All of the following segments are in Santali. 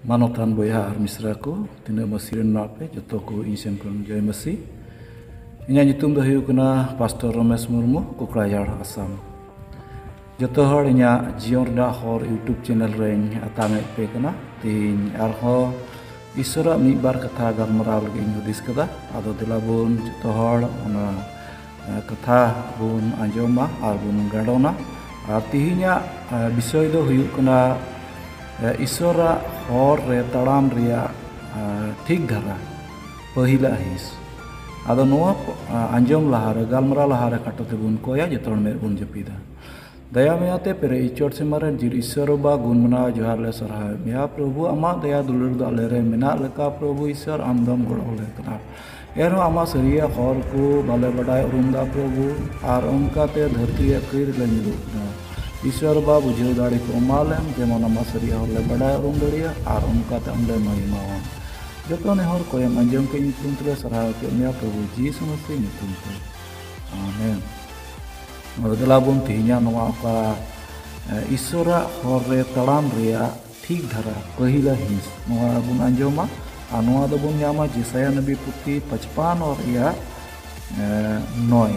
ᱢᱟᱱᱚᱛᱟᱱ ᱵᱚᱭᱦᱟ ᱟᱨ ᱢᱤᱥᱨᱟ ᱠᱚ ᱛᱤᱱᱟᱹᱜ ᱢᱟᱹᱥᱤ ᱨᱮᱱ ᱢᱮᱱᱟᱜ ᱯᱮ ᱡᱚᱛᱚ ᱠᱚ ᱤᱧ ᱥᱮᱱ ᱠᱷᱚᱱ ᱡᱚᱭ ᱢᱟᱹᱥᱤ ᱤᱧᱟᱹᱜ ᱧᱩᱛᱩᱢ ᱫᱚ ᱦᱩᱭᱩᱜ ᱠᱟᱱᱟ ᱯᱟᱥᱴᱚᱨ ᱨᱚᱢᱮᱥ ᱢᱩᱨᱢᱩ ᱠᱚᱠᱲᱟᱡᱷᱟᱲ ᱟᱥᱟᱢ ᱡᱚᱛᱚ ᱦᱚᱲ ᱤᱧᱟᱹᱜ ᱡᱤᱭᱚᱱ ᱨᱮᱱᱟᱜ ᱦᱚᱨ ᱤᱭᱩᱴᱩᱵᱽ ᱪᱮᱱᱮᱞ ᱨᱮᱧ ᱟᱛᱟᱝᱮᱫ ᱯᱮ ᱠᱟᱱᱟ ᱛᱮᱦᱮᱧ ᱟᱨᱦᱚᱸ ᱤᱥᱚᱨᱟᱜ ᱢᱤᱫ ᱵᱟᱨ ᱠᱟᱛᱷᱟ ᱜᱟᱞᱢᱟᱨᱟᱣ ᱞᱟᱹᱜᱤᱫ ᱤᱧ ᱦᱩᱫᱤᱥ ᱠᱟᱫᱟ ᱟᱫᱚ ᱫᱮᱞᱟ ᱵᱚᱱ ᱡᱚᱛᱚ ᱦᱚᱲ ᱚᱱᱟ ᱠᱟᱛᱷᱟ ᱵᱚᱱ ᱟᱸᱡᱚᱢᱟ ᱟᱨ ᱵᱚᱱ ᱜᱟᱸᱰᱚᱱᱟ ᱟᱨ ᱛᱮᱦᱮᱧᱟᱜ ᱵᱤᱥᱚᱭ ᱫᱚ ᱦᱩᱭᱩᱜ ᱠᱟᱱᱟ ᱤᱥᱚᱨᱟᱜ ᱦᱚᱨ ᱨᱮ ᱛᱟᱲᱟᱢ ᱨᱮᱭᱟᱜ ᱴᱷᱤᱠ ᱫᱷᱟᱨᱟ ᱯᱟᱹᱦᱤᱞᱟᱜ ᱦᱤᱸᱥ ᱟᱫᱚ ᱱᱚᱣᱟ ᱟᱸᱡᱚᱢ ᱞᱟᱦᱟᱨᱮ ᱜᱟᱞᱢᱟᱨᱟᱣ ᱞᱟᱦᱟᱨᱮ ᱠᱷᱟᱴᱚ ᱛᱮᱵᱚᱱ ᱠᱚᱭᱟ ᱡᱚᱛᱚ ᱦᱚᱲ ᱢᱮᱫ ᱵᱚᱱ ᱡᱟᱹᱯᱤᱫᱟ ᱫᱟᱭᱟ ᱢᱟᱭᱟ ᱛᱮ ᱯᱮᱨᱮᱡ ᱤᱪᱚᱴ ᱥᱤᱢᱟᱹ ᱨᱮᱱ ᱡᱤᱨ ᱤᱥᱥᱚᱨ ᱵᱟᱵᱟ ᱜᱩᱱ ᱢᱟᱱᱟᱣ ᱡᱚᱦᱟᱨ ᱞᱮ ᱥᱟᱨᱦᱟᱣᱮᱫ ᱢᱮᱭᱟ ᱯᱨᱚᱵᱷᱩ ᱟᱢᱟᱜ ᱫᱟᱭᱟ ᱫᱩᱞᱟᱹᱲ ᱫᱚ ᱟᱞᱮ ᱨᱮ ᱢᱮᱱᱟᱜ ᱞᱮᱠᱟ ᱯᱨᱚᱵᱷᱩ ᱤᱥᱥᱚᱨ ᱟᱢ ᱫᱚᱢ ᱜᱚᱲᱚ ᱟᱞᱮ ᱠᱟᱱᱟ ᱮᱱᱦᱚᱸ ᱟᱢᱟᱜ ᱥᱟᱹᱨᱤᱭᱟᱜ ᱦᱚᱨ ᱠᱚ ᱵᱟᱞᱮ ᱵᱟᱰᱟᱭ ᱩᱨᱩᱢ ᱫᱟ ᱯᱨᱚᱵᱷᱩ ᱟᱨ ᱚᱱᱠᱟ ᱛᱮ ᱫᱷᱟᱹᱨᱛᱤ ᱨᱮᱭᱟᱜ ᱠᱟᱹᱭ ᱨᱮᱞᱮ ᱧᱩᱨᱩᱜ ᱠᱟᱱᱟ ᱤᱥᱥᱚᱨ ᱵᱟᱵᱟ ᱵᱩᱡᱷᱟᱹᱣ ᱫᱟᱲᱮ ᱠᱚ ᱮᱢᱟ ᱞᱮᱢ ᱡᱮᱢᱚᱱ ᱟᱢᱟᱜ ᱥᱟᱹᱨᱤᱭᱟᱜ ᱦᱚᱨ ᱞᱮ ᱵᱟᱰᱟᱭ ᱩᱨᱩᱢ ᱫᱟᱲᱮᱭᱟᱜ ᱟᱨ ᱚᱱᱠᱟ ᱛᱮ ᱟᱢ ᱞᱮ ᱢᱟᱹᱭᱢᱟᱣᱟ ᱡᱚᱛᱚ ᱱᱮᱦᱚᱨ ᱠᱚᱭᱮᱢ ᱟᱸᱡᱚᱢ ᱠᱮᱫ ᱧᱩᱛᱩᱢ ᱛᱮᱞᱮ ᱥᱟᱨᱦᱟᱣ ᱠᱮᱫ ᱢᱮᱭᱟ ᱯᱨᱚᱵᱷᱩ ᱡᱤᱥᱩ ᱢᱟᱹᱥᱤ ᱧᱩᱛᱩᱢ ᱛᱮ ᱟᱢᱮᱱ ᱱᱚᱣᱟ ᱫᱮᱞᱟ ᱵᱚᱱ ᱛᱮᱦᱮᱧᱟᱜ ᱱᱚᱣᱟ ᱚᱠᱟ ᱤᱥᱚᱨᱟᱜ ᱦᱚᱨ ᱨᱮ ᱛᱟᱲᱟᱢ ᱨᱮᱭᱟᱜ ᱴᱷᱤᱠ ᱫᱷᱟᱨᱟ ᱯᱟᱹᱦᱤᱞᱟ ᱦᱤᱸᱥ ᱱᱚᱣᱟ ᱵᱚᱱ ᱟᱸᱡᱚᱢᱟ ᱟᱨ ᱱᱚᱣᱟ ᱫᱚᱵᱚᱱ ᱧᱟᱢᱟ ᱡᱮᱥᱟᱭᱟ ᱱᱚᱵᱤ ᱯᱩᱛᱷᱤ ᱯᱟᱪᱯᱟᱱ ᱨᱮᱭᱟᱜ ᱱᱚᱭ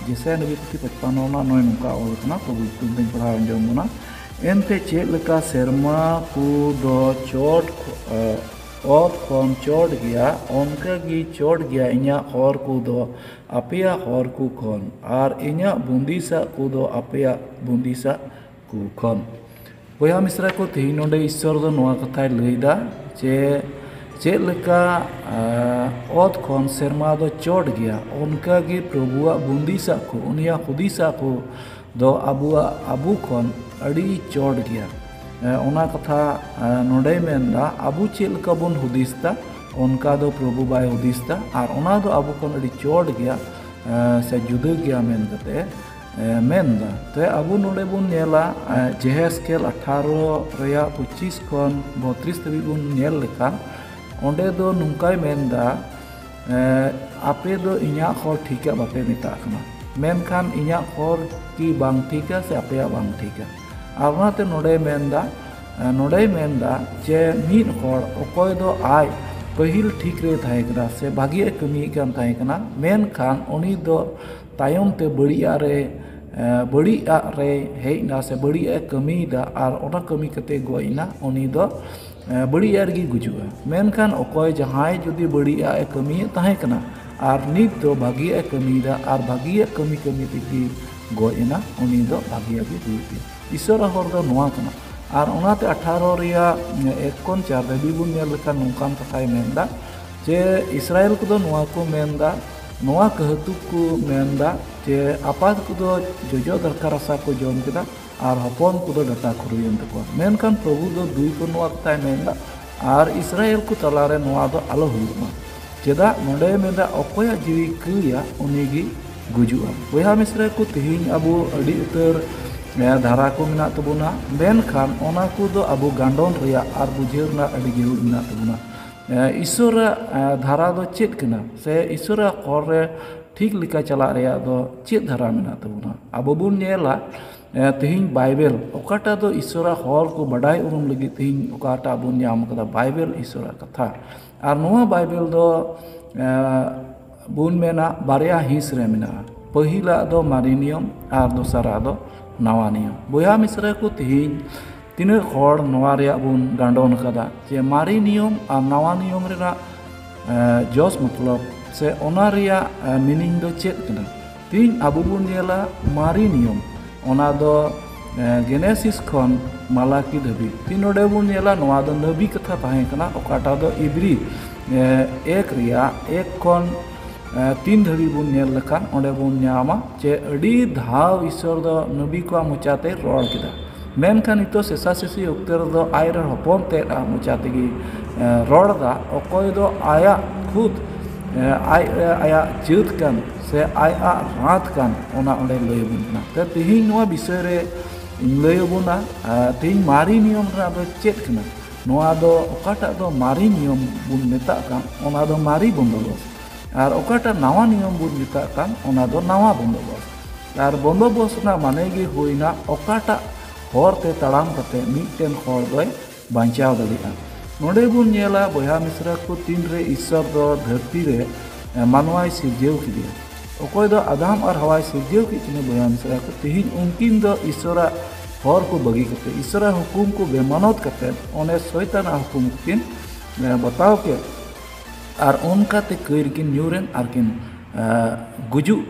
ᱡᱮᱥᱟᱭᱟ ᱱᱚᱵᱤ ᱯᱩᱛᱷᱤ ᱯᱟᱪᱯᱟᱱ ᱨᱮᱱᱟᱜ ᱱᱚᱭ ᱱᱚᱝᱠᱟ ᱚᱞ ᱠᱟᱱᱟ ᱯᱨᱚᱵᱷᱩ ᱧᱩᱛᱩᱢ ᱛᱮᱧ ᱯᱟᱲᱦᱟᱣ ᱟᱸᱡᱚᱢ ᱵᱚᱱᱟ ᱮᱱᱛᱮ ᱪᱮᱫ ᱞᱮᱠᱟ ᱥᱮᱨᱢᱟ ᱠᱚ ᱫᱚ ᱪᱚᱴ ᱚᱛ ᱠᱷᱚᱱ ᱪᱚᱴ ᱜᱮᱭᱟ ᱚᱱᱠᱟᱜᱮ ᱪᱚᱴ ᱜᱮᱭᱟ ᱤᱧᱟᱹᱜ ᱦᱚᱨ ᱠᱚᱫᱚ ᱟᱯᱮᱭᱟᱜ ᱦᱚᱨ ᱠᱚ ᱠᱷᱚᱱ ᱟᱨ ᱤᱧᱟᱹᱜ ᱵᱩᱸᱫᱤᱥᱟᱜ ᱠᱚᱫᱚ ᱟᱯᱮᱭᱟᱜ ᱵᱩᱸᱫᱤᱥᱟᱜ ᱠᱚ ᱠᱷᱚᱱ ᱵᱚᱭᱦᱟ ᱢᱤᱥᱨᱟ ᱠᱚ ᱛᱮᱦᱤᱧ ᱱᱚᱰᱮ ᱤᱥᱥᱚᱨ ᱫᱚ ᱱᱚᱣᱟ ᱠᱟᱛᱷᱟᱭ ᱞᱟᱹᱭᱫᱟ ᱡᱮ ᱪᱮᱫ ᱞᱮᱠᱟ ᱚᱛ ᱠᱷᱚᱱ ᱥᱮᱨᱢᱟ ᱫᱚ ᱪᱚᱴ ᱜᱮᱭᱟ ᱚᱱᱠᱟᱜᱮ ᱯᱨᱚᱵᱷᱩᱣᱟᱜ ᱵᱩᱸᱫᱤᱥᱟᱜ ᱠᱚ ᱩᱱᱤᱭᱟᱜ ᱦᱩᱫᱤᱥᱟᱜ ᱠᱚ ᱫᱚ ᱟᱵᱚᱣᱟᱜ ᱟᱵᱚ ᱠᱷᱚᱱ ᱟᱹᱰᱤ ᱪᱚᱴ ᱜᱮᱭᱟ ᱚᱱᱟ ᱠᱟᱛᱷᱟ ᱱᱚᱰᱮᱭ ᱢᱮᱱᱫᱟ ᱟᱵᱚ ᱪᱮᱫ ᱞᱮᱠᱟ ᱵᱚᱱ ᱦᱩᱫᱤᱥ ᱫᱟ ᱚᱱᱠᱟ ᱫᱚ ᱯᱨᱚᱵᱷᱩ ᱵᱟᱭ ᱦᱩᱫᱤᱥ ᱫᱟ ᱟᱨ ᱚᱱᱟ ᱫᱚ ᱟᱵᱚ ᱠᱷᱚᱱ ᱟᱹᱰᱤ ᱪᱚᱴ ᱜᱮᱭᱟ ᱥᱮ ᱡᱩᱫᱟᱹ ᱜᱮᱭᱟ ᱢᱮᱱ ᱠᱟᱛᱮ ᱢᱮᱱᱫᱟ ᱛᱮ ᱟᱵᱚ ᱱᱚᱰᱮ ᱵᱚᱱ ᱧᱮᱞᱟ ᱡᱮᱦᱮᱥᱠᱮᱞ ᱟᱴᱷᱟᱨᱚ ᱨᱮᱭᱟᱜ ᱯᱚᱸᱪᱤᱥ ᱠᱷᱚᱱ ᱵᱚᱛᱨᱤᱥ ᱫᱷᱟᱹᱵᱤᱡ ᱵᱚᱱ ᱧᱮᱞ ᱞᱮᱠᱷᱟᱱ ᱚᱸᱰᱮ ᱫᱚ ᱱᱚᱝᱠᱟᱭ ᱢᱮᱱᱫᱟ ᱟᱯᱮ ᱫᱚ ᱤᱧᱟᱹᱜ ᱦᱚᱨ ᱴᱷᱤᱠᱟ ᱵᱟᱯᱮ ᱢᱮᱛᱟᱜ ᱠᱟᱱᱟ ᱢᱮᱱᱠᱷᱟᱱ ᱤᱧᱟᱹᱜ ᱦᱚᱨ ᱠᱤ ᱵᱟᱝ ᱴᱷᱤᱠᱟ ᱥᱮ ᱟᱯᱮᱭᱟᱜ ᱵᱟᱝ ᱴᱷᱤᱠᱟ ᱟᱨ ᱚᱱᱟᱛᱮ ᱱᱚᱰᱮᱭ ᱢᱮᱱᱫᱟ ᱱᱚᱰᱮᱭ ᱢᱮᱱᱫᱟ ᱡᱮ ᱢᱤᱫ ᱦᱚᱲ ᱚᱠᱚᱭ ᱫᱚ ᱟᱡ ᱯᱟᱹᱦᱤᱞ ᱴᱷᱤᱠ ᱨᱮ ᱛᱟᱦᱮᱸ ᱠᱟᱱᱟ ᱥᱮ ᱵᱷᱟᱹᱜᱤᱭᱟᱜ ᱮ ᱠᱟᱹᱢᱤᱭᱮᱫ ᱠᱟᱱ ᱛᱟᱦᱮᱸ ᱠᱟᱱᱟ ᱢᱮᱱᱠᱷᱟᱱ ᱩᱱᱤ ᱫᱚ ᱛᱟᱭᱚᱢ ᱛᱮ ᱵᱟᱹᱲᱤᱡ ᱟᱜ ᱨᱮ ᱵᱟᱹᱲᱤᱡ ᱟᱜ ᱨᱮᱭ ᱦᱮᱡ ᱮᱱᱟ ᱥᱮ ᱵᱟᱹᱲᱤᱡ ᱟᱜ ᱮ ᱠᱟᱹᱢᱤᱭᱮᱫᱟ ᱟᱨ ᱚᱱᱟ ᱠᱟᱹᱢᱤ ᱠᱟᱛᱮᱫ ᱜᱚᱡ ᱮᱱᱟ ᱩᱱᱤ ᱫᱚ ᱵᱟᱹᱲᱤᱡ ᱟᱜ ᱨᱮᱜᱮᱭ ᱜᱩᱡᱩᱜᱼᱟ ᱢᱮᱱᱠᱷᱟᱱ ᱚᱠᱚᱭ ᱡᱟᱦᱟᱸᱭ ᱡᱩᱫᱤ ᱵᱟᱹᱲᱤᱡ ᱟᱜ ᱮ ᱠᱟᱹᱢᱤᱭᱮᱫ ᱛᱟᱦᱮᱸ ᱠᱟᱱᱟ ᱟᱨ ᱱᱤᱛ ᱫᱚ ᱵᱷᱟᱹᱜᱤᱭᱟᱜ ᱮ ᱠᱟᱹᱢᱤᱭᱮᱫᱟ ᱟᱨ ᱵᱷᱟᱹᱜᱤᱭᱟᱜ ᱠᱟᱹᱢᱤ ᱠᱟᱹᱢᱤ ᱛᱮᱜᱮ ᱜᱚᱡ ᱮᱱᱟ ᱩᱱᱤ ᱫᱚ ᱵᱷᱟᱹᱜᱤᱭᱟᱜ ᱜᱮ ᱦᱩᱭᱩᱜ ᱛᱟᱭᱟ ᱤᱥᱚᱨᱟᱜ ᱦᱚᱨ ᱫᱚ ᱱᱚᱣᱟ ᱠᱟᱱᱟ ᱟᱨ ᱚᱱᱟᱛᱮ ᱟᱴᱷᱟᱨᱚ ᱨᱮᱭᱟᱜ ᱮᱠ ᱠᱷᱚᱱ ᱪᱟᱨ ᱫᱷᱟᱹᱵᱤᱡ ᱵᱚᱱ ᱧᱮᱞ ᱞᱮᱠᱷᱟᱱ ᱱᱚᱝᱠᱟᱱ ᱠᱟᱛᱷᱟᱭ ᱢᱮᱱᱫᱟ ᱡᱮ ᱤᱥᱨᱟᱭᱮᱞ ᱠᱚᱫᱚ ᱱᱚᱣᱟ ᱠᱚ ᱢᱮᱱᱫᱟ ᱱᱚᱣᱟ ᱠᱟᱹᱦᱩᱛᱩᱠ ᱠᱚ ᱢᱮᱱᱫᱟ ᱡᱮ ᱟᱯᱟᱛ ᱠᱚᱫᱚ ᱡᱚᱡᱚ ᱫᱟᱠᱟ ᱨᱟᱥᱟ ᱠᱚ ᱡᱚᱢ ᱠᱮᱫᱟ ᱟᱨ ᱦᱚᱯᱚᱱ ᱠᱚᱫᱚ ᱰᱟᱴᱟ ᱠᱷᱩᱨᱩᱭᱮᱱ ᱛᱟᱠᱚᱣᱟ ᱢᱮᱱᱠᱷᱟᱱ ᱯᱨᱚᱵᱷᱩ ᱫᱚ ᱫᱩᱭ ᱵᱟᱹᱱᱩᱜ ᱚᱠᱛᱟᱭ ᱢᱮᱱᱫᱟ ᱟᱨ ᱤᱥᱨᱟᱭᱮᱞ ᱠᱚ ᱛᱟᱞᱟᱨᱮ ᱱᱚᱣᱟ ᱫᱚ ᱟᱞᱚ ᱦᱩᱭᱩᱜ ᱢᱟ ᱪᱮᱫᱟᱜ ᱱᱚᱰᱮ ᱢᱮᱱᱫᱟ ᱚᱠᱚᱭᱟᱜ ᱡᱤᱣᱤ ᱠᱟᱹᱭᱟ ᱩᱱᱤᱜᱮ ᱜᱩᱡᱩᱜᱼᱟ ᱵᱚᱭᱦᱟ ᱢᱤᱥᱨᱟ ᱠᱚ ᱛᱮᱦᱮᱧ ᱟᱵᱚ ᱟᱹᱰᱤ ᱩᱛᱟᱹᱨ ᱫᱷᱟᱨᱟ ᱠᱚ ᱢᱮᱱᱟᱜ ᱛᱟᱵᱚᱱᱟ ᱢᱮᱱᱠᱷᱟᱱ ᱚᱱᱟ ᱠᱚᱫᱚ ᱟᱵᱚ ᱜᱟᱱᱰᱚᱱ ᱨᱮᱭᱟᱜ ᱟᱨ ᱵᱩᱡᱷᱟᱹᱣ ᱨᱮᱱᱟᱜ ᱟᱹᱰᱤ ᱡᱟᱹᱨᱩᱲ ᱢᱮᱱᱟᱜ ᱛᱟᱵᱚᱱᱟ ᱤᱥᱥᱚᱨᱟᱜ ᱫᱷᱟᱨᱟ ᱫᱚ ᱪᱮᱫ ᱠᱟᱱᱟ ᱥᱮ ᱤᱥᱥᱚᱨᱟᱜ ᱦᱚᱨ ᱨᱮ ᱴᱷᱤᱠ ᱞᱮᱠᱟ ᱪᱟᱞᱟᱜ ᱨᱮᱭᱟᱜ ᱫᱚ ᱪᱮᱫ ᱫᱷᱟᱨᱟ ᱢᱮᱱᱟᱜ ᱛᱟᱵᱚᱱᱟ ᱟᱵᱚ ᱵᱚᱱ ᱧᱮᱞᱟ ᱛᱮᱦᱤᱧ ᱵᱟᱭᱵᱮᱞ ᱚᱠᱟᱴᱟᱜ ᱫᱚ ᱤᱥᱥᱚᱨᱟᱜ ᱦᱚᱨ ᱠᱚ ᱵᱟᱰᱟᱭ ᱩᱨᱩᱢ ᱞᱟᱹᱜᱤᱫ ᱛᱮᱦᱤᱧ ᱚᱠᱟᱴᱟᱜ ᱵᱚᱱ ᱧᱟᱢ ᱠᱟᱫᱟ ᱵᱟᱭᱵᱮᱞ ᱤᱥᱥᱚᱨᱟᱜ ᱠᱟᱛᱷᱟ ᱟᱨ ᱱᱚᱣᱟ ᱵᱟᱭᱵᱮᱞ ᱫᱚ ᱵᱚᱱ ᱢᱮᱱᱟ ᱵᱟᱨᱭᱟ ᱦᱤᱸᱥ ᱨᱮ ᱢᱮᱱᱟᱜᱼᱟ ᱯᱟᱹᱦᱤᱞᱟᱜ ᱫᱚ ᱢᱟᱨᱮ ᱱᱤᱭᱚᱢ ᱟᱨ ᱫᱚᱥᱟᱨᱟᱜ ᱫᱚ ᱱᱟᱣᱟ ᱱᱤᱭᱚᱢ ᱵᱚᱭᱦᱟ ᱢᱤᱥᱨᱟ ᱠᱚ ᱛᱮᱦᱤᱧ ᱛᱤᱱᱟᱹᱜ ᱦᱚᱲ ᱱᱚᱣᱟ ᱨᱮᱭᱟᱜ ᱵᱚᱱ ᱜᱟᱸᱰᱚᱱ ᱟᱠᱟᱫᱟ ᱡᱮ ᱢᱟᱨᱮ ᱱᱤᱭᱚᱢ ᱟᱨ ᱱᱟᱣᱟ ᱱᱤᱭᱚᱢ ᱨᱮᱱᱟᱜ ᱡᱚᱥ ᱢᱚᱛᱞᱚᱵ ᱥᱮ ᱚᱱᱟ ᱨᱮᱭᱟᱜ ᱢᱤᱱᱤᱝ ᱫᱚ ᱪᱮᱫ ᱠᱟᱱᱟ ᱛᱤᱦᱤᱧ ᱟᱵᱚ ᱵᱚᱱ ᱧᱮᱞᱟ ᱢᱟᱨᱮ ᱱᱤᱭᱚᱢ ᱚᱱᱟ ᱫᱚ ᱜᱮᱱᱮᱥᱤᱥ ᱠᱷᱚᱱ ᱢᱟᱞᱟᱠᱤ ᱫᱷᱟᱹᱵᱤᱡ ᱛᱤ ᱱᱚᱰᱮ ᱵᱚᱱ ᱧᱮᱞᱟ ᱱᱚᱣᱟ ᱫᱚ ᱱᱟᱹᱵᱤ ᱠᱟᱛᱷᱟ ᱛᱟᱦᱮᱸ ᱠᱟᱱᱟ ᱚᱠᱟᱴᱟᱜ ᱫᱚ ᱤᱵᱽᱨᱤ ᱮᱠ ᱨᱮᱭᱟᱜ ᱮᱠ ᱠᱷᱚᱱ ᱛᱤᱱ ᱫᱷᱟᱹᱵᱤᱡ ᱵᱚᱱ ᱧᱮᱞ ᱞᱮᱠᱷᱟᱱ ᱚᱸᱰᱮ ᱵᱚᱱ ᱧᱟᱢᱟ ᱡᱮ ᱟᱹᱰᱤ ᱫᱷᱟᱣ ᱤᱥᱥᱚᱨ ᱫᱚ ᱱᱟᱹᱵᱤ ᱠᱚᱣᱟᱜ ᱢᱚᱪᱟᱛᱮ ᱨᱚᱲ ᱠᱮᱫᱟ ᱢᱮᱱᱠᱷᱟᱱ ᱱᱤᱛᱚᱜ ᱥᱮᱥᱟ ᱥᱮᱥᱤ ᱚᱠᱛᱮ ᱨᱮᱫᱚ ᱟᱡ ᱨᱮᱱ ᱦᱚᱯᱚᱱ ᱛᱮᱫ ᱟᱜ ᱢᱚᱪᱟ ᱛᱮᱜᱮ ᱨᱚᱲ ᱮᱫᱟ ᱚᱠᱚᱭ ᱫᱚ ᱟᱭᱟᱜ ᱠᱷᱩᱫ ᱟᱡ ᱟᱭᱟᱜ ᱡᱟᱹᱛ ᱠᱟᱱ ᱥᱮ ᱟᱡ ᱟᱜ ᱨᱟᱛ ᱠᱟᱱ ᱚᱱᱟ ᱚᱸᱰᱮ ᱞᱟᱹᱭ ᱟᱵᱚᱱ ᱠᱟᱱᱟ ᱛᱚ ᱛᱮᱦᱮᱧ ᱱᱚᱣᱟ ᱵᱤᱥᱚᱭ ᱨᱮ ᱤᱧ ᱞᱟᱹᱭ ᱟᱵᱚᱱᱟ ᱛᱮᱦᱮᱧ ᱢᱟᱨᱮ ᱱᱤᱭᱚᱢ ᱨᱮᱱᱟᱜ ᱫᱚ ᱪᱮᱫ ᱠᱟᱱᱟ ᱱᱚᱣᱟ ᱫᱚ ᱚᱠᱟᱴᱟᱜ ᱫᱚ ᱢᱟᱨᱮ ᱱᱤᱭᱚᱢ ᱵᱚᱱ ᱢᱮᱛᱟᱜ ᱠᱟᱱ ᱚᱱᱟ ᱫᱚ ᱢᱟᱨᱮ ᱵᱚᱱᱫᱚᱵᱚᱥ ᱟᱨ ᱚᱠᱟᱴᱟᱜ ᱱᱟᱣᱟ ᱱᱤᱭᱚᱢ ᱵᱚᱱ ᱢᱮᱛᱟᱜ ᱠᱟᱱ ᱚᱱᱟ ᱫᱚ ᱱᱟᱣᱟ ᱵᱚᱱᱫᱚᱵᱚᱥ ᱟᱨ ᱵᱚᱱᱫᱚᱵᱚᱥ ᱨᱮᱱᱟᱜ ᱢᱟᱱᱮ ᱜᱮ ᱦᱩᱭᱱᱟ ᱚᱠᱟᱴᱟᱜ ᱦᱚᱨ ᱛᱮ ᱛᱟᱲᱟᱢ ᱠᱟᱛᱮ ᱢᱤᱫᱴᱮᱱ ᱦᱚᱲ ᱫᱚᱭ ᱵᱟᱧᱪᱟᱣ ᱫᱟᱲᱮᱭᱟᱜᱼᱟ ᱱᱚᱰᱮ ᱵᱚᱱ ᱧᱮᱞᱟ ᱵᱚᱭᱦᱟ ᱢᱤᱥᱨᱟ ᱠᱚ ᱛᱤᱱ ᱨᱮ ᱤᱥᱥᱚᱨ ᱫᱚ ᱫᱷᱟᱹᱨᱛᱤ ᱨᱮ ᱢᱟᱱᱣᱟᱭ ᱥᱤᱨᱡᱟᱹᱣ ᱠᱮᱫᱮᱭᱟ ᱚᱠᱚᱭ ᱫᱚ ᱟᱫᱟᱢ ᱟᱨ ᱦᱟᱣᱟᱭ ᱥᱤᱨᱡᱟᱹᱣ ᱠᱮᱫ ᱠᱤᱱᱟ ᱵᱚᱭᱦᱟ ᱢᱤᱥᱨᱟ ᱠᱚ ᱛᱮᱦᱮᱧ ᱩᱱᱠᱤᱱ ᱫᱚ ᱤᱥᱥᱚᱨᱟᱜ ᱦᱚᱨ ᱠᱚ ᱵᱟᱹᱜᱤ ᱠᱟᱛᱮ ᱤᱥᱥᱚᱨᱟᱜ ᱦᱩᱠᱩᱢ ᱠᱚ ᱵᱮᱢᱟᱱᱚᱛ ᱠᱟᱛᱮ ᱚᱱᱮ ᱥᱚᱭᱛᱟᱱᱟᱜ ᱦᱩᱠᱩᱢ ᱠᱤᱱ ᱵᱟᱛᱟᱣ ᱠᱮᱫ ᱟᱨ ᱚᱱᱠᱟᱛᱮ ᱠᱟᱹᱭ ᱨᱮᱠᱤᱱ ᱧᱩᱨᱮᱱ ᱟᱨ ᱠᱤᱱ ᱜᱩᱡᱩᱜ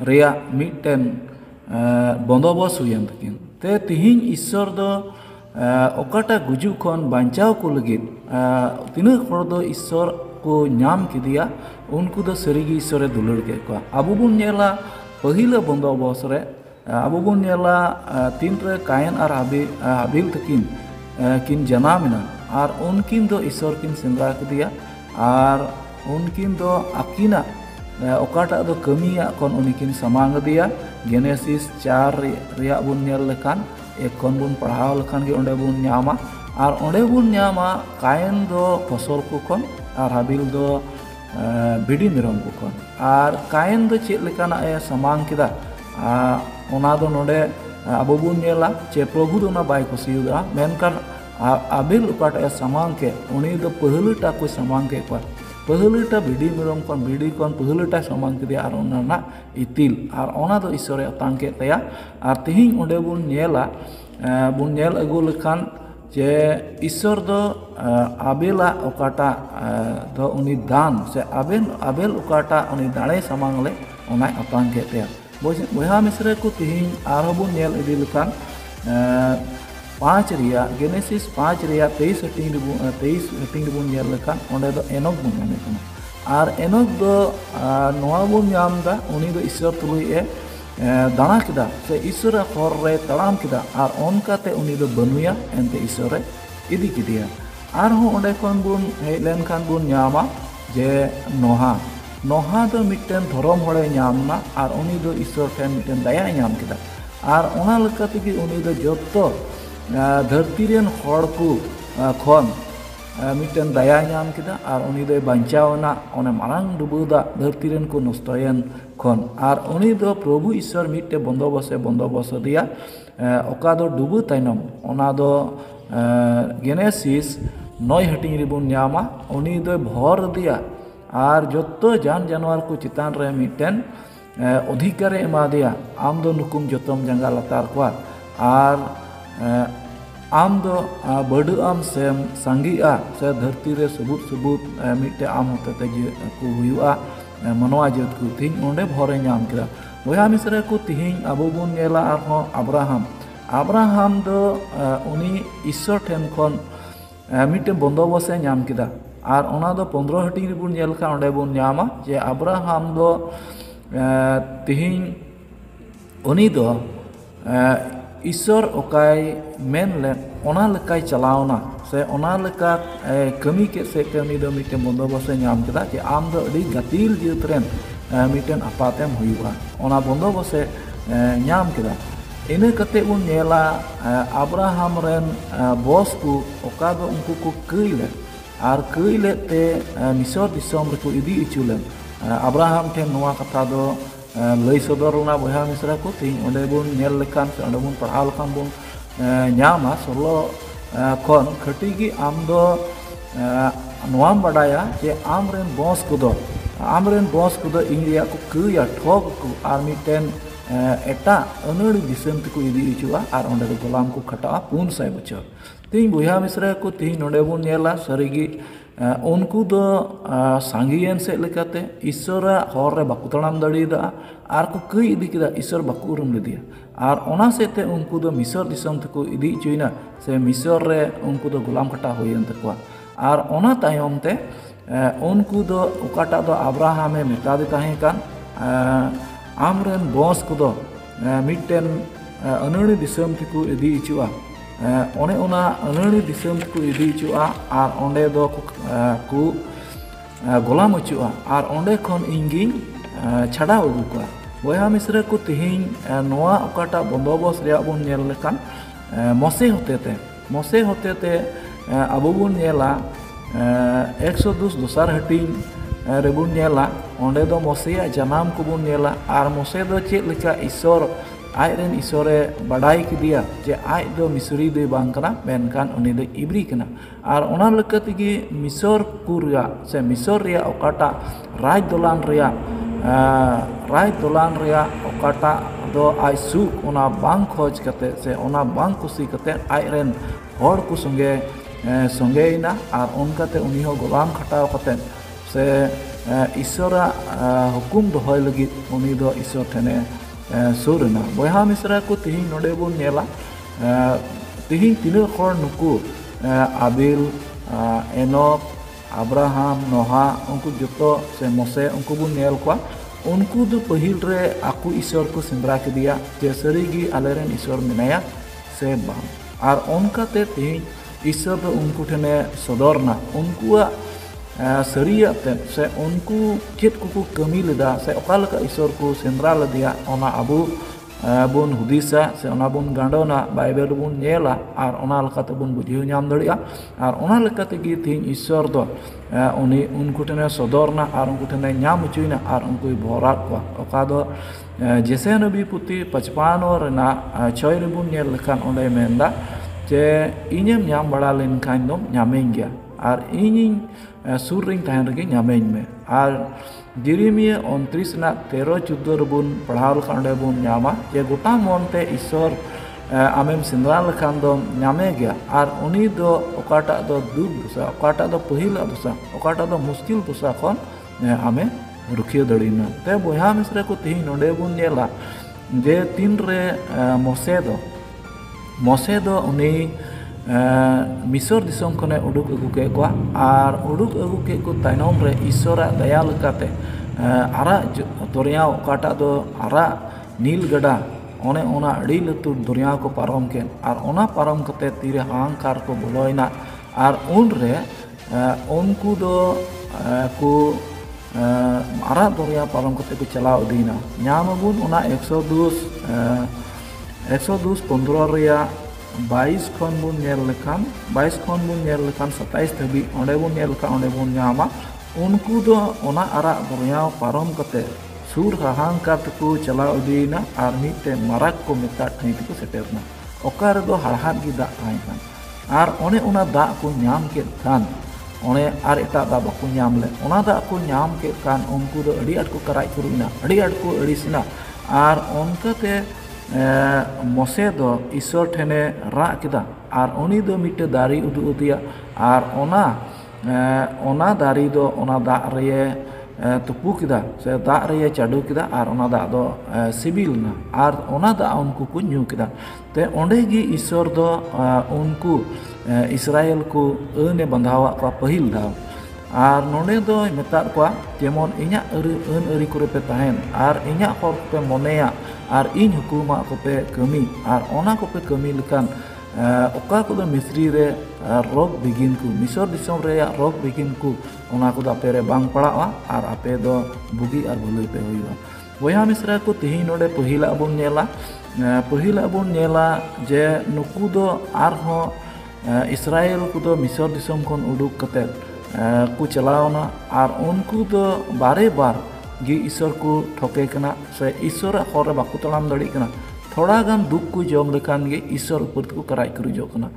ᱨᱮᱭᱟᱜ ᱢᱤᱫᱴᱮᱱ ᱵᱚᱱᱫᱚᱵᱚᱥ ᱦᱩᱭᱮᱱ ᱛᱟᱹᱠᱤᱱ ᱛᱮ ᱛᱤᱦᱤᱧ ᱤᱥᱥᱚᱨ ᱫᱚ ᱚᱠᱟᱴᱟᱜ ᱜᱩᱡᱩᱜ ᱠᱷᱚᱱ ᱵᱟᱧᱪᱟᱣ ᱠᱚ ᱞᱟᱹᱜᱤᱫ ᱛᱤᱱᱟᱹᱜ ᱦᱚᱲ ᱫᱚ ᱤᱥᱥᱚᱨ ᱠᱚ ᱧᱟᱢ ᱠᱮᱫᱮᱭᱟ ᱩᱱᱠᱩ ᱫᱚ ᱥᱟᱹᱨᱤᱜᱮ ᱤᱥᱥᱚᱨᱮ ᱫᱩᱞᱟᱹᱲ ᱠᱮᱫ ᱠᱚᱣᱟ ᱟᱵᱚ ᱵᱚᱱ ᱧᱮᱞᱟ ᱯᱟᱹᱦᱤᱞᱟᱜ ᱵᱚᱱᱫᱚᱵᱚᱥ ᱨᱮ ᱟᱵᱚ ᱵᱚᱱ ᱧᱮᱞᱟ ᱛᱤᱱᱨᱮ ᱠᱟᱭᱮᱱ ᱟᱨ ᱦᱟᱵᱤᱞ ᱦᱟᱵᱤᱞ ᱛᱟᱹᱠᱤᱱ ᱠᱤᱱ ᱡᱟᱱᱟᱢ ᱮᱱᱟ ᱟᱨ ᱩᱱᱠᱤᱱ ᱫᱚ ᱤᱥᱥᱚᱨ ᱠᱤᱱ ᱥᱮᱸᱫᱽᱨᱟ ᱠᱮᱫᱮᱭᱟ ᱟᱨ ᱩᱱᱠᱤᱱ ᱫᱚ ᱟᱹᱠᱤᱱᱟᱜ ᱚᱠᱟᱴᱟᱜ ᱫᱚ ᱠᱟᱹᱢᱤᱭᱟᱜ ᱠᱷᱚᱱ ᱩᱱᱤᱠᱤᱱ ᱥᱟᱢᱟᱝ ᱟᱫᱮᱭᱟ ᱜᱮᱱᱮᱥᱤᱥ ᱪᱟᱨ ᱨᱮᱭᱟᱜ ᱵᱚᱱ ᱧᱮᱞ ᱞᱮᱠᱷᱟᱱ ᱮᱠ ᱠᱷᱚᱱ ᱵᱚᱱ ᱯᱟᱲᱦᱟᱣ ᱞᱮᱠᱷᱟᱱ ᱜᱮ ᱚᱸᱰᱮ ᱵᱚᱱ ᱧᱟᱢᱟ ᱟᱨ ᱚᱸᱰᱮ ᱵᱚᱱ ᱧᱟᱢᱟ ᱠᱟᱭᱮᱱ ᱫᱚ ᱯᱷᱚᱥᱚᱞ ᱠᱚ ᱠᱷᱚᱱ ᱟᱨ ᱦᱟᱵᱤᱞ ᱫᱚ ᱵᱷᱤᱰᱤ ᱢᱮᱨᱚᱢ ᱠᱚ ᱠᱷᱚᱱ ᱟᱨ ᱠᱟᱭᱮᱱ ᱫᱚ ᱪᱮᱫ ᱞᱮᱠᱟᱱᱟᱜ ᱮ ᱥᱟᱢᱟᱝ ᱠᱮᱫᱟ ᱚᱱᱟ ᱫᱚ ᱱᱚᱰᱮ ᱟᱵᱚ ᱵᱚᱱ ᱧᱮᱞᱟ ᱡᱮ ᱯᱨᱚᱵᱷᱩ ᱫᱚ ᱚᱱᱟ ᱵᱟᱭ ᱠᱩᱥᱤᱭᱟᱫᱟ ᱢᱮᱱᱠᱷᱟᱱ ᱟᱵᱤᱞ ᱚᱠᱟᱴᱟᱜ ᱮ ᱥᱟᱢᱟᱝ ᱠᱮᱫ ᱩᱱᱤ ᱫᱚ ᱯᱟᱹᱦᱞᱟᱹᱴᱟ ᱠᱚᱭ ᱥᱟᱢᱟᱝ ᱠᱮᱫ ᱠᱚᱣᱟ ᱯᱟᱹᱦᱞᱟᱹᱴᱟ ᱵᱷᱤᱰᱤ ᱢᱮᱨᱚᱢ ᱠᱷᱚᱱ ᱵᱷᱤᱰᱤ ᱠᱷᱚᱱ ᱯᱟᱹᱦᱞᱟᱹᱴᱟᱭ ᱥᱟᱢᱟᱝ ᱠᱮᱫᱮᱭᱟ ᱟᱨ ᱚᱱᱟ ᱨᱮᱱᱟᱜ ᱤᱛᱤᱞ ᱟᱨ ᱚᱱᱟ ᱫᱚ ᱤᱥᱥᱚᱨᱮ ᱟᱛᱟᱝ ᱠᱮᱫ ᱛᱟᱭᱟ ᱟᱨ ᱛᱮᱦᱤᱧ ᱚᱸᱰᱮ ᱵᱚᱱ ᱧᱮᱞᱟ ᱵᱚᱱ ᱧᱮᱞ ᱟᱹᱜᱩ ᱞᱮᱠᱷᱟᱱ ᱡᱮ ᱤᱥᱥᱚᱨ ᱫᱚ ᱟᱵᱮᱞᱟᱜ ᱚᱠᱟᱴᱟᱜ ᱫᱚ ᱩᱱᱤ ᱫᱟᱱ ᱥᱮ ᱟᱵᱮᱞ ᱟᱵᱮᱞ ᱚᱠᱟᱴᱟᱜ ᱩᱱᱤ ᱫᱟᱲᱮᱭ ᱥᱟᱢᱟᱝ ᱞᱮᱫ ᱚᱱᱟᱭ ᱟᱛᱟᱝ ᱠᱮᱫ ᱛᱟᱭᱟ ᱵᱚᱭᱦᱟ ᱢᱤᱥᱨᱟ ᱠᱚ ᱛᱮᱦᱮᱧ ᱟᱨᱦᱚᱸ ᱵᱚᱱ ᱧᱮᱞ ᱤᱫᱤ ᱞᱮᱠᱷᱟᱱ ᱯᱟᱸᱪ ᱨᱮᱭᱟᱜ ᱜᱮᱱᱮᱥᱤᱥ ᱯᱟᱸᱪ ᱨᱮᱭᱟᱜ ᱛᱮᱭᱤᱥ ᱦᱟᱹᱴᱤᱧ ᱨᱮᱵᱚᱱ ᱛᱮᱭᱤᱥ ᱦᱟᱹᱴᱤᱧ ᱨᱮᱵᱚᱱ ᱧᱮᱞ ᱞᱮᱠᱷᱟᱱ ᱚᱸᱰᱮ ᱫᱚ ᱮᱱᱚᱠ ᱵᱚᱱ ᱧᱟᱢᱮ ᱠᱟᱱᱟ ᱟᱨ ᱮᱱᱚᱠ ᱫᱚ ᱱᱚᱣᱟ ᱵᱚᱱ ᱧᱟᱢ ᱮᱫᱟ ᱩᱱᱤ ᱫᱚ ᱤᱥᱚᱨ ᱛᱩᱞᱩᱡ ᱮ ᱫᱟᱬᱟ ᱠᱮᱫᱟ ᱥᱮ ᱤᱥᱚᱨᱟᱜ ᱦᱚᱨ ᱨᱮ ᱛᱟᱲᱟᱢ ᱠᱮᱫᱟ ᱟᱨ ᱚᱱᱠᱟᱛᱮ ᱩᱱᱤ ᱫᱚ ᱵᱟᱹᱱᱩᱭᱟ ᱮᱱᱛᱮ ᱤᱥᱚᱨᱮ ᱤᱫᱤ ᱠᱮᱫᱮᱭᱟ ᱟᱨᱦᱚᱸ ᱚᱸᱰᱮ ᱠᱷᱚᱱ ᱵᱚᱱ ᱦᱮᱡ ᱞᱮᱱᱠᱷᱟᱱ ᱵᱚᱱ ᱧᱟᱢᱟ ᱡᱮ ᱱᱚᱦᱟ ᱱᱚᱦᱟ ᱫᱚ ᱢᱤᱫᱴᱮᱱ ᱫᱷᱚᱨᱚᱢ ᱦᱚᱲᱮ ᱧᱟᱢ ᱮᱱᱟ ᱟᱨ ᱩᱱᱤ ᱫᱚ ᱤᱥᱚᱨ ᱴᱷᱮᱱ ᱢᱤᱫᱴᱮᱱ ᱫᱟᱭᱟᱭ ᱧᱟᱢ ᱠᱮᱫᱟ ᱟᱨ ᱚᱱᱟ ᱞᱮᱠᱟ ᱛᱮᱜᱮ ᱩᱱᱤ ᱫᱚ ᱡᱚᱛᱚ ᱫᱷᱟᱹᱨᱛᱤ ᱨᱮᱱ ᱦᱚᱲ ᱠᱚ ᱠᱷᱚᱱ ᱢᱤᱫᱴᱮᱱ ᱫᱟᱭᱟᱭ ᱧᱟᱢ ᱠᱮᱫᱟ ᱟᱨ ᱩᱱᱤ ᱫᱚᱭ ᱵᱟᱧᱪᱟᱣ ᱮᱱᱟ ᱚᱱᱮ ᱢᱟᱨᱟᱝ ᱰᱩᱵᱟᱹ ᱫᱟᱜ ᱫᱷᱟᱹᱨᱛᱤ ᱨᱮᱱ ᱠᱚ ᱱᱚᱥᱴᱚᱭᱮᱱ ᱠᱷᱚᱱ ᱟᱨ ᱩᱱᱤ ᱫᱚ ᱯᱨᱚᱵᱷᱩ ᱤᱥᱚᱨ ᱢᱤᱫᱴᱮᱱ ᱵᱚᱱᱫᱚᱵᱚᱥᱮ ᱵᱚᱱᱫᱚᱵᱚᱥ ᱟᱫᱮᱭᱟ ᱚᱠᱟ ᱫᱚ ᱰᱩᱵᱟᱹ ᱛᱟᱭᱱᱚᱢ ᱚᱱᱟ ᱫᱚ ᱜᱮᱱᱮᱥᱤᱥ ᱱᱚᱭ ᱦᱟᱹᱴᱤᱧ ᱨᱮᱵᱚᱱ ᱧᱟᱢᱟ ᱩᱱᱤ ᱫᱚᱭ ᱵᱷᱚᱨ ᱟᱫᱮᱭᱟ ᱟᱨ ᱡᱚᱛᱚ ᱡᱟᱱ ᱡᱟᱱᱣᱟᱨ ᱠᱚ ᱪᱮᱛᱟᱱ ᱨᱮ ᱢᱤᱫᱴᱮᱱ ᱚᱫᱷᱤᱠᱟᱨᱮ ᱮᱢᱟ ᱫᱮᱭᱟ ᱟᱢ ᱫᱚ ᱱᱩᱠᱩᱢ ᱡᱚᱛᱚᱢ ᱡᱟᱸᱜᱟ ᱞᱟᱛᱟᱨ ᱠᱚᱣᱟ ᱟᱨ ᱟᱢ ᱫᱚ ᱵᱟᱹᱰᱟᱹᱜ ᱟᱢ ᱥᱮᱢ ᱥᱟᱸᱜᱮᱜᱼᱟ ᱥᱮ ᱫᱷᱟᱹᱨᱛᱤ ᱨᱮ ᱥᱩᱵᱩᱫ ᱥᱩᱵᱩᱫ ᱢᱤᱫᱴᱮᱱ ᱟᱢ ᱦᱚᱛᱮᱛᱮ ᱡᱮ ᱠᱚ ᱦᱩᱭᱩᱜᱼᱟ ᱢᱟᱱᱣᱟ ᱡᱟᱹᱛ ᱠᱚ ᱛᱮᱦᱤᱧ ᱚᱸᱰᱮ ᱵᱷᱚᱨᱮ ᱧᱟᱢ ᱠᱮᱫᱟ ᱵᱚᱭᱦᱟ ᱢᱤᱥᱨᱟ ᱠᱚ ᱛᱤᱦᱤᱧ ᱟᱵᱚ ᱵᱚᱱ ᱧᱮᱞᱟ ᱟᱨᱦᱚᱸ ᱟᱵᱨᱟᱦᱟᱢ ᱟᱵᱨᱟᱦᱟᱢ ᱫᱚ ᱩᱱᱤ ᱤᱥᱥᱚᱨ ᱴᱷᱮᱱ ᱠᱷᱚᱱ ᱢᱤᱫᱴᱮᱱ ᱵᱚᱱᱫᱚᱵᱚᱥᱮ ᱧᱟᱢ ᱠᱮᱫᱟ ᱟᱨ ᱚᱱᱟ ᱫᱚ ᱯᱚᱱᱫᱨᱚ ᱦᱟᱹᱴᱤᱧ ᱨᱮᱵᱚᱱ ᱧᱮᱞ ᱠᱷᱟᱱ ᱚᱸᱰᱮ ᱵᱚᱱ ᱧᱟᱢᱟ ᱡᱮ ᱟᱵᱨᱟᱦᱟᱢ ᱫᱚ ᱛᱤᱦᱤᱧ ᱩᱱᱤ ᱫᱚ ᱤᱥᱥᱚᱨ ᱚᱠᱟᱭ ᱢᱮᱱ ᱞᱮᱫ ᱚᱱᱟ ᱞᱮᱠᱟᱭ ᱪᱟᱞᱟᱣᱱᱟ ᱥᱮ ᱚᱱᱟ ᱞᱮᱠᱟ ᱠᱟᱹᱢᱤ ᱠᱮᱫ ᱥᱮ ᱠᱟᱹᱢᱤ ᱫᱚ ᱢᱤᱫᱴᱮᱱ ᱵᱚᱱᱫᱳᱵᱚᱥᱛᱚᱭ ᱧᱟᱢ ᱠᱮᱫᱟ ᱡᱮ ᱟᱢ ᱫᱚ ᱟᱹᱰᱤ ᱜᱟᱹᱛᱤᱞ ᱡᱟᱹᱛ ᱨᱮᱱ ᱢᱤᱫᱴᱮᱱ ᱟᱯᱟᱛ ᱮᱢ ᱦᱩᱭᱩᱜᱼᱟ ᱚᱱᱟ ᱵᱚᱱᱫᱳᱵᱚᱥᱛᱚᱭ ᱧᱟᱢ ᱠᱮᱫᱟ ᱤᱱᱟᱹ ᱠᱟᱛᱮᱫ ᱵᱚᱱ ᱧᱮᱞᱟ ᱟᱵᱨᱟᱦᱟᱢ ᱨᱮᱱ ᱵᱚᱥ ᱠᱚ ᱚᱠᱟ ᱫᱚ ᱩᱱᱠᱩ ᱠᱚ ᱠᱟᱹᱭ ᱞᱮᱫ ᱟᱨ ᱠᱟᱹᱭ ᱞᱮᱫ ᱛᱮ ᱢᱤᱥᱚᱨ ᱫᱤᱥᱚᱢ ᱨᱮᱠᱚ ᱤᱫᱤ ᱦᱚᱪᱚ ᱞᱮᱫ ᱟᱵᱨᱟᱦᱟᱢ ᱴᱷᱮᱱ ᱱᱚᱣᱟ ᱠᱟᱛᱷᱟ ᱫᱚ ᱞᱟᱹᱭ ᱥᱚᱫᱚᱨ ᱞᱮᱱᱟ ᱵᱚᱭᱦᱟ ᱢᱤᱥᱨᱟ ᱠᱚ ᱛᱮᱦᱮᱧ ᱚᱸᱰᱮ ᱵᱚᱱ ᱧᱮᱞ ᱞᱮᱠᱷᱟᱱ ᱥᱮ ᱚᱸᱰᱮ ᱵᱚᱱ ᱯᱟᱲᱦᱟᱣ ᱞᱮᱠᱷᱟᱱ ᱵᱚᱱ ᱧᱟᱢᱟ ᱥᱚᱞᱚ ᱠᱷᱚᱱ ᱠᱷᱟᱹᱴᱤ ᱜᱮ ᱟᱢ ᱫᱚ ᱱᱚᱣᱟᱢ ᱵᱟᱰᱟᱭᱟ ᱡᱮ ᱟᱢᱨᱮᱱ ᱵᱚᱥ ᱠᱚᱫᱚ ᱟᱢᱨᱮᱱ ᱵᱚᱥ ᱠᱚᱫᱚ ᱤᱧ ᱨᱮᱭᱟᱜ ᱠᱚ ᱠᱟᱹᱭᱟ ᱴᱷᱚᱠ ᱟᱠᱚ ᱟᱨ ᱢᱤᱫᱴᱮᱱ ᱮᱴᱟᱜ ᱟᱹᱱᱟᱹᱲᱤ ᱫᱤᱥᱚᱢ ᱛᱮᱠᱚ ᱤᱫᱤ ᱦᱚᱪᱚᱜᱼᱟ ᱟᱨ ᱚᱸᱰᱮ ᱫᱚ ᱜᱚᱞᱟᱢ ᱠᱚ ᱠᱷᱟᱴᱟᱜᱼᱟ ᱯᱩᱱ ᱥᱟᱭ ᱵᱚᱪᱷᱚᱨ ᱛᱮᱦᱮᱧ ᱵᱚᱭᱦᱟ ᱢᱤᱥᱨᱟ ᱠᱚ ᱛᱮᱦᱮᱧ ᱱᱚᱸᱰᱮ ᱵᱚᱱ ᱧᱮᱞᱟ ᱥᱟᱹᱨᱤᱜᱮ ᱩᱱᱠᱩ ᱫᱚ ᱥᱟᱺᱜᱤᱧᱮᱱ ᱥᱮᱫ ᱞᱮᱠᱟᱛᱮ ᱤᱥᱥᱚᱨᱟᱜ ᱦᱚᱨ ᱨᱮ ᱵᱟᱠᱚ ᱛᱟᱲᱟᱢ ᱫᱟᱲᱮᱭᱟᱫᱟ ᱟᱨ ᱠᱚ ᱠᱟᱹᱭ ᱤᱫᱤ ᱠᱮᱫᱟ ᱤᱥᱥᱚᱨ ᱵᱟᱠᱚ ᱩᱨᱩᱢ ᱞᱮᱫᱮᱭᱟ ᱟᱨ ᱚᱱᱟ ᱦᱚᱛᱮᱜ ᱛᱮ ᱩᱱᱠᱩ ᱫᱚ ᱢᱤᱥᱚᱨ ᱫᱤᱥᱚᱢ ᱛᱮᱠᱚ ᱤᱫᱤ ᱦᱚᱪᱚᱭᱮᱱᱟ ᱥᱮ ᱢᱤᱥᱚᱨ ᱨᱮ ᱩᱱᱠᱩ ᱫᱚ ᱜᱳᱞᱟᱢ ᱠᱷᱟᱴᱟᱣ ᱦᱩᱭᱮᱱ ᱛᱟᱠᱚᱣᱟ ᱟᱨ ᱚᱱᱟ ᱛᱟᱭᱚᱢ ᱛᱮ ᱩᱱᱠᱩ ᱫᱚ ᱚᱠᱟᱴᱟᱜ ᱫᱚ ᱟᱵᱨᱟᱦᱟᱢᱮ ᱢᱮᱛᱟᱫᱮ ᱛᱟᱦᱮᱸ ᱠᱟᱱ ᱟᱢᱨᱮᱱ ᱵᱚᱸᱥ ᱠᱚᱫᱚ ᱢᱤᱫᱴᱮᱱ ᱟᱹᱱᱟᱹᱲᱤ ᱫᱤᱥᱚᱢ ᱛᱮᱠᱚ ᱤᱫᱤ ᱦᱚᱪᱚᱜᱼᱟ ᱚᱱᱮ ᱚᱱᱟ ᱟᱹᱱᱟᱹᱲᱤ ᱫᱤᱥᱚᱢ ᱛᱮᱠᱚ ᱤᱫᱤ ᱦᱚᱪᱚᱜᱼᱟ ᱟᱨ ᱚᱸᱰᱮ ᱫᱚ ᱠᱚ ᱜᱚᱞᱟᱢ ᱦᱚᱪᱚᱜᱼᱟ ᱟᱨ ᱚᱸᱰᱮ ᱠᱷᱚᱱ ᱤᱧ ᱜᱤᱧ ᱪᱷᱟᱰᱟᱣ ᱟᱹᱜᱩ ᱠᱚᱣᱟ ᱵᱚᱭᱦᱟ ᱢᱤᱥᱨᱟ ᱠᱚ ᱛᱮᱦᱮᱧ ᱱᱚᱣᱟ ᱚᱠᱟᱴᱟᱜ ᱵᱚᱱᱫᱚᱵᱚᱥ ᱨᱮᱭᱟᱜ ᱵᱚᱱ ᱧᱮᱞ ᱞᱮᱠᱷᱟᱱ ᱢᱚᱥᱮ ᱦᱚᱛᱮᱛᱮ ᱢᱚᱥᱮ ᱦᱚᱛᱮᱛᱮ ᱟᱵᱚ ᱵᱚᱱ ᱧᱮᱞᱟ ᱮᱠᱥᱚ ᱫᱩᱥ ᱫᱚᱥᱟᱨ ᱦᱟᱹᱴᱤᱧ ᱨᱮᱵᱚᱱ ᱧᱮᱞᱟ ᱚᱸᱰᱮ ᱫᱚ ᱢᱚᱥᱮᱭᱟᱜ ᱡᱟᱱᱟᱢ ᱠᱚᱵᱚᱱ ᱧᱮᱞᱟ ᱟᱨ ᱢᱚᱥᱮ ᱫᱚ ᱪᱮᱫ ᱞᱮᱠᱟ ᱤᱥᱥᱚᱨ ᱟᱡ ᱨᱮᱱ ᱤᱥᱚᱨ ᱮ ᱵᱟᱰᱟᱭ ᱠᱮᱫᱮᱭᱟ ᱡᱮ ᱟᱡ ᱫᱚ ᱢᱤᱥᱨᱤ ᱫᱚᱭ ᱵᱟᱝ ᱠᱟᱱᱟ ᱢᱮᱱᱠᱷᱟᱱ ᱩᱱᱤ ᱫᱚᱭ ᱤᱵᱽᱨᱤ ᱠᱟᱱᱟ ᱟᱨ ᱚᱱᱟ ᱞᱮᱠᱟ ᱛᱮᱜᱮ ᱢᱤᱥᱚᱨ ᱠᱚ ᱨᱮᱭᱟᱜ ᱥᱮ ᱢᱤᱥᱚᱨ ᱨᱮᱭᱟᱜ ᱚᱠᱟᱴᱟᱜ ᱨᱟᱡᱽ ᱫᱚᱞᱟᱱ ᱨᱮᱭᱟᱜ ᱨᱟᱡᱽ ᱫᱚᱞᱟᱱ ᱨᱮᱭᱟᱜ ᱚᱠᱟᱴᱟᱜ ᱫᱚ ᱟᱡ ᱥᱩᱠ ᱚᱱᱟ ᱵᱟᱝ ᱠᱷᱚᱡᱽ ᱠᱟᱛᱮ ᱥᱮ ᱚᱱᱟ ᱵᱟᱝ ᱠᱩᱥᱤ ᱠᱟᱛᱮ ᱟᱡ ᱨᱮᱱ ᱦᱚᱲ ᱠᱚ ᱥᱚᱸᱜᱮ ᱥᱚᱸᱜᱮᱭᱮᱱᱟ ᱟᱨ ᱚᱱᱠᱟᱛᱮ ᱩᱱᱤ ᱦᱚᱸ ᱜᱚᱞᱟᱢ ᱠᱷᱟᱴᱟᱣ ᱠᱟᱛᱮ ᱥᱮ ᱤᱥᱚᱨᱟᱜ ᱦᱩᱠᱩᱢ ᱫᱚᱦᱚᱭ ᱞᱟᱹᱜᱤᱫ ᱩᱱᱤ ᱫᱚ ᱤᱥᱚᱨ ᱴᱷᱮᱱᱮ ᱥᱩᱨ ᱨᱮᱱᱟᱜ ᱵᱚᱭᱦᱟ ᱢᱤᱥᱨᱟ ᱠᱚ ᱛᱤᱦᱤᱧ ᱱᱚᱰᱮ ᱵᱚᱱ ᱧᱮᱞᱟ ᱛᱤᱦᱤᱧ ᱛᱤᱱᱟᱹᱜ ᱦᱚᱲ ᱱᱩᱠᱩ ᱟᱵᱤᱞ ᱮᱱᱚᱠ ᱟᱵᱨᱟᱦᱟᱢ ᱱᱚᱦᱟ ᱩᱱᱠᱩ ᱡᱚᱛᱚ ᱥᱮ ᱢᱚᱥᱮ ᱩᱱᱠᱩ ᱵᱚᱱ ᱧᱮᱞ ᱠᱚᱣᱟ ᱩᱱᱠᱩ ᱫᱚ ᱯᱟᱹᱦᱤᱞ ᱨᱮ ᱟᱠᱚ ᱤᱥᱚᱨ ᱠᱚ ᱥᱮᱸᱫᱽᱨᱟ ᱠᱮᱫᱮᱭᱟ ᱡᱮ ᱥᱟᱹᱨᱤᱜᱮ ᱟᱞᱮᱨᱮᱱ ᱤᱥᱚᱨ ᱢᱮᱱᱟᱭᱟ ᱥᱮ ᱵᱟᱝ ᱟᱨ ᱚᱱᱠᱟᱛᱮ ᱛᱮᱦᱮᱧ ᱤᱥᱚᱨ ᱫᱚ ᱩᱱᱠᱩ ᱴᱷᱮᱱᱮ ᱥᱚᱫᱚᱨᱱᱟ ᱩᱱᱠᱩᱣᱟᱜ ᱥᱟᱹᱨᱤᱭᱟᱜ ᱛᱮᱫ ᱥᱮ ᱩᱱᱠᱩ ᱪᱮᱫ ᱠᱚᱠᱚ ᱠᱟᱹᱢᱤ ᱞᱮᱫᱟ ᱥᱮ ᱚᱠᱟ ᱞᱮᱠᱟ ᱤᱥᱚᱨ ᱠᱚ ᱥᱮᱸᱫᱽᱨᱟ ᱞᱮᱫᱮᱭᱟ ᱚᱱᱟ ᱟᱵᱚ ᱵᱚᱱ ᱦᱩᱫᱤᱥᱟ ᱥᱮ ᱚᱱᱟ ᱵᱚᱱ ᱜᱟᱸᱰᱚᱱᱟ ᱵᱟᱭᱵᱮᱞ ᱨᱮᱵᱚᱱ ᱧᱮᱞᱟ ᱟᱨ ᱚᱱᱟ ᱞᱮᱠᱟᱛᱮ ᱵᱚᱱ ᱵᱩᱡᱷᱟᱹᱣ ᱧᱟᱢ ᱫᱟᱲᱮᱭᱟᱜᱼᱟ ᱟᱨ ᱚᱱᱟ ᱞᱮᱠᱟ ᱛᱮᱜᱮ ᱛᱮᱦᱮᱧ ᱤᱥᱚᱨ ᱫᱚ ᱩᱱᱤ ᱩᱱᱠᱩ ᱴᱷᱮᱱᱮ ᱥᱚᱫᱚᱨᱱᱟ ᱟᱨ ᱩᱱᱠᱩ ᱴᱷᱮᱱᱮ ᱧᱟᱢ ᱦᱚᱪᱚᱭᱮᱱᱟ ᱟᱨ ᱩᱱᱠᱩᱭ ᱵᱷᱚᱨᱟᱣᱟᱫ ᱠᱚᱣᱟ ᱚᱠᱟ ᱫᱚ ᱡᱮᱥᱟᱭᱟ ᱱᱚᱵᱤ ᱯᱩᱛᱷᱤ ᱯᱟᱸᱪᱯᱟᱱᱱᱚ ᱨᱮᱱᱟᱜ ᱪᱷᱚᱭ ᱨᱮᱵᱚᱱ ᱧᱮᱞ ᱞᱮᱠᱷᱟᱱ ᱚᱸᱰᱮᱭ ᱢᱮᱱᱫᱟ ᱡᱮ ᱤᱧᱮᱢ ᱧᱟᱢ ᱵᱟᱲᱟ ᱞᱮᱱᱠᱷᱟᱱ ᱫᱚᱢ ᱧᱟᱢᱤᱧ ᱜᱮᱭᱟ ᱟᱨ ᱤᱧᱤᱧ ᱥᱩᱨ ᱨᱤᱧ ᱛᱟᱦᱮᱱ ᱨᱮᱜᱮ ᱧᱟᱢᱤᱧ ᱢᱮ ᱟᱨ ᱡᱤᱨᱤᱢᱤᱭᱟᱹ ᱩᱱᱛᱨᱤᱥ ᱨᱮᱱᱟᱜ ᱛᱮᱨᱚ ᱪᱳᱫᱽᱫᱳ ᱨᱮᱵᱚᱱ ᱯᱟᱲᱦᱟᱣ ᱞᱮᱠᱷᱟᱱ ᱚᱸᱰᱮ ᱵᱚᱱ ᱧᱟᱢᱟ ᱡᱮ ᱜᱳᱴᱟ ᱢᱚᱱᱛᱮ ᱤᱥᱥᱚᱨ ᱟᱢᱮᱢ ᱥᱮᱸᱫᱽᱨᱟ ᱞᱮᱠᱷᱟᱱ ᱫᱚᱢ ᱧᱟᱢᱮ ᱜᱮᱭᱟ ᱟᱨ ᱩᱱᱤ ᱫᱚ ᱚᱠᱟᱴᱟᱜ ᱫᱚ ᱫᱩᱠ ᱫᱚᱥᱟ ᱚᱠᱟᱴᱟᱜ ᱫᱚ ᱯᱟᱹᱦᱤᱞᱟᱜ ᱫᱚᱥᱟ ᱚᱠᱟᱴᱟᱜ ᱫᱚ ᱢᱩᱥᱠᱤᱞ ᱫᱚᱥᱟ ᱠᱷᱚᱱ ᱟᱢᱮ ᱨᱩᱠᱷᱤᱭᱟᱹ ᱫᱟᱲᱮᱭᱮᱱᱟ ᱛᱮ ᱵᱚᱭᱦᱟ ᱢᱤᱥᱨᱟ ᱠᱚ ᱛᱮᱦᱮᱧ ᱱᱚᱰᱮ ᱵᱚᱱ ᱧᱮᱞᱟ ᱡᱮ ᱛᱤᱱ ᱨᱮ ᱢᱚᱥᱮ ᱫᱚ ᱢᱚᱥᱮ ᱫᱚ ᱩᱱᱤ ᱢᱤᱥᱚᱨ ᱫᱤᱥᱚᱢ ᱠᱷᱚᱱᱮ ᱩᱰᱩᱠ ᱟᱹᱜᱩ ᱠᱮᱫ ᱠᱚᱣᱟ ᱟᱨ ᱩᱰᱩᱠ ᱟᱹᱜᱩ ᱠᱮᱫ ᱠᱚ ᱛᱟᱭᱱᱚᱢ ᱨᱮ ᱤᱥᱚᱨᱟᱜ ᱫᱟᱭᱟ ᱞᱮᱠᱟᱛᱮ ᱟᱨᱟᱜ ᱫᱚᱨᱭᱟ ᱚᱠᱟᱴᱟᱜ ᱫᱚ ᱟᱨᱟᱜ ᱱᱤᱞ ᱜᱟᱰᱟ ᱚᱱᱮ ᱚᱱᱟ ᱟᱹᱰᱤ ᱞᱟᱹᱴᱩ ᱫᱚᱨᱭᱟ ᱠᱚ ᱯᱟᱨᱚᱢ ᱠᱮᱫ ᱟᱨ ᱚᱱᱟ ᱯᱟᱨᱚᱢ ᱠᱟᱛᱮ ᱛᱤᱨᱮ ᱦᱟᱦᱟᱝᱠᱟᱨ ᱠᱚ ᱵᱚᱞᱚᱭᱮᱱᱟ ᱟᱨ ᱩᱱᱨᱮ ᱩᱱᱠᱩ ᱫᱚ ᱠᱚ ᱟᱨᱟᱜ ᱫᱚᱨᱭᱟ ᱯᱟᱨᱚᱢ ᱠᱟᱛᱮ ᱠᱚ ᱪᱟᱞᱟᱣ ᱤᱫᱤᱭᱮᱱᱟ ᱧᱟᱢ ᱟᱵᱚᱱ ᱚᱱᱟ ᱮᱠᱥᱚ ᱫᱩᱥ ᱮᱠᱥᱚ ᱫᱩᱥ ᱯᱚᱱᱫᱨᱚ ᱨᱮᱭᱟᱜ ᱵᱟᱭᱤᱥ ᱠᱷᱚᱱ ᱵᱚᱱ ᱧᱮᱞ ᱞᱮᱠᱷᱟᱱ ᱵᱟᱭᱤᱥ ᱠᱷᱚᱱ ᱵᱚᱱ ᱧᱮᱞ ᱞᱮᱠᱷᱟᱱ ᱥᱟᱛᱟᱭᱤᱥ ᱫᱷᱟᱹᱵᱤᱡ ᱚᱸᱰᱮ ᱵᱚᱱ ᱧᱮᱞ ᱞᱮᱠᱷᱟᱱ ᱚᱸᱰᱮ ᱵᱚᱱ ᱧᱟᱢᱟ ᱩᱱᱠᱩ ᱫᱚ ᱚᱱᱟ ᱟᱨᱟᱜ ᱫᱚᱨᱭᱟ ᱯᱟᱨᱚᱢ ᱠᱟᱛᱮ ᱥᱩᱨ ᱦᱟᱦᱟᱝᱠᱟ ᱛᱮᱠᱚ ᱪᱟᱞᱟᱣ ᱤᱫᱤᱭᱮᱱᱟ ᱟᱨ ᱢᱤᱫᱴᱮᱱ ᱢᱟᱨᱟᱠ ᱠᱚ ᱢᱮᱛᱟᱜ ᱴᱷᱟᱹᱭ ᱛᱮᱠᱚ ᱥᱮᱴᱮᱨᱮᱱᱟ ᱚᱠᱟ ᱨᱮᱫᱚ ᱦᱟᱲᱦᱟᱫ ᱜᱮ ᱫᱟᱜ ᱛᱟᱦᱮᱸ ᱠᱟᱱᱟ ᱟᱨ ᱚᱱᱮ ᱚᱱᱟ ᱫᱟᱜ ᱠᱚ ᱧᱟᱢ ᱠᱮᱫ ᱠᱷᱟᱱ ᱚᱱᱮ ᱟᱨ ᱮᱴᱟᱜ ᱫᱟᱜ ᱵᱟᱠᱚ ᱧᱟᱢ ᱞᱮᱫ ᱚᱱᱟ ᱫᱟᱜ ᱠᱚ ᱧᱟᱢ ᱠᱮᱫ ᱠᱷᱟᱱ ᱩᱱᱠᱩ ᱫᱚ ᱟᱹᱰᱤ ᱟᱸᱴ ᱠᱚ ᱠᱟᱨᱟᱡ ᱠᱩᱨᱩᱡᱱᱟ ᱟᱹᱰᱤ ᱟᱸᱴ ᱠᱚ ᱟᱹᱲᱤᱥᱱᱟ ᱟᱨ ᱚᱱᱠᱟᱛᱮ ᱢᱚᱥᱮ ᱫᱚ ᱤᱥᱥᱚᱨ ᱴᱷᱮᱱᱮ ᱨᱟᱜ ᱠᱮᱫᱟ ᱟᱨ ᱩᱱᱤ ᱫᱚ ᱢᱤᱫᱴᱮᱱ ᱫᱟᱨᱮ ᱩᱫᱩᱜ ᱟᱫᱮᱭᱟ ᱟᱨ ᱚᱱᱟ ᱚᱱᱟ ᱫᱟᱨᱮ ᱫᱚ ᱚᱱᱟ ᱫᱟᱜ ᱨᱮ ᱛᱩᱯᱩ ᱠᱮᱫᱟ ᱥᱮ ᱫᱟᱜ ᱨᱮ ᱪᱟᱰᱚ ᱠᱮᱫᱟ ᱟᱨ ᱚᱱᱟ ᱫᱟᱜ ᱫᱚ ᱥᱤᱵᱤᱞ ᱮᱱᱟ ᱟᱨ ᱚᱱᱟ ᱫᱟᱜ ᱩᱱᱠᱩ ᱠᱚ ᱧᱩ ᱠᱮᱫᱟ ᱛᱮ ᱚᱸᱰᱮ ᱜᱮ ᱤᱥᱚᱨ ᱫᱚ ᱩᱱᱠᱩ ᱤᱥᱨᱟᱭᱮᱞ ᱠᱚ ᱟᱹᱱᱮ ᱵᱟᱸᱫᱷᱟᱣᱟᱜ ᱠᱚᱣᱟ ᱯᱟᱹᱦᱤᱞ ᱫᱷᱟᱣ ᱟᱨ ᱱᱚᱰᱮ ᱫᱚᱭ ᱢᱮᱛᱟᱫ ᱠᱚᱣᱟ ᱡᱮᱢᱚᱱ ᱤᱧᱟᱹᱜ ᱟᱹᱨᱤ ᱟᱹᱱ ᱟᱹᱨᱤ ᱠᱚᱨᱮ ᱯᱮ ᱛᱟᱦᱮᱱ ᱟᱨ ᱤᱧᱟᱹᱜ ᱦᱚᱨ ᱯᱮ ᱢᱚᱱᱮᱭᱟ ᱟᱨ ᱤᱧ ᱦᱩᱠᱩᱢᱟᱜ ᱠᱚᱯᱮ ᱠᱟᱹᱢᱤ ᱟᱨ ᱚᱱᱟ ᱠᱚᱯᱮ ᱠᱟᱹᱢᱤ ᱞᱮᱠᱷᱟᱱ ᱚᱠᱟ ᱠᱚᱫᱚ ᱢᱤᱥᱨᱤ ᱨᱮ ᱨᱳᱜᱽ ᱵᱤᱜᱷᱤᱱ ᱠᱚ ᱢᱤᱥᱚᱨ ᱫᱤᱥᱚᱢ ᱨᱮᱭᱟᱜ ᱨᱳᱜᱽ ᱵᱤᱜᱷᱤᱱ ᱠᱚ ᱚᱱᱟ ᱠᱚᱫᱚ ᱟᱯᱮ ᱨᱮ ᱵᱟᱝ ᱯᱟᱲᱟᱜᱼᱟ ᱟᱨ ᱟᱯᱮ ᱫᱚ ᱵᱩᱜᱤ ᱟᱨ ᱵᱷᱟᱹᱞᱟᱹᱭ ᱯᱮ ᱦᱩᱭᱩᱜᱼᱟ ᱵᱚᱭᱦᱟ ᱢᱤᱥᱨᱟ ᱠᱚ ᱛᱮᱦᱮᱧ ᱱᱚᱰᱮ ᱯᱟᱹᱦᱤᱞᱟᱜ ᱵᱚᱱ ᱧᱮᱞᱟ ᱯᱟᱹᱦᱤᱞᱟᱜ ᱵᱚᱱ ᱧᱮᱞᱟ ᱡᱮ ᱱᱩᱠᱩ ᱫᱚ ᱟᱨᱦᱚᱸ ᱤᱥᱨᱟᱭᱮᱞ ᱠᱚᱫᱚ ᱢᱤᱥᱚᱨ ᱫᱤᱥᱚᱢ ᱠᱷᱚᱱ ᱩᱰᱩᱠ ᱠᱟᱛᱮᱫ ᱠᱚ ᱪᱟᱞᱟᱣᱱᱟ ᱟᱨ ᱩᱱᱠᱩ ᱫᱚ ᱵᱟᱨᱮ ᱵᱟᱨ ᱜᱮ ᱤᱥᱚᱨ ᱠᱚ ᱴᱷᱚᱠᱮ ᱠᱟᱱᱟ ᱥᱮ ᱤᱥᱚᱨᱟᱜ ᱦᱚᱨ ᱨᱮ ᱵᱟᱠᱚ ᱛᱟᱲᱟᱢ ᱫᱟᱲᱮᱭᱟᱜ ᱠᱟᱱᱟ ᱛᱷᱚᱲᱟ ᱜᱟᱱ ᱫᱩᱠ ᱠᱚ ᱡᱚᱢ ᱞᱮᱠᱷᱟᱱ ᱜᱮ ᱤᱥᱚᱨ ᱩᱯᱚᱨ ᱛᱮᱠᱚ ᱠᱟᱨᱟᱡ ᱠᱩᱨᱩᱡᱚᱜ ᱠᱟᱱᱟ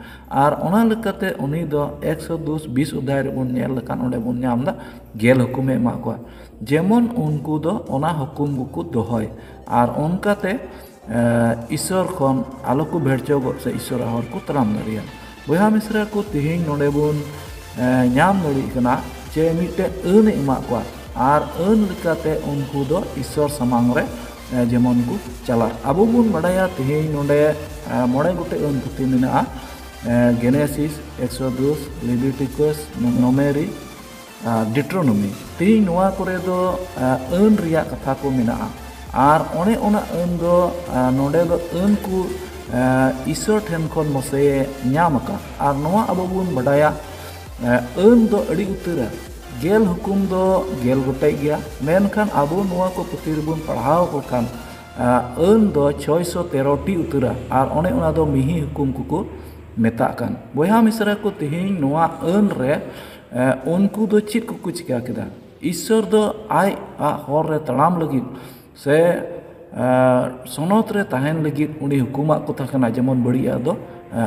ᱟᱨ ᱚᱱᱟ ᱞᱮᱠᱟᱛᱮ ᱩᱱᱤ ᱫᱚ ᱮᱠᱥᱚ ᱫᱚᱥ ᱵᱤᱥ ᱚᱫᱷᱟᱭ ᱨᱮᱵᱚᱱ ᱧᱮᱞ ᱞᱮᱠᱷᱟᱱ ᱚᱸᱰᱮ ᱵᱚᱱ ᱧᱟᱢᱫᱟ ᱜᱮᱞ ᱦᱩᱠᱩᱢᱮ ᱮᱢᱟᱜ ᱠᱚᱣᱟ ᱡᱮᱢᱚᱱ ᱩᱱᱠᱩ ᱫᱚ ᱚᱱᱟ ᱦᱩᱠᱩᱢ ᱜᱮᱠᱚ ᱫᱚᱦᱚᱭ ᱟᱨ ᱚᱱᱠᱟᱛᱮ ᱤᱥᱥᱚᱨ ᱠᱷᱚᱱ ᱟᱞᱚ ᱠᱚ ᱵᱷᱮᱲᱪᱟᱹᱣᱜᱚᱜ ᱥᱮ ᱤᱥᱥᱚᱨᱟᱜ ᱦᱚᱨ ᱠᱚ ᱛᱟᱲᱟᱢ ᱫᱟᱲᱮᱭᱟᱜ ᱵᱚᱭᱦᱟ ᱢᱤᱥᱨᱟ ᱠᱚ ᱛᱮᱦᱮᱧ ᱱᱚᱰᱮ ᱵᱚᱱ ᱧᱟᱢ ᱫᱟᱲᱮᱜ ᱠᱟᱱᱟ ᱡᱮ ᱢᱤᱫᱴᱮᱱ ᱟᱹᱱ ᱮ ᱮᱢᱟᱜ ᱠᱚᱣᱟ ᱟᱨ ᱟᱹᱱ ᱞᱮᱠᱟᱛᱮ ᱩᱱᱠᱩ ᱫᱚ ᱤᱥᱥᱚᱨ ᱥᱟᱢᱟᱝ ᱨᱮ ᱡᱮᱢᱚᱱ ᱠᱚ ᱪᱟᱞᱟᱜ ᱟᱵᱚ ᱵᱚᱱ ᱵᱟᱰᱟᱭᱟ ᱛᱮᱦᱮᱧ ᱱᱚᱰᱮ ᱢᱚᱬᱮ ᱜᱚᱴᱮᱡ ᱟᱹᱱ ᱯᱩᱛᱷᱤ ᱢᱮᱱᱟᱜᱼᱟ ᱜᱮᱱᱮᱥᱤᱥ ᱮᱠᱥᱚᱫᱩᱥ ᱞᱤᱵᱤᱴᱤᱠᱚᱥ ᱱᱚᱢᱮᱨᱤ ᱰᱤᱴᱨᱳᱱᱚᱢᱤ ᱛᱮᱦᱤᱧ ᱱᱚᱣᱟ ᱠᱚᱨᱮ ᱫᱚ ᱟᱹᱱ ᱨᱮᱭᱟᱜ ᱠᱟᱛᱷᱟ ᱠᱚ ᱢᱮᱱᱟᱜᱼᱟ ᱟᱨ ᱚᱱᱮ ᱚᱱᱟ ᱟᱹᱱ ᱫᱚ ᱱᱚᱰᱮ ᱫᱚ ᱟᱹᱱ ᱠᱚ ᱤᱥᱚᱨ ᱴᱷᱮᱱ ᱠᱷᱚᱱ ᱢᱚᱥᱮ ᱧᱟᱢ ᱟᱠᱟᱫ ᱟᱨ ᱱᱚᱣᱟ ᱟᱵᱚ ᱵᱚᱱ ᱵᱟᱰᱟᱭᱟ ᱟᱹᱱ ᱫᱚ ᱟᱹᱰᱤ ᱩᱛᱟᱹᱨᱟ ᱜᱮᱞ ᱦᱩᱠᱩᱢ ᱫᱚ ᱜᱮᱞ ᱜᱚᱴᱮᱡ ᱜᱮᱭᱟ ᱢᱮᱱᱠᱷᱟᱱ ᱟᱵᱚ ᱱᱚᱣᱟ ᱠᱚ ᱯᱩᱛᱷᱤ ᱨᱮᱵᱚᱱ ᱯᱟᱲᱦᱟᱣ ᱠᱚ ᱠᱷᱟᱱ ᱟᱹᱱ ᱫᱚ ᱪᱷᱚᱭ ᱥᱚ ᱛᱮᱨᱚᱴᱤ ᱩᱛᱟᱹᱨᱟ ᱟᱨ ᱚᱱᱮ ᱚᱱᱟ ᱫᱚ ᱢᱤᱦᱤ ᱦᱩᱠᱩᱢ ᱠᱚᱠᱚ ᱢᱮᱛᱟᱜ ᱠᱟᱱ ᱵᱚᱭᱦᱟ ᱢᱤᱥᱨᱟ ᱠᱚ ᱛᱮᱦᱤᱧ ᱱᱚᱣᱟ ᱟᱹᱱ ᱨᱮ ᱩᱱᱠᱩ ᱫᱚ ᱪᱮᱫ ᱠᱚᱠᱚ ᱪᱤᱠᱟᱹ ᱠᱮᱫᱟ ᱤᱥᱥᱚᱨ ᱫᱚ ᱟᱡ ᱟᱜ ᱦᱚᱨ ᱨᱮ ᱛᱟᱲᱟᱢ ᱞᱟᱹᱜᱤᱫ ᱥᱮ ᱥᱚᱱᱚᱛ ᱨᱮ ᱛᱟᱦᱮᱱ ᱞᱟᱹᱜᱤᱫ ᱩᱱᱤ ᱦᱩᱠᱩᱢ ᱟᱜ ᱠᱚ ᱛᱟᱦᱮᱸ ᱠᱟᱱᱟ ᱡᱮᱢᱚᱱ ᱵᱟᱹᱲᱤᱡ ᱟᱜ ᱫᱚ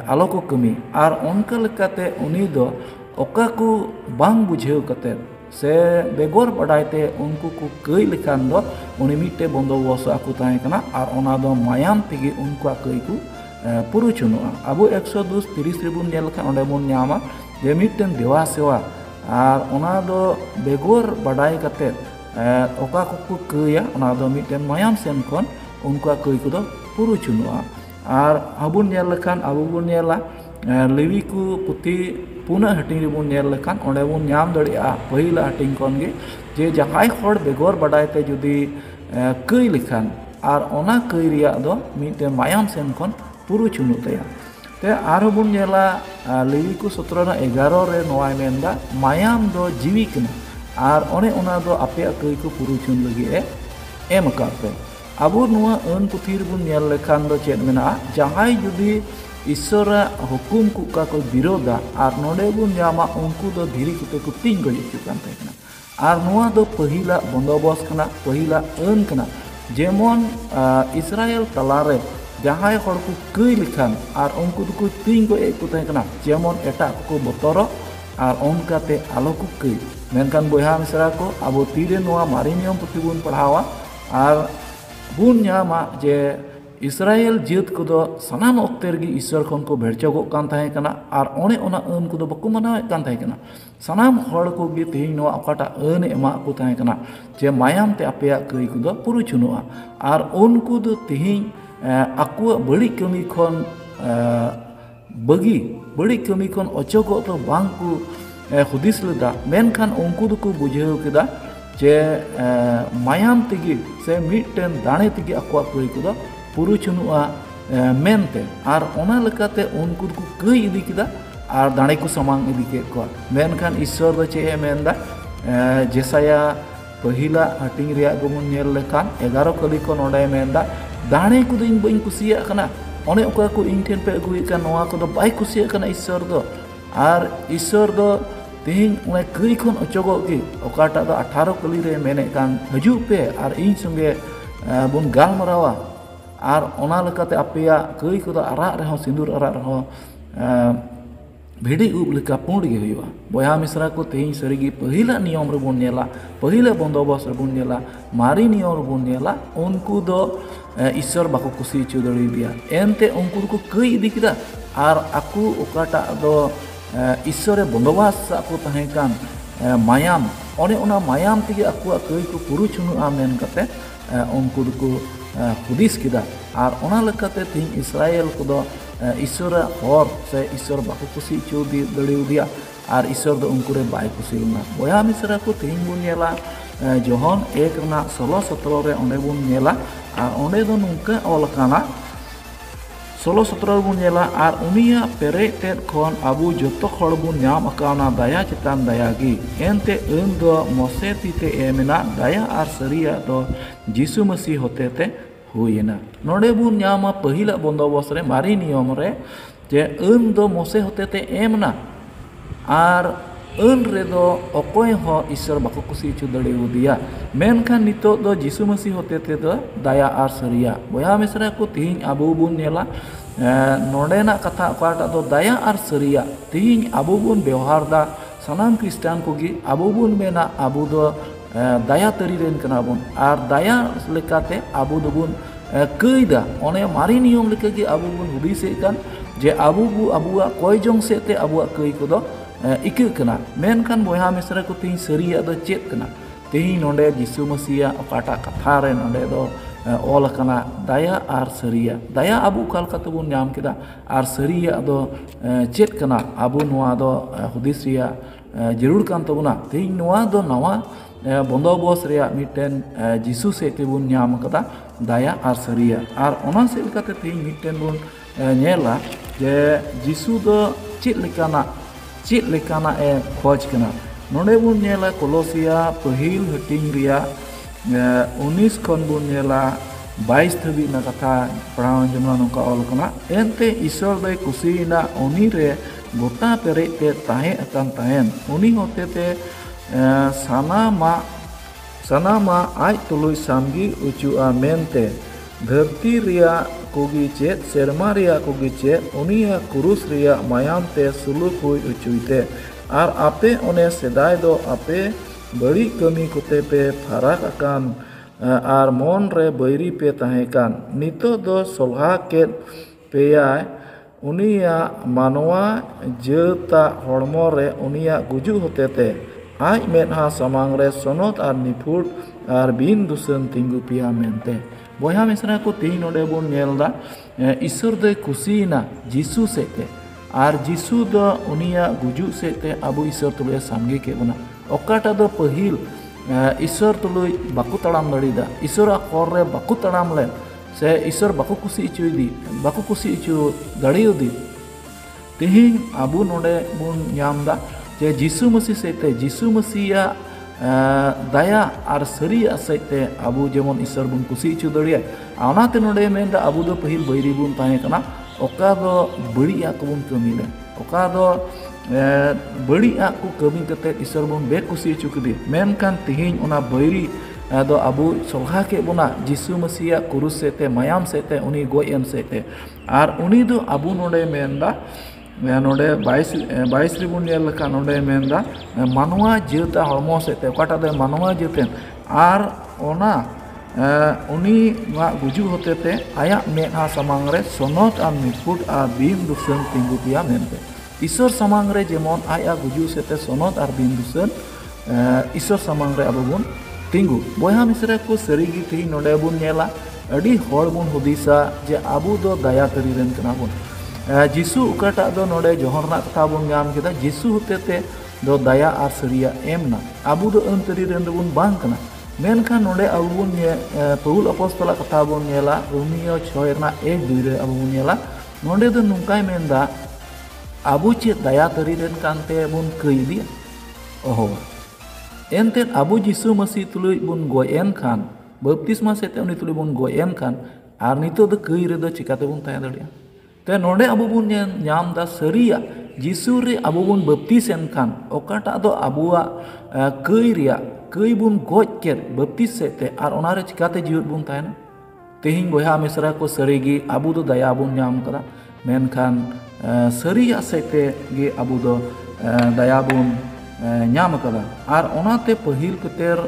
ᱟᱞᱚ ᱠᱚ ᱠᱟᱹᱢᱤ ᱟᱨ ᱚᱱᱠᱟ ᱞᱮᱠᱟᱛᱮ ᱩᱱᱤ ᱫᱚ ᱚᱠᱟ ᱠᱚ ᱵᱟᱝ ᱵᱩᱡᱷᱟᱹᱣ ᱠᱟᱛᱮᱫ ᱥᱮ ᱵᱮᱜᱚᱨ ᱵᱟᱰᱟᱭ ᱛᱮ ᱩᱱᱠᱩ ᱠᱚ ᱠᱟᱹᱭ ᱞᱮᱠᱷᱟᱱ ᱫᱚ ᱩᱱᱤ ᱢᱤᱫᱴᱮᱱ ᱵᱚᱱᱫᱚᱵᱚᱥᱛᱚ ᱟᱠᱚ ᱛᱟᱦᱮᱸ ᱠᱟᱱᱟ ᱟᱨ ᱚᱱᱟ ᱫᱚ ᱢᱟᱭᱟᱢ ᱛᱮᱜᱮ ᱩᱱᱠᱩᱣᱟᱜ ᱠᱟᱹᱭ ᱠᱚ ᱯᱩᱨᱩᱪᱷᱩᱱᱚᱜᱼᱟ ᱟᱵᱚ ᱮᱠᱥᱚ ᱫᱩᱥ ᱛᱤᱨᱤᱥ ᱨᱮᱵᱚᱱ ᱧᱮᱞ ᱞᱮᱠᱷᱟᱱ ᱚᱸᱰᱮ ᱵᱚᱱ ᱧᱟᱢᱟ ᱡᱮ ᱢᱤᱫᱴᱮᱱ ᱫᱮᱣᱟ ᱥᱮᱣᱟ ᱟᱨ ᱚᱱᱟ ᱫᱚ ᱵᱮᱜᱚᱨ ᱵᱟᱰᱟᱭ ᱠᱟᱛᱮ ᱚᱠᱟ ᱠᱚᱠᱚ ᱠᱟᱹᱭᱟ ᱚᱱᱟ ᱫᱚ ᱢᱤᱫᱴᱮᱱ ᱢᱟᱭᱟᱢ ᱥᱮᱱ ᱠᱷᱚᱱ ᱩᱱᱠᱩᱣᱟᱜ ᱠᱟᱹᱭ ᱠᱚᱫᱚ ᱯᱩᱨᱩ ᱪᱩᱱᱩᱜᱼᱟ ᱟᱨ ᱟᱵᱚ ᱧᱮᱞ ᱞᱮᱠᱷᱟᱱ ᱟᱵᱚ ᱵᱚᱱ ᱧᱮᱞᱟ ᱞᱤᱣᱤ ᱠᱚ ᱯᱩᱛᱷᱤ ᱯᱩᱱᱟᱹᱜ ᱦᱟᱹᱴᱤᱧ ᱨᱮᱵᱚᱱ ᱧᱮᱞ ᱞᱮᱠᱷᱟᱱ ᱚᱸᱰᱮ ᱵᱚᱱ ᱧᱟᱢ ᱫᱟᱲᱮᱭᱟᱜᱼᱟ ᱯᱟᱹᱦᱤᱞᱟᱜ ᱦᱟᱹᱴᱤᱧ ᱠᱷᱚᱱ ᱜᱮ ᱡᱮ ᱡᱟᱦᱟᱸᱭ ᱦᱚᱲ ᱵᱮᱜᱚᱨ ᱵᱟᱰᱟᱭ ᱛᱮ ᱡᱩᱫᱤ ᱠᱟᱹᱭ ᱞᱮᱠᱷᱟᱱ ᱟᱨ ᱚᱱᱟ ᱠᱟᱹᱭ ᱨᱮᱭᱟᱜ ᱫᱚ ᱢᱤᱫᱴᱮᱱ ᱢᱟᱭᱟᱢ ᱥᱮᱱ ᱠᱷᱚᱱ ᱯᱩᱨᱩ ᱪᱩᱱᱩᱜ ᱛᱟᱭᱟ ᱛᱮ ᱟᱨᱦᱚᱸ ᱵᱚᱱ ᱧᱮᱞᱟ ᱞᱤᱣᱤ ᱠᱚ ᱥᱚᱛᱨᱚ ᱨᱮᱱᱟᱜ ᱮᱜᱟᱨᱚ ᱨᱮ ᱱᱚᱣᱟᱭ ᱢᱮᱱᱫᱟ ᱢᱟᱭᱟᱢ ᱫᱚ ᱡᱤᱣᱤ ᱠᱟᱱᱟ ᱟᱨ ᱚᱱᱮ ᱚᱱᱟ ᱫᱚ ᱟᱯᱮᱭᱟᱜ ᱠᱟᱹᱭ ᱠᱚ ᱯᱩᱨᱩᱪᱷᱩᱱ ᱞᱟᱹᱜᱤᱫ ᱮ ᱮᱢ ᱟᱠᱟᱫ ᱯᱮ ᱟᱵᱚ ᱱᱚᱣᱟ ᱟᱹᱱ ᱯᱩᱛᱷᱤ ᱨᱮᱵᱚᱱ ᱧᱮᱞ ᱞᱮᱠᱷᱟᱱ ᱫᱚ ᱪᱮᱫ ᱢᱮᱱᱟᱜᱼᱟ ᱡᱟᱦᱟᱸᱭ ᱡᱩᱫᱤ ᱤᱥᱥᱚᱨᱟᱜ ᱦᱩᱠᱩᱢ ᱠᱚ ᱚᱠᱟ ᱠᱚ ᱵᱤᱨᱳᱫᱟ ᱟᱨ ᱱᱚᱰᱮ ᱵᱚᱱ ᱧᱟᱢᱟ ᱩᱱᱠᱩ ᱫᱚ ᱫᱷᱤᱨᱤ ᱠᱚᱛᱮ ᱠᱚ ᱛᱤᱧ ᱜᱚᱡ ᱦᱚᱪᱚᱜ ᱠᱟᱱ ᱛᱟᱦᱮᱸ ᱠᱟᱱᱟ ᱟᱨ ᱱᱚᱣᱟ ᱫᱚ ᱯᱟᱹᱦᱤᱞᱟᱜ ᱵᱚᱱᱫᱚᱵᱚᱥ ᱠᱟᱱᱟ ᱯᱟᱹᱦᱤᱞᱟᱜ ᱟᱹᱱ ᱠᱟᱱᱟ ᱡᱮᱢᱚᱱ ᱤᱥᱨᱟᱭᱮᱞ ᱛᱟᱞᱟᱨᱮ ᱡᱟᱦᱟᱸᱭ ᱦᱚᱲ ᱠᱚ ᱠᱟᱹᱭ ᱞᱮᱠᱷᱟᱱ ᱟᱨ ᱩᱱᱠᱩ ᱫᱚᱠᱚ ᱛᱩᱧ ᱜᱚᱡ ᱮᱫ ᱠᱚ ᱛᱟᱦᱮᱸ ᱠᱟᱱᱟ ᱡᱮᱢᱚᱱ ᱮᱴᱟᱜ ᱠᱚᱠᱚ ᱵᱚᱛᱚᱨᱚᱜ ᱟᱨ ᱚᱱᱠᱟᱛᱮ ᱟᱞᱚ ᱠᱚ ᱠᱟᱹᱭ ᱢᱮᱱᱠᱷᱟᱱ ᱵᱚᱭᱦᱟ ᱢᱤᱥᱨᱟ ᱠᱚ ᱟᱵᱚ ᱛᱤᱨᱮ ᱱᱚᱣᱟ ᱢᱟᱨᱮ ᱱᱤᱭᱚᱢ ᱯᱩᱛᱷᱤ ᱵᱚᱱ ᱯᱟᱲᱦᱟᱣᱟ ᱟᱨ ᱵᱚᱱ ᱧᱟᱢᱟ ᱡᱮ ᱤᱥᱨᱟᱭᱮᱞ ᱡᱟᱹᱛ ᱠᱚᱫᱚ ᱥᱟᱱᱟᱢ ᱚᱠᱛᱮ ᱨᱮᱜᱮ ᱤᱥᱚᱨ ᱠᱷᱚᱱ ᱠᱚ ᱵᱷᱮᱲᱪᱚᱜᱚᱜ ᱠᱟᱱ ᱛᱟᱦᱮᱸ ᱠᱟᱱᱟ ᱟᱨ ᱚᱱᱮ ᱚᱱᱟ ᱟᱹᱱ ᱠᱚᱫᱚ ᱵᱟᱠᱚ ᱢᱟᱱᱟᱣᱮᱫ ᱠᱟᱱ ᱛᱟᱦᱮᱸ ᱠᱟᱱᱟ ᱥᱟᱱᱟᱢ ᱦᱚᱲ ᱠᱚᱜᱮ ᱛᱮᱦᱮᱧ ᱱᱚᱣᱟ ᱚᱠᱟᱴᱟᱜ ᱟᱹᱱᱮ ᱮᱢᱟᱜ ᱠᱚ ᱛᱟᱦᱮᱸ ᱠᱟᱱᱟ ᱡᱮ ᱢᱟᱭᱟᱢ ᱛᱮ ᱟᱯᱮᱭᱟᱜ ᱠᱟᱹᱭ ᱠᱚᱫᱚ ᱯᱩᱨᱩᱪᱷᱩᱱᱚᱜᱼᱟ ᱟᱨ ᱩᱱᱠᱩ ᱫᱚ ᱛᱮᱦᱮᱧ ᱟᱠᱚᱣᱟᱜ ᱵᱟᱹᱲᱤᱡ ᱠᱟᱹᱢᱤ ᱠᱷᱚᱱ ᱵᱟᱹᱜᱤ ᱵᱟᱹᱲᱤᱡ ᱠᱟᱹᱢᱤ ᱠᱷᱚᱱ ᱚᱪᱚᱜᱚᱜ ᱫᱚ ᱵᱟᱝ ᱠᱚ ᱦᱩᱫᱤᱥ ᱞᱮᱫᱟ ᱢᱮᱱᱠᱷᱟᱱ ᱩᱱᱠᱩ ᱫᱚᱠᱚ ᱵᱩᱡᱷᱟᱹᱣ ᱠᱮᱫᱟ ᱡᱮ ᱢᱟᱭᱟᱢ ᱛᱮᱜᱮ ᱥᱮ ᱢᱤᱫᱴᱮᱱ ᱫᱟᱲᱮ ᱛᱮᱜᱮ ᱟᱠᱚᱣᱟᱜ ᱠᱟᱹᱭ ᱠᱚᱫᱚ ᱯᱩᱨᱩᱪᱷᱩᱱᱚᱜᱼᱟ ᱢᱮᱱᱛᱮ ᱟᱨ ᱚᱱᱟ ᱞᱮᱠᱟᱛᱮ ᱩᱱᱠᱩ ᱫᱚᱠᱚ ᱠᱟᱹᱭ ᱤᱫᱤ ᱠᱮᱫᱟ ᱟᱨ ᱫᱟᱲᱮ ᱠᱚ ᱥᱟᱢᱟᱝ ᱤᱫᱤ ᱠᱮᱫ ᱠᱚᱣᱟ ᱢᱮᱱᱠᱷᱟᱱ ᱤᱥᱥᱚᱨ ᱫᱚ ᱪᱮᱫ ᱮ ᱢᱮᱱᱫᱟ ᱡᱮᱥᱟᱭᱟ ᱯᱟᱹᱦᱤᱞᱟᱜ ᱦᱟᱹᱴᱤᱧ ᱨᱮᱭᱟᱜ ᱜᱮᱵᱚᱱ ᱧᱮᱞ ᱞᱮᱠᱷᱟᱱ ᱮᱜᱟᱨᱚ ᱠᱟᱹᱞᱤ ᱠᱚ ᱱᱚᱰᱮ ᱢᱮᱱᱫᱟ ᱫᱟᱲᱮ ᱠᱚᱫᱚ ᱤᱧ ᱵᱟᱹᱧ ᱠᱩᱥᱤᱭᱟᱜ ᱠᱟᱱᱟ ᱚᱱᱮ ᱚᱠᱟ ᱠᱚ ᱤᱧ ᱴᱷᱮᱱ ᱯᱮ ᱟᱹᱜᱩᱭᱮᱫ ᱠᱟᱱ ᱱᱚᱣᱟ ᱠᱚᱫᱚ ᱵᱟᱭ ᱠᱩᱥᱤᱭᱟᱜ ᱠᱟᱱᱟ ᱤᱥᱥᱚᱨ ᱫᱚ ᱟᱨ ᱤᱥᱥᱚᱨ ᱫᱚ ᱛᱮᱦᱮᱧ ᱚᱱᱟ ᱠᱟᱹᱭ ᱠᱷᱚᱱ ᱚᱪᱚᱜᱚᱜ ᱜᱮ ᱚᱠᱟᱴᱟᱜ ᱫᱚ ᱟᱴᱷᱟᱨᱚ ᱠᱟᱹᱞᱤ ᱨᱮ ᱢᱮᱱᱮᱫ ᱠᱟᱱ ᱦᱤᱡᱩᱜ ᱯᱮ ᱟᱨ ᱤᱧ ᱥᱚᱸᱜᱮ ᱵᱚᱱ ᱜᱟᱞᱢᱟᱨᱟᱣᱟ ᱟᱨ ᱚᱱᱟ ᱞᱮᱠᱟᱛᱮ ᱟᱯᱮᱭᱟᱜ ᱜᱟᱹᱭ ᱠᱚᱫᱚ ᱟᱨᱟᱜ ᱨᱮᱦᱚᱸ ᱥᱤᱸᱫᱩᱨ ᱟᱨᱟᱜ ᱨᱮᱦᱚᱸ ᱵᱷᱤᱰᱤ ᱩᱵ ᱞᱮᱠᱟ ᱯᱩᱸᱰ ᱜᱮ ᱦᱩᱭᱩᱜᱼᱟ ᱵᱚᱭᱦᱟ ᱢᱤᱥᱨᱟ ᱠᱚ ᱛᱮᱦᱮᱧ ᱥᱟᱹᱨᱤᱜᱮ ᱯᱟᱹᱦᱤᱞᱟᱜ ᱱᱤᱭᱚᱢ ᱨᱮᱵᱚᱱ ᱧᱮᱞᱟ ᱯᱟᱹᱦᱤᱞᱟᱜ ᱵᱚᱱᱫᱚᱵᱚᱥ ᱨᱮᱵᱚᱱ ᱧᱮᱞᱟ ᱢᱟᱨᱮ ᱱᱤᱭᱚᱢ ᱨᱮᱵᱚᱱ ᱧᱮᱞᱟ ᱩᱱᱠᱩ ᱫᱚ ᱤᱥᱥᱚᱨ ᱵᱟᱠᱚ ᱠᱩᱥᱤ ᱦᱚᱪᱚ ᱫᱟᱲᱮᱭᱟᱫᱮᱭᱟ ᱮᱱᱛᱮ ᱩᱱᱠᱩ ᱫᱚᱠᱚ ᱠᱟᱹᱭ ᱤᱫᱤ ᱠᱮᱫᱟ ᱟᱨ ᱟᱠᱚ ᱚᱠᱟᱴᱟᱜ ᱫᱚ ᱤᱥᱥᱚᱨᱮ ᱵᱚᱱᱫᱚᱵᱟᱥ ᱟᱜ ᱠᱚ ᱛᱟᱦᱮᱸ ᱠᱟᱱ ᱢᱟᱭᱟᱢ ᱚᱱᱮ ᱚᱱᱟ ᱢᱟᱭᱟᱢ ᱛᱮᱜᱮ ᱟᱠᱚᱣᱟᱜ ᱠᱟᱹᱭ ᱠᱚ ᱯᱩᱨᱩᱪᱷᱩᱱᱩᱜᱼᱟ ᱢᱮᱱ ᱠᱟᱛᱮ ᱩᱱᱠᱩ ᱫᱚᱠᱚ ᱦᱩᱫᱤᱥ ᱠᱮᱫᱟ ᱟᱨ ᱚᱱᱟ ᱞᱮᱠᱟᱛᱮ ᱛᱮᱦᱮᱧ ᱤᱥᱨᱟᱭᱮᱞ ᱠᱚᱫᱚ ᱤᱥᱚᱨᱟᱜ ᱦᱚᱨ ᱥᱮ ᱤᱥᱚᱨ ᱵᱟᱠᱚ ᱠᱩᱥᱤ ᱦᱚᱪᱚ ᱫᱟᱲᱮᱭᱟᱫᱮᱭᱟ ᱟᱨ ᱤᱥᱚᱨ ᱫᱚ ᱩᱱᱠᱩ ᱨᱮ ᱵᱟᱭ ᱠᱩᱥᱤ ᱞᱮᱱᱟ ᱵᱚᱭᱦᱟ ᱢᱤᱥᱨᱟ ᱠᱚ ᱛᱮᱦᱮᱧ ᱵᱚᱱ ᱧᱮᱞᱟ ᱡᱚᱦᱚᱱ ᱮᱠ ᱨᱮᱱᱟᱜ ᱥᱳᱞᱳ ᱥᱚᱛᱨᱚ ᱨᱮ ᱚᱸᱰᱮ ᱵᱚᱱ ᱧᱮᱞᱟ ᱟᱨ ᱚᱸᱰᱮ ᱫᱚ ᱱᱚᱝᱠᱟ ᱚᱞ ᱟᱠᱟᱱᱟ ᱥᱳᱞᱳ ᱥᱚᱛᱨᱚ ᱨᱮᱵᱚᱱ ᱧᱮᱞᱟ ᱟᱨ ᱩᱱᱤᱭᱟᱜ ᱯᱮᱨᱮᱡ ᱛᱮᱫ ᱠᱷᱚᱱ ᱟᱵᱚ ᱡᱚᱛᱚ ᱦᱚᱲ ᱵᱚᱱ ᱧᱟᱢ ᱟᱠᱟᱣᱱᱟ ᱫᱟᱭᱟ ᱪᱮᱛᱟᱱ ᱫᱟᱭᱟ ᱜᱮ ᱮᱱᱛᱮ ᱟᱹᱱ ᱫᱚ ᱢᱚᱥᱮ ᱛᱤ ᱛᱮ ᱮᱢ ᱮᱱᱟ ᱫᱟᱭᱟ ᱟᱨ ᱥᱟᱹᱨᱤᱭᱟᱜ ᱫᱚ ᱡᱤᱥᱩ ᱢᱟᱹᱥᱤ ᱦᱚᱛᱮᱛᱮ ᱦᱩᱭᱮᱱᱟ ᱱᱚᱰᱮ ᱵᱚᱱ ᱧᱟᱢᱟ ᱯᱟᱹᱦᱤᱞᱟᱜ ᱵᱚᱱᱫᱚᱵᱚᱥ ᱨᱮ ᱢᱟᱨᱮ ᱱᱤᱭᱚᱢ ᱨᱮ ᱡᱮ ᱟᱹᱱ ᱫᱚ ᱢᱚᱥᱮ ᱦᱚᱛᱮᱛᱮ ᱮᱢ ᱮᱱᱟ ᱟᱨ ᱟᱹᱱ ᱨᱮᱫᱚ ᱚᱠᱚᱭ ᱦᱚᱸ ᱤᱥᱥᱚᱨ ᱵᱟᱠᱚ ᱠᱩᱥᱤ ᱦᱚᱪᱚ ᱫᱟᱲᱮᱭᱟᱫᱮᱭᱟ ᱢᱮᱱᱠᱷᱟᱱ ᱱᱤᱛᱚᱜ ᱫᱚ ᱡᱤᱥᱩ ᱢᱟᱹᱥᱤ ᱦᱚᱛᱮ ᱛᱮᱫᱚ ᱫᱟᱭᱟ ᱟᱨ ᱥᱟᱹᱨᱤᱭᱟᱜ ᱵᱚᱭᱦᱟ ᱢᱤᱥᱨᱟ ᱠᱚ ᱛᱮᱦᱮᱧ ᱟᱵᱚ ᱵᱚᱱ ᱧᱮᱞᱟ ᱱᱚᱰᱮᱱᱟᱜ ᱠᱟᱛᱷᱟ ᱚᱠᱟᱴᱟᱜ ᱫᱚ ᱫᱟᱭᱟ ᱟᱨ ᱥᱟᱹᱨᱤᱭᱟᱜ ᱛᱮᱦᱮᱧ ᱟᱵᱚ ᱵᱚᱱ ᱵᱮᱣᱦᱟᱨᱫᱟ ᱥᱟᱱᱟᱢ ᱠᱷᱨᱤᱥᱴᱟᱱ ᱠᱚᱜᱮ ᱟᱵᱚ ᱵᱚᱱ ᱢᱮᱱᱟ ᱟᱵᱚ ᱫᱚ ᱫᱟᱭᱟ ᱛᱟᱹᱨᱤ ᱨᱮᱱ ᱠᱟᱱᱟ ᱵᱚᱱ ᱟᱨ ᱫᱟᱭᱟ ᱞᱮᱠᱟᱛᱮ ᱟᱵᱚ ᱫᱚᱵᱚᱱ ᱠᱟᱹᱭᱫᱟ ᱚᱱᱮ ᱢᱟᱨᱮ ᱱᱤᱭᱚᱢ ᱞᱮᱠᱟᱜᱮ ᱟᱵᱚ ᱵᱚᱱ ᱦᱩᱫᱤᱥᱮᱫ ᱠᱟᱱ ᱡᱮ ᱟᱵᱚ ᱵᱚ ᱟᱵᱚᱣᱟᱜ ᱠᱚᱭ ᱡᱚᱝ ᱥᱮᱫ ᱛᱮ ᱟᱵᱚᱣᱟᱜ ᱠᱟᱹᱭ ᱠᱚᱫᱚ ᱤᱠᱟᱹᱜ ᱠᱟᱱᱟ ᱢᱮᱱᱠᱷᱟᱱ ᱵᱚᱭᱦᱟ ᱢᱤᱥᱨᱟ ᱠᱚ ᱛᱮᱦᱮᱧ ᱥᱟᱹᱨᱤᱭᱟᱜ ᱫᱚ ᱪᱮᱫ ᱠᱟᱱᱟ ᱛᱮᱦᱮᱧ ᱱᱚᱰᱮ ᱡᱤᱥᱩ ᱢᱟᱹᱥᱤᱭᱟᱜ ᱚᱠᱟᱴᱟᱜ ᱠᱟᱛᱷᱟ ᱨᱮ ᱱᱚᱰᱮ ᱫᱚ ᱚᱞ ᱟᱠᱟᱱᱟ ᱫᱟᱭᱟ ᱟᱨ ᱥᱟᱹᱨᱤᱭᱟᱜ ᱫᱟᱭᱟ ᱟᱵᱚ ᱚᱠᱟ ᱞᱮᱠᱟ ᱛᱮᱵᱚᱱ ᱧᱟᱢ ᱠᱮᱫᱟ ᱟᱨ ᱥᱟᱹᱨᱤᱭᱟᱜ ᱫᱚ ᱪᱮᱫ ᱠᱟᱱᱟ ᱟᱵᱚ ᱱᱚᱣᱟ ᱫᱚ ᱦᱩᱫᱤᱥ ᱨᱮᱭᱟᱜ ᱡᱟᱹᱨᱩᱲ ᱠᱟᱱ ᱛᱟᱵᱚᱱᱟ ᱛᱮᱦᱮᱧ ᱱᱚᱣᱟ ᱫᱚ ᱱᱟᱣᱟ ᱵᱚᱱᱫᱚᱵᱚᱥ ᱨᱮᱭᱟᱜ ᱢᱤᱫᱴᱮᱱ ᱡᱤᱥᱩ ᱥᱮᱫ ᱛᱮᱵᱚᱱ ᱧᱟᱢ ᱠᱟᱫᱟ ᱫᱟᱭᱟ ᱟᱨ ᱥᱟᱹᱨᱤᱭᱟᱜ ᱟᱨ ᱚᱱᱟ ᱥᱮᱫ ᱞᱮᱠᱟᱛᱮ ᱛᱮᱦᱮᱧ ᱢᱤᱫᱴᱮᱱ ᱵᱚᱱ ᱧᱮᱞᱟ ᱡᱮ ᱡᱤᱥᱩ ᱫᱚ ᱪᱮᱫ ᱞᱮᱠᱟᱱᱟᱜ ᱪᱮᱫ ᱞᱮᱠᱟᱱᱟᱜ ᱮ ᱠᱷᱚᱡᱽ ᱠᱟᱱᱟ ᱱᱚᱰᱮ ᱵᱚᱱ ᱧᱮᱞᱟ ᱠᱚᱞᱚᱥᱤᱭᱟ ᱯᱟᱹᱦᱤᱞ ᱦᱟᱹᱴᱤᱧ ᱨᱮᱭᱟᱜ ᱩᱱᱤᱥ ᱠᱷᱚᱱ ᱵᱚᱱ ᱧᱮᱞᱟ ᱵᱟᱭᱤᱥ ᱫᱷᱟᱹᱵᱤᱡ ᱨᱮᱱᱟᱜ ᱠᱟᱛᱷᱟ ᱯᱟᱲᱦᱟᱣ ᱟᱸᱡᱚᱢᱟ ᱱᱚᱝᱠᱟ ᱚᱞ ᱠᱟᱱᱟ ᱮᱱᱛᱮ ᱤᱥᱚᱨ ᱫᱚᱭ ᱠᱩᱥᱤᱭᱮᱱᱟ ᱩᱱᱤ ᱨᱮ ᱜᱚᱴᱟ ᱯᱮᱨᱮᱡ ᱛᱮ ᱛᱟᱦᱮᱸ ᱟᱠᱟᱱ ᱛᱟᱦᱮᱸᱱ ᱩᱱᱤ ᱦᱚᱛᱮᱛᱮ ᱥᱟᱱᱟᱢᱟᱜ ᱥᱟᱱᱟᱢᱟᱜ ᱟᱡ ᱛᱩᱞᱩᱡ ᱥᱟᱢᱜᱤ ᱚᱪᱩᱜᱼᱟ ᱢᱮᱱᱛᱮ ᱫᱷᱟᱹᱨᱛᱤ ᱨᱮᱭᱟᱜ ᱠᱚᱜᱤ ᱪᱮᱫ ᱥᱮᱨᱢᱟ ᱨᱮᱭᱟᱜ ᱠᱚᱜᱤ ᱪᱮᱫ ᱩᱱᱤᱭᱟᱜ ᱠᱩᱨᱩᱥ ᱨᱮᱭᱟᱜ ᱢᱟᱭᱟᱢ ᱛᱮ ᱥᱩᱞᱩᱠ ᱦᱩᱭ ᱚᱪᱩᱭ ᱛᱮ ᱟᱨ ᱟᱯᱮ ᱚᱱᱮ ᱥᱮᱫᱟᱭ ᱫᱚ ᱟᱯᱮ ᱵᱟᱹᱲᱤᱡ ᱠᱟᱹᱢᱤ ᱠᱚᱛᱮ ᱯᱮ ᱯᱷᱟᱨᱟᱠ ᱟᱠᱟᱱ ᱟᱨ ᱢᱚᱱ ᱨᱮ ᱵᱟᱹᱭᱨᱤ ᱯᱮ ᱛᱟᱦᱮᱸ ᱠᱟᱱ ᱱᱤᱛᱚᱜ ᱫᱚ ᱥᱚᱞᱦᱟ ᱠᱮᱫ ᱯᱮᱭᱟᱭ ᱩᱱᱤᱭᱟᱜ ᱢᱟᱱᱣᱟ ᱡᱟᱹᱛᱟᱜ ᱦᱚᱲᱢᱚ ᱨᱮ ᱩᱱᱤᱭᱟᱜ ᱜᱩᱡᱩᱜ ᱦᱚᱛᱮᱛᱮ ᱟᱡ ᱢᱮᱫᱦᱟ ᱥᱟᱢᱟᱝ ᱨᱮ ᱥᱚᱱᱚᱛ ᱟᱨ ᱱᱤᱯᱷᱩᱴ ᱟᱨ ᱵᱤᱱ ᱫᱩᱥᱟᱹᱱ ᱛᱤᱸᱜᱩ ᱯᱮᱭᱟ ᱢᱮᱱᱛᱮ ᱵᱚᱭᱦᱟ ᱢᱤᱥᱨᱟ ᱠᱚ ᱛᱮᱦᱮᱧ ᱱᱚᱰᱮ ᱵᱚᱱ ᱧᱮᱞ ᱮᱫᱟ ᱤᱥᱚᱨ ᱫᱚᱭ ᱠᱩᱥᱤᱭᱮᱱᱟ ᱡᱤᱥᱩ ᱥᱮᱫ ᱛᱮ ᱟᱨ ᱡᱤᱥᱩ ᱫᱚ ᱩᱱᱤᱭᱟᱜ ᱜᱩᱡᱩᱜ ᱥᱮᱫ ᱛᱮ ᱟᱵᱚ ᱤᱥᱚᱨ ᱛᱩᱞᱩᱡ ᱮ ᱥᱟᱸᱜᱮ ᱠᱮᱫ ᱵᱚᱱᱟ ᱚᱠᱟᱴᱟᱜ ᱫᱚ ᱯᱟᱹᱦᱤᱞ ᱤᱥᱚᱨ ᱛᱩᱞᱩᱡ ᱵᱟᱠᱚ ᱛᱟᱲᱟᱢ ᱫᱟᱲᱮᱭᱟᱫᱟ ᱤᱥᱚᱨᱟᱜ ᱦᱚᱨ ᱨᱮ ᱵᱟᱠᱚ ᱛᱟᱲᱟᱢ ᱞᱮᱫ ᱥᱮ ᱤᱥᱚᱨ ᱵᱟᱠᱚ ᱠᱩᱥᱤ ᱚᱪᱚᱭᱮᱫᱮ ᱵᱟᱠᱚ ᱠᱩᱥᱤ ᱚᱪᱚ ᱫᱟᱲᱮᱭᱟᱫᱮ ᱛᱮᱦᱮᱧ ᱟᱵᱚ ᱱᱚᱰᱮ ᱵᱚᱱ ᱧᱟᱢ ᱮᱫᱟ ᱡᱮ ᱡᱤᱥᱩ ᱢᱟᱹᱥᱤ ᱥᱮᱫ ᱛᱮ ᱡᱤᱥᱩ ᱢᱟᱹᱥᱤᱭᱟᱜ ᱫᱟᱭᱟ ᱟᱨ ᱥᱟᱹᱨᱤᱭᱟᱜ ᱥᱮᱫ ᱛᱮ ᱟᱵᱚ ᱡᱮᱢᱚᱱ ᱤᱥᱚᱨ ᱵᱚᱱ ᱠᱩᱥᱤ ᱚᱪᱚ ᱫᱟᱲᱮᱭᱟᱜ ᱚᱱᱟᱛᱮ ᱱᱚᱰᱮ ᱢᱮᱱᱫᱟ ᱟᱵᱚ ᱫᱚ ᱯᱟᱹᱦᱤᱞ ᱵᱟᱹᱭᱨᱤ ᱵᱚᱱ ᱛᱟᱦᱮᱸ ᱠᱟᱱᱟ ᱚᱠᱟ ᱫᱚ ᱵᱟᱹᱲᱤᱡᱟᱜ ᱠᱚᱵᱚᱱ ᱠᱟᱹᱢᱤᱭᱮᱫᱟ ᱚᱠᱟ ᱫᱚ ᱵᱟᱹᱲᱤᱡᱟᱜ ᱠᱚ ᱠᱟᱹᱢᱤ ᱠᱟᱛᱮ ᱤᱥᱚᱨ ᱵᱚᱱ ᱵᱮᱠᱩᱥᱤ ᱚᱪᱚ ᱠᱮᱫᱮ ᱢᱮᱱᱠᱷᱟᱱ ᱛᱮᱦᱮᱧ ᱚᱱᱟ ᱵᱟᱹᱭᱨᱤ ᱟᱫᱚ ᱟᱵᱚ ᱥᱚᱵᱷᱟ ᱠᱮᱫ ᱵᱚᱱᱟ ᱡᱤᱥᱩ ᱢᱟᱹᱥᱤᱭᱟᱜ ᱠᱩᱨᱩᱥ ᱥᱮᱫ ᱛᱮ ᱢᱟᱭᱟᱢ ᱥᱮᱫ ᱛᱮ ᱩᱱᱤ ᱜᱚᱡ ᱮᱱ ᱥᱮᱫ ᱛᱮ ᱟᱨ ᱩᱱᱤ ᱫᱚ ᱟᱵᱚ ᱱᱚᱰᱮ ᱢᱮᱱᱫᱟ ᱱᱚᱰᱮ ᱵᱟᱭᱤᱥ ᱵᱟᱭᱤᱥ ᱨᱮᱵᱚᱱ ᱧᱮᱞ ᱞᱮᱠᱷᱟᱱ ᱱᱚᱰᱮ ᱢᱮᱱᱫᱟ ᱢᱟᱱᱣᱟ ᱡᱟᱹᱛ ᱟᱜ ᱦᱚᱲᱢᱚ ᱥᱮᱫ ᱛᱮ ᱚᱠᱟᱴᱟᱜ ᱫᱚ ᱢᱟᱱᱣᱟ ᱡᱟᱹᱛ ᱮᱱ ᱟᱨ ᱚᱱᱟ ᱩᱱᱤᱭᱟᱜ ᱜᱩᱡᱩᱜ ᱦᱚᱛᱮ ᱛᱮ ᱟᱭᱟᱜ ᱢᱮᱫᱦᱟ ᱥᱟᱢᱟᱝ ᱨᱮ ᱥᱚᱱᱚᱛ ᱟᱨ ᱱᱤᱯᱷᱩᱴ ᱟᱨ ᱵᱤᱱ ᱫᱩᱥᱟᱹᱱ ᱛᱤᱸᱜᱩ ᱯᱮᱭᱟ ᱢᱮᱱᱛᱮ ᱤᱥᱚᱨ ᱥᱟᱢᱟᱝ ᱨᱮ ᱡᱮᱢᱚᱱ ᱟᱡ ᱟᱜ ᱜᱩᱡᱩᱜ ᱥᱮᱛᱮ ᱥᱚᱱᱚᱛ ᱟᱨ ᱵᱤᱱ ᱫᱩᱥᱟᱹᱱ ᱤᱥᱚᱨ ᱥᱟᱢᱟᱝ ᱨᱮ ᱟᱵᱚ ᱵᱚᱱ ᱛᱤᱸᱜᱩ ᱵᱚᱭᱦᱟ ᱢᱤᱥᱨᱟ ᱠᱚ ᱥᱟᱹᱨᱤ ᱜᱮ ᱛᱮᱦᱮᱧ ᱱᱚᱰᱮ ᱵᱚᱱ ᱧᱮᱞᱟ ᱟᱹᱰᱤ ᱦᱚᱲ ᱵᱚᱱ ᱦᱩᱫᱤᱥᱟ ᱡᱮ ᱟᱵᱚ ᱫᱚ ᱫᱟᱭᱟ ᱛᱟᱹᱨᱤ ᱨᱮᱱ ᱠᱟᱱᱟ ᱵᱚᱱ ᱡᱤᱥᱩ ᱚᱠᱟᱴᱟᱜ ᱫᱚ ᱱᱚᱰᱮ ᱡᱚᱦᱚᱱ ᱨᱮᱱᱟᱜ ᱠᱟᱛᱷᱟ ᱵᱚᱱ ᱧᱟᱢ ᱠᱮᱫᱟ ᱡᱤᱥᱩ ᱦᱚᱛᱮᱛᱮ ᱫᱚ ᱫᱟᱭᱟ ᱟᱨ ᱥᱟᱹᱨᱤᱭᱟᱜ ᱮᱢ ᱱᱟ ᱟᱵᱚ ᱫᱚ ᱟᱹᱱ ᱛᱟᱹᱨᱤ ᱨᱮᱱ ᱫᱚᱵᱚᱱ ᱵᱟᱝ ᱠᱟᱱᱟ ᱢᱮᱱᱠᱷᱟᱱ ᱱᱚᱰᱮ ᱟᱵᱚ ᱵᱚᱱ ᱯᱟᱹᱣᱩᱞ ᱚᱯᱚᱥᱛᱚᱞᱟᱜ ᱠᱟᱛᱷᱟ ᱵᱚᱱ ᱧᱮᱞᱟ ᱨᱳᱢᱤᱭᱚ ᱪᱷᱚᱭ ᱨᱮᱱᱟᱜ ᱮᱠ ᱫᱩᱭ ᱨᱮ ᱟᱵᱚ ᱵᱚᱱ ᱧᱮᱞᱟ ᱱᱚᱰᱮ ᱫᱚ ᱱᱚᱝᱠᱟᱭ ᱢᱮᱱᱫᱟ ᱟᱵᱚ ᱪᱮᱫ ᱫᱟᱭᱟ ᱛᱟᱹᱨᱤ ᱨᱮᱱ ᱠᱟᱱᱛᱮ ᱵᱚᱱ ᱠᱟᱹᱭᱫᱤᱭᱟ ᱚᱦᱚᱣᱟ ᱮᱱᱛᱮᱫ ᱟᱵᱚ ᱡᱤᱥᱩ ᱢᱟᱹᱥᱤ ᱛᱩᱞᱩᱡ ᱵᱚᱱ ᱜᱚᱡ ᱮᱱ ᱠᱷᱟᱱ ᱵᱟᱯᱛᱤᱥᱢᱟ ᱥᱮᱫ ᱩᱱᱤ ᱛᱩᱞᱩᱡ ᱵᱚᱱ ᱜᱚᱡ ᱮᱱ ᱠᱷᱟᱱ ᱟᱨ ᱱᱤᱛᱚᱜ ᱫᱚ ᱠᱟᱹᱭ ᱨᱮᱫᱚ ᱪᱤᱠᱟᱛᱮ ᱵᱚᱱ ᱛᱟᱦᱮᱸ ᱫᱟᱲᱮᱭᱟᱜᱼᱟ ᱛᱮ ᱱᱚᱰᱮ ᱟᱵᱚ ᱵᱚᱱ ᱧᱟᱢ ᱫᱟ ᱥᱟᱹᱨᱤᱭᱟᱜ ᱡᱤᱥᱩ ᱨᱮ ᱟᱵᱚ ᱵᱚᱱ ᱵᱟᱯᱛᱤᱥ ᱮᱱ ᱠᱷᱟᱱ ᱚᱠᱟᱴᱟᱜ ᱫᱚ ᱟᱵᱚᱣᱟᱜ ᱠᱟᱹᱭ ᱨᱮᱭᱟᱜ ᱠᱟᱹᱭ ᱵᱚᱱ ᱜᱚᱡ ᱠᱮᱫ ᱵᱟᱯᱛᱤᱥ ᱥᱮᱫ ᱛᱮ ᱟᱨ ᱚᱱᱟᱨᱮ ᱪᱤᱠᱟᱛᱮ ᱡᱤᱣᱮᱫ ᱵᱚᱱ ᱛᱟᱦᱮᱱᱟ ᱛᱮᱦᱮᱧ ᱵᱚᱭᱦᱟ ᱢᱤᱥᱨᱟ ᱠᱚ ᱥᱟᱹᱨᱤᱜᱮ ᱟᱵᱚ ᱫᱚ ᱫᱟᱭᱟ ᱵᱚᱱ ᱧᱟᱢ ᱠᱟᱫᱟ ᱢᱮᱱᱠᱷᱟᱱ ᱥᱟᱹᱨᱤᱭᱟᱜ ᱥᱮᱫ ᱛᱮᱜᱮ ᱟᱵᱚ ᱫᱚ ᱫᱟᱭᱟ ᱵᱚᱱ ᱧᱟᱢ ᱠᱟᱫᱟ ᱟᱨ ᱚᱱᱟᱛᱮ ᱯᱟᱹᱦᱤᱞ ᱠᱟᱛᱮᱨ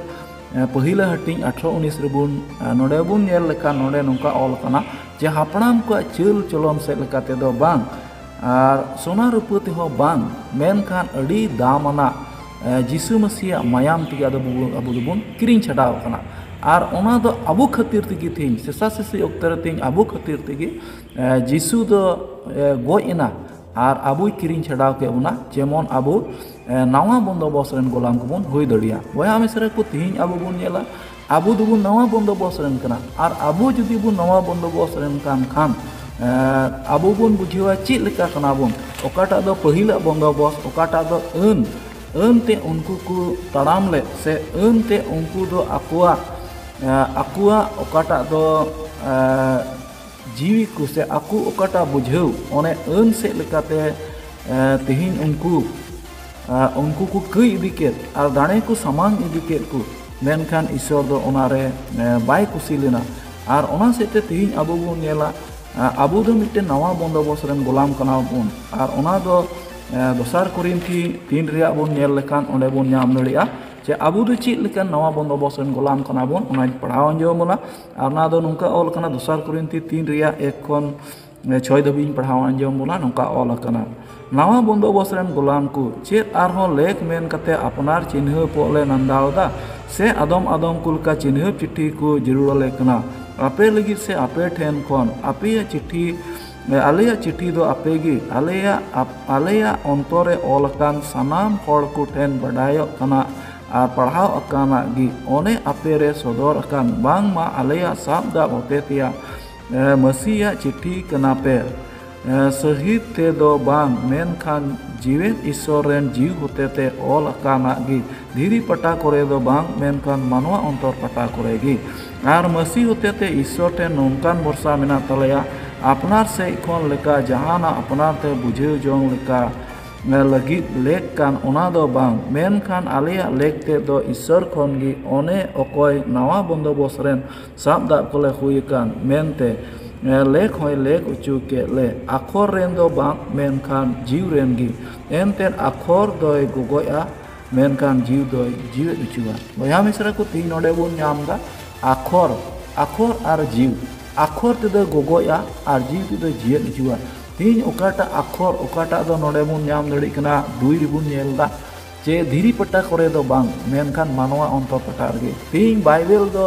ᱯᱟᱹᱦᱤᱞᱟ ᱦᱟᱹᱴᱤᱧ ᱟᱴᱷᱨᱚ ᱩᱱᱤᱥ ᱨᱮᱵᱚᱱ ᱱᱚᱰᱮ ᱵᱚᱱ ᱧᱮᱞ ᱞᱮᱠᱷᱟᱱ ᱱᱚᱰᱮ ᱱᱚᱝᱠᱟ ᱚᱞ ᱠᱟᱱᱟ ᱡᱮ ᱦᱟᱯᱲᱟᱢ ᱠᱚᱣᱟᱜ ᱪᱟᱹᱞ ᱪᱚᱞᱚᱱ ᱥᱮᱫ ᱞᱮᱠᱟ ᱛᱮᱫᱚ ᱵᱟᱝ ᱟᱨ ᱥᱚᱱᱟ ᱨᱩᱯᱟᱹ ᱛᱮᱦᱚᱸ ᱵᱟᱝ ᱢᱮᱱᱠᱷᱟᱱ ᱟᱹᱰᱤ ᱫᱟᱢ ᱟᱱᱟᱜ ᱡᱤᱥᱩ ᱢᱟᱹᱥᱤᱭᱟᱜ ᱢᱟᱭᱟᱢ ᱛᱮᱜᱮ ᱟᱫᱚ ᱟᱵᱚ ᱫᱚᱵᱚᱱ ᱠᱤᱨᱤᱧ ᱪᱷᱟᱰᱟᱣ ᱟᱠᱟᱱᱟ ᱟᱨ ᱚᱱᱟ ᱫᱚ ᱟᱵᱚ ᱠᱷᱟᱹᱛᱤᱨ ᱛᱮᱜᱮ ᱛᱮᱦᱮᱧ ᱥᱮᱥᱟ ᱥᱮᱥᱤ ᱚᱠᱛᱮ ᱨᱮ ᱛᱮᱦᱮᱧ ᱟᱵᱚ ᱠᱷᱟᱹᱛᱤᱨ ᱛᱮᱜᱮ ᱡᱤᱥᱩ ᱫᱚ ᱜᱚᱡ ᱮᱱᱟ ᱟᱨ ᱟᱵᱚᱭ ᱠᱤᱨᱤᱧ ᱪᱷᱟᱰᱟᱣ ᱠᱮᱫ ᱵᱚᱱᱟ ᱡᱮᱢᱚᱱ ᱟᱵᱚ ᱱᱟᱣᱟ ᱵᱚᱱᱫᱚᱵᱚᱥ ᱨᱮᱱ ᱜᱳᱞᱟᱢ ᱠᱚᱵᱚᱱ ᱦᱩᱭ ᱫᱟᱲᱮᱭᱟᱜ ᱵᱚᱭᱦᱟ ᱢᱤᱥᱨᱟ ᱠᱚ ᱛᱮᱦᱮᱧ ᱟᱵᱚ ᱵᱚᱱ ᱧᱮᱞᱟ ᱟᱵᱚ ᱫᱚᱵᱚ ᱱᱟᱣᱟ ᱵᱚᱱᱫᱚᱵᱚᱥ ᱨᱮᱱ ᱠᱟᱱᱟ ᱟᱨ ᱟᱵᱚ ᱡᱩᱫᱤ ᱵᱚ ᱱᱟᱣᱟ ᱵᱚᱱᱫᱚᱵᱚᱥ ᱨᱮᱱ ᱠᱟᱱ ᱠᱷᱟᱱ ᱟᱵᱚ ᱵᱚᱱ ᱵᱩᱡᱷᱟᱹᱣᱟ ᱪᱮᱫ ᱞᱮᱠᱟ ᱠᱟᱱᱟ ᱵᱚᱱ ᱚᱠᱟᱴᱟᱜ ᱫᱚ ᱯᱟᱹᱦᱤᱞᱟᱜ ᱵᱚᱱᱫᱚᱵᱚᱥ ᱚᱠᱟᱴᱟᱜ ᱫᱚ ᱟᱹᱱ ᱟᱹᱱ ᱛᱮ ᱩᱱᱠᱩ ᱠᱚ ᱛᱟᱲᱟᱢ ᱞᱮᱫ ᱥᱮ ᱟᱹᱱ ᱛᱮ ᱩᱱᱠᱩ ᱫᱚ ᱟᱠᱚᱣᱟᱜ ᱟᱠᱚᱣᱟᱜ ᱚᱠᱟᱴᱟᱜ ᱫᱚ ᱡᱤᱣᱤ ᱠᱚ ᱥᱮ ᱟᱠᱚ ᱚᱠᱟᱴᱟᱜ ᱵᱩᱡᱷᱟᱹᱣ ᱚᱱᱮ ᱟᱹᱱ ᱥᱮᱫ ᱞᱮᱠᱟᱛᱮ ᱛᱮᱦᱮᱧ ᱩᱱᱠᱩ ᱩᱱᱠᱩ ᱠᱚ ᱠᱟᱹᱭ ᱤᱫᱤ ᱠᱮᱫ ᱟᱨ ᱫᱟᱲᱮ ᱠᱚ ᱥᱟᱢᱟᱝ ᱤᱫᱤ ᱠᱮᱫ ᱠᱚ ᱢᱮᱱᱠᱷᱟᱱ ᱤᱥᱚᱨ ᱫᱚ ᱚᱱᱟ ᱨᱮ ᱵᱟᱭ ᱠᱩᱥᱤ ᱞᱮᱱᱟ ᱟᱨ ᱚᱱᱟ ᱥᱮᱫ ᱛᱮ ᱛᱮᱦᱮᱧ ᱟᱵᱚ ᱵᱚᱱ ᱧᱮᱞᱟ ᱟᱵᱚ ᱫᱚ ᱢᱤᱫᱴᱮᱱ ᱱᱟᱣᱟ ᱵᱚᱱᱫᱚᱵᱚᱥ ᱨᱮᱱ ᱜᱚᱞᱟᱢ ᱠᱟᱱᱟ ᱵᱚᱱ ᱟᱨ ᱚᱱᱟ ᱫᱚ ᱫᱚᱥᱟᱨ ᱠᱚᱨᱤᱱᱛᱷᱤ ᱛᱤᱱ ᱨᱮᱭᱟᱜ ᱵᱚᱱ ᱧᱮᱞ ᱞᱮᱠᱷᱟᱱ ᱚᱸᱰᱮ ᱵᱚᱱ ᱧᱟᱢ ᱫᱟᱲᱮᱭᱟᱜᱼᱟ ᱡᱮ ᱟᱵᱚ ᱫᱚ ᱪᱮᱫ ᱞᱮᱠᱟᱱ ᱱᱟᱣᱟ ᱵᱚᱱᱫᱚᱵᱚᱥ ᱨᱮᱱ ᱜᱚᱞᱟᱢ ᱠᱟᱱᱟ ᱵᱚᱱ ᱚᱱᱟᱧ ᱯᱟᱲᱦᱟᱣ ᱟᱸᱡᱚᱢ ᱟᱵᱚᱱᱟ ᱟᱨ ᱚᱱᱟ ᱫᱚ ᱱᱚᱝᱠᱟ ᱚᱞ ᱠᱟᱱᱟ ᱫᱚᱥᱟᱨ ᱠᱚᱨᱤᱱᱛᱷᱤ ᱛᱤᱱ ᱨᱮᱭᱟᱜ ᱮᱠ ᱠᱷᱚᱱ ᱪᱷᱚᱭ ᱫᱷᱟᱹᱵᱤᱡ ᱤᱧ ᱯᱟᱲᱦᱟᱣ ᱟᱸᱡᱚᱢ ᱵᱚᱱᱟ ᱱᱚᱝᱠᱟ ᱚᱞ ᱟᱠᱟᱱᱟ ᱱᱟᱣᱟ ᱵᱚᱱᱫᱚ ᱵᱚᱥ ᱨᱮᱱ ᱜᱩᱞᱟᱢ ᱠᱚ ᱪᱮᱫ ᱟᱨᱦᱚᱸ ᱞᱮᱠ ᱢᱮᱱ ᱠᱟᱛᱮᱫ ᱟᱯᱱᱟᱨ ᱪᱤᱱᱦᱟᱹᱯ ᱠᱚᱜ ᱞᱮ ᱱᱟᱱᱫᱟᱣ ᱮᱫᱟ ᱥᱮ ᱟᱫᱚᱢ ᱟᱫᱚᱢ ᱠᱚ ᱞᱮᱠᱟ ᱪᱤᱱᱦᱟᱹᱯ ᱪᱤᱴᱷᱤ ᱠᱚ ᱡᱟᱹᱨᱩᱲ ᱟᱞᱮ ᱠᱟᱱᱟ ᱟᱯᱮ ᱞᱟᱹᱜᱤᱫ ᱥᱮ ᱟᱯᱮ ᱴᱷᱮᱱ ᱠᱷᱚᱱ ᱟᱯᱮᱭᱟᱜ ᱪᱤᱴᱷᱤ ᱟᱞᱮᱭᱟᱜ ᱪᱤᱴᱷᱤ ᱫᱚ ᱟᱯᱮ ᱜᱮ ᱟᱞᱮᱭᱟᱜ ᱟᱞᱮᱭᱟᱜ ᱚᱱᱛᱚᱨ ᱨᱮ ᱚᱞ ᱟᱠᱟᱱ ᱥᱟᱱᱟᱢ ᱦᱚᱲ ᱠᱚ ᱴᱷᱮᱱ ᱵᱟᱰᱟᱭᱚᱜ ᱠᱟᱱᱟ ᱟᱨ ᱯᱟᱲᱦᱟᱣ ᱟᱠᱟᱱᱟᱜ ᱜᱮ ᱚᱱᱮ ᱟᱯᱮ ᱨᱮ ᱥᱚᱫᱚᱨ ᱟᱠᱟᱱ ᱵᱟᱝᱢᱟ ᱟᱞᱮᱭᱟᱜ ᱥᱟᱵ ᱫᱟᱵ ᱦᱚᱛᱮ ᱛᱮᱭᱟᱜ ᱢᱟᱹᱥᱤᱭᱟᱜ ᱪᱤᱴᱷᱤ ᱠᱟᱱᱟ ᱯᱮ ᱥᱟᱹᱦᱤᱛ ᱛᱮ ᱫᱚ ᱵᱟᱝ ᱢᱮᱱᱠᱷᱟᱱ ᱡᱤᱣᱮᱫ ᱤᱥᱥᱚᱨ ᱨᱮᱱ ᱡᱤᱣᱤ ᱦᱚᱛᱮ ᱛᱮ ᱚᱞ ᱟᱠᱟᱱᱟᱜ ᱜᱮ ᱫᱷᱤᱨᱤ ᱯᱟᱴᱟ ᱠᱚᱨᱮ ᱫᱚ ᱵᱟᱝ ᱢᱮᱱᱠᱷᱟᱱ ᱢᱟᱱᱣᱟ ᱚᱱᱛᱚᱨ ᱯᱟᱴᱟ ᱠᱚᱨᱮ ᱜᱮ ᱟᱨ ᱢᱟᱹᱥᱤ ᱦᱚᱛᱮ ᱛᱮ ᱤᱥᱥᱚᱨ ᱴᱷᱮᱱ ᱱᱚᱝᱠᱟᱱ ᱵᱷᱚᱨᱥᱟ ᱢᱮᱱᱟᱜ ᱛᱟᱞᱮᱭᱟ ᱟᱯᱱᱟᱨ ᱥᱮᱫ ᱠᱷᱚᱱ ᱞᱮᱠᱟ ᱡᱟᱦᱟᱱᱟᱜ ᱟᱯᱱᱟᱨ ᱛᱮ ᱵᱩᱡᱷᱟᱹᱣ ᱡᱚᱝ ᱞᱮᱠᱟ ᱞᱟᱹᱜᱤᱫ ᱞᱮᱠ ᱠᱟᱱ ᱚᱱᱟ ᱫᱚ ᱵᱟᱝ ᱢᱮᱱᱠᱷᱟᱱ ᱟᱞᱮᱭᱟᱜ ᱞᱮᱠ ᱛᱮᱫ ᱫᱚ ᱤᱥᱥᱚᱨ ᱠᱷᱚᱱ ᱜᱮ ᱚᱱᱮ ᱚᱠᱚᱭ ᱱᱟᱣᱟ ᱵᱚᱱᱫᱚᱵᱚᱥ ᱨᱮᱱ ᱥᱟᱵ ᱫᱟᱜ ᱠᱚᱞᱮ ᱦᱩᱭ ᱟᱠᱟᱱ ᱢᱮᱱᱛᱮ ᱞᱮᱠ ᱦᱚᱸᱭ ᱞᱮᱠ ᱚᱪᱚ ᱠᱮᱫ ᱞᱮ ᱟᱠᱷᱚᱨ ᱨᱮᱱ ᱫᱚ ᱵᱟᱝ ᱢᱮᱱᱠᱷᱟᱱ ᱡᱤᱣᱤ ᱨᱮᱱ ᱜᱮ ᱮᱱᱛᱮ ᱟᱠᱷᱚᱨ ᱫᱚᱭ ᱜᱚᱜᱚᱡᱼᱟ ᱢᱮᱱᱠᱷᱟᱱ ᱡᱤᱣᱤ ᱫᱚᱭ ᱡᱤᱣᱮᱫ ᱚᱪᱚᱣᱟ ᱵᱚᱭᱦᱟ ᱢᱤᱥᱨᱟ ᱠᱚ ᱛᱤᱦᱤᱧ ᱱᱚᱰᱮ ᱵᱚᱱ ᱧᱟᱢ ᱮᱫᱟ ᱟᱠᱷᱚᱨ ᱟᱠᱷᱚᱨ ᱟᱨ ᱡᱤᱣᱤ ᱟᱠᱷᱚᱨ ᱛᱮᱫᱚ ᱜᱚᱜᱚᱡᱼᱟ ᱟᱨ ᱡᱤᱣᱤ ᱛᱮᱫᱚ ᱡᱤᱭᱮᱫ ᱚᱪᱚᱣᱟ ᱛᱤᱦᱤᱧ ᱚᱠᱟᱴᱟᱜ ᱟᱠᱷᱚᱨ ᱚᱠᱟᱴᱟᱜ ᱫᱚ ᱱᱚᱰᱮ ᱵᱚᱱ ᱧᱟᱢ ᱫᱟᱲᱮᱭᱟᱜ ᱠᱟᱱᱟ ᱫᱩᱭ ᱨᱮᱵᱚᱱ ᱧᱮᱞ ᱮᱫᱟ ᱪᱮ ᱫᱷᱤᱨᱤ ᱯᱟᱴᱟ ᱠᱚᱨᱮ ᱫᱚ ᱵᱟᱝ ᱢᱮᱱᱠᱷᱟᱱ ᱢᱟᱱᱣᱟ ᱚᱱᱛᱚᱨ ᱯᱟᱴᱟ ᱨᱮᱜᱮ ᱛᱮᱦᱮᱧ ᱵᱟᱭᱵᱮᱞ ᱫᱚ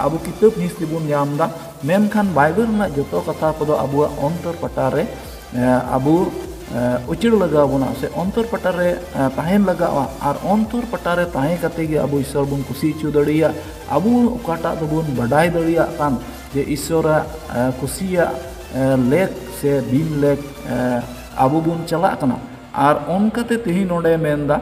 ᱟᱵᱚ ᱠᱤᱛᱟᱹᱵ ᱦᱤᱸᱥ ᱛᱮᱵᱚᱱ ᱧᱟᱢ ᱮᱫᱟ ᱢᱮᱱᱠᱷᱟᱱ ᱵᱟᱭᱵᱮᱞ ᱨᱮᱱᱟᱜ ᱡᱚᱛᱚ ᱠᱟᱛᱷᱟ ᱠᱚᱫᱚ ᱟᱵᱚᱣᱟᱜ ᱚᱱᱛᱚᱨ ᱯᱟᱴᱟ ᱨᱮ ᱟᱵᱚ ᱩᱪᱟᱹᱲ ᱞᱟᱜᱟᱣ ᱵᱚᱱᱟ ᱥᱮ ᱚᱱᱛᱚᱨ ᱯᱟᱴᱟ ᱨᱮ ᱛᱟᱦᱮᱱ ᱞᱟᱜᱟᱜᱼᱟ ᱟᱨ ᱚᱱᱛᱚᱨ ᱯᱟᱴᱟ ᱨᱮ ᱛᱟᱦᱮᱸ ᱠᱟᱛᱮ ᱜᱮ ᱟᱵᱚ ᱤᱥᱥᱚᱨ ᱵᱚᱱ ᱠᱩᱥᱤ ᱦᱚᱪᱚ ᱫᱟᱲᱮᱭᱟᱜ ᱟᱵᱚ ᱚᱠᱟᱴᱟᱜ ᱫᱚᱵᱚᱱ ᱵᱟᱰᱟᱭ ᱫᱟᱲᱮᱭᱟᱜ ᱠᱟᱱ ᱡᱮ ᱤᱥᱥᱚᱨᱟᱜ ᱠᱩᱥᱤᱭᱟᱜ ᱞᱮᱠ ᱥᱮ ᱵᱤᱱ ᱞᱮᱠ ᱟᱵᱚ ᱵᱚᱱ ᱪᱟᱞᱟᱜ ᱠᱟᱱᱟ ᱟᱨ ᱚᱱᱠᱟᱛᱮ ᱛᱮᱦᱮᱧ ᱱᱚᱰᱮᱭ ᱢᱮᱱᱫᱟ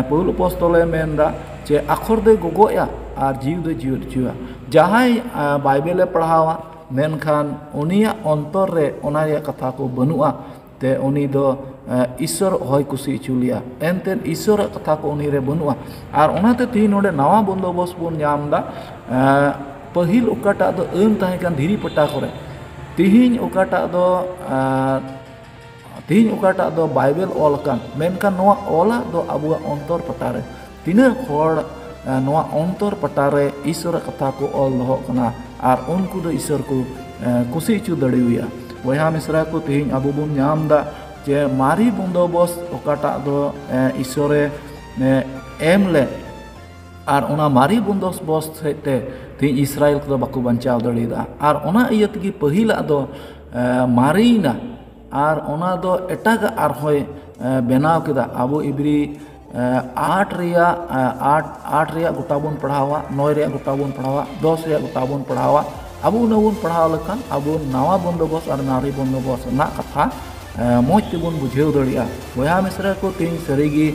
ᱯᱟᱹᱣᱩᱞ ᱟᱯᱚᱥᱛᱚᱞᱮ ᱢᱮᱱᱫᱟ ᱡᱮ ᱟᱠᱷᱚᱨ ᱫᱚᱭ ᱜᱚᱜᱚᱡᱼᱟ ᱟᱨ ᱡᱤᱣᱤ ᱫᱚᱭ ᱡᱤᱣᱮᱫ ᱦᱚᱪᱚᱭᱟ ᱡᱟᱦᱟᱸᱭ ᱵᱟᱭᱵᱮᱞᱮ ᱯᱟᱲᱦᱟᱣᱟ ᱢᱮᱱᱠᱷᱟᱱ ᱩᱱᱤᱭᱟᱜ ᱚᱱᱛᱚᱨ ᱨᱮ ᱚᱱᱟ ᱨᱮᱭᱟᱜ ᱠᱟᱛᱷᱟ ᱠᱚ ᱵᱟᱹᱱᱩᱜᱼᱟ ᱛᱮ ᱩᱱᱤ ᱫᱚ ᱤᱥᱥᱚᱨ ᱚᱦᱚᱭ ᱠᱩᱥᱤ ᱦᱚᱪᱚ ᱞᱮᱭᱟ ᱮᱱᱛᱮᱫ ᱤᱥᱥᱚᱨᱟᱜ ᱠᱟᱛᱷᱟ ᱠᱚ ᱩᱱᱤ ᱨᱮ ᱵᱟᱹᱱᱩᱜᱼᱟ ᱟᱨ ᱚᱱᱟᱛᱮ ᱛᱮᱦᱮᱧ ᱱᱚᱰᱮ ᱱᱟᱣᱟ ᱵᱚᱱᱫᱳᱵᱚᱥᱛ ᱵᱚᱱ ᱧᱟᱢᱫᱟ ᱯᱟᱹᱦᱤᱞ ᱚᱠᱟᱴᱟᱜ ᱫᱚ ᱟᱹᱱ ᱛᱟᱦᱮᱸ ᱠᱟᱱᱟ ᱫᱷᱤᱨᱤ ᱯᱟᱴᱟ ᱠᱚᱨᱮ ᱛᱮᱦᱮᱧ ᱚᱠᱟᱴᱟᱜ ᱫᱚ ᱛᱮᱦᱮᱧ ᱚᱠᱟᱴᱟᱜ ᱫᱚ ᱵᱟᱭᱵᱮᱞ ᱚᱞ ᱟᱠᱟᱱ ᱢᱮᱱᱠᱷᱟᱱ ᱱᱚᱣᱟ ᱚᱞᱟᱜ ᱫᱚ ᱟᱵᱚᱣᱟᱜ ᱚᱱᱛᱚᱨ ᱯᱟᱴᱟᱨᱮ ᱛᱤᱱᱟᱹᱜ ᱦᱚᱲ ᱱᱚᱣᱟ ᱚᱱᱛᱚᱨ ᱯᱟᱴᱟᱨᱮ ᱤᱥᱚᱨᱟᱜ ᱠᱟᱛᱷᱟ ᱠᱚ ᱚᱞ ᱫᱚᱦᱚ ᱠᱟᱱᱟ ᱟᱨ ᱩᱱᱠᱩ ᱫᱚ ᱤᱥᱚᱨ ᱠᱚ ᱠᱩᱥᱤ ᱦᱚᱪᱚ ᱫᱟᱲᱮᱣᱟᱭᱟ ᱵᱚᱭᱦᱟ ᱢᱤᱥᱨᱟ ᱠᱚ ᱛᱮᱦᱮᱧ ᱟᱵᱚ ᱵᱚᱱ ᱧᱟᱢ ᱮᱫᱟ ᱡᱮ ᱢᱟᱨᱮ ᱵᱚᱱᱫᱚᱵᱚᱥ ᱚᱠᱟᱴᱟᱜ ᱫᱚ ᱤᱥᱚᱨᱮ ᱮᱢ ᱞᱮᱫ ᱟᱨ ᱚᱱᱟ ᱢᱟᱨᱮ ᱵᱚᱱᱫᱚᱵᱚᱥ ᱥᱮᱫ ᱛᱮ ᱛᱮᱦᱮᱧ ᱤᱥᱨᱟᱭᱮᱞ ᱠᱚᱫᱚ ᱵᱟᱠᱚ ᱵᱟᱧᱪᱟᱣ ᱫᱟᱲᱮᱭᱟᱫᱟ ᱟᱨ ᱚᱱᱟ ᱤᱭᱟᱹ ᱛᱮᱜᱮ ᱯᱟᱹᱦᱤᱞᱟᱜ ᱫᱚ ᱢᱟᱨᱮᱭᱮᱱᱟ ᱟᱨ ᱚᱱᱟ ᱫᱚ ᱮᱴᱟᱜᱟᱜ ᱟᱨᱦᱚᱸᱭ ᱵᱮᱱᱟᱣ ᱠᱮᱫᱟ ᱟᱵᱚ ᱮᱵᱽᱨᱤ ᱟᱨᱴ ᱨᱮᱭᱟᱜ ᱟᱨᱴ ᱟᱨᱴ ᱨᱮᱭᱟᱜ ᱜᱚᱴᱟ ᱵᱚᱱ ᱯᱟᱲᱦᱟᱣᱟ ᱱᱚᱭ ᱨᱮᱭᱟᱜ ᱜᱚᱴᱟ ᱵᱚᱱ ᱯᱟᱲᱦᱟᱣᱟ ᱫᱚᱥ ᱨᱮᱭᱟᱜ ᱜᱚᱴᱟ ᱵᱚᱱ ᱯᱟᱲᱦᱟᱣᱟ ᱟᱵᱚ ᱩᱱᱟᱹᱜ ᱵᱚᱱ ᱯᱟᱲᱦᱟᱣ ᱞᱮᱠᱷᱟᱱ ᱟᱵᱚ ᱱᱟᱣᱟ ᱵᱚᱱᱫᱳᱵᱚᱥᱛ ᱟᱨ ᱢᱟᱨᱮ ᱵᱚᱱᱫᱳᱵᱚᱥᱛ ᱨᱮᱱᱟᱜ ᱠᱟᱛᱷᱟ ᱢᱚᱡᱽ ᱛᱮᱵᱚᱱ ᱵᱩᱡᱷᱟᱹᱣ ᱫᱟᱲᱮᱭᱟᱜᱼᱟ ᱵᱚᱭᱦᱟ ᱢᱤᱥᱨᱟ ᱠᱚ ᱛᱮᱦᱮᱧ ᱥᱟᱹᱨᱤᱜᱮ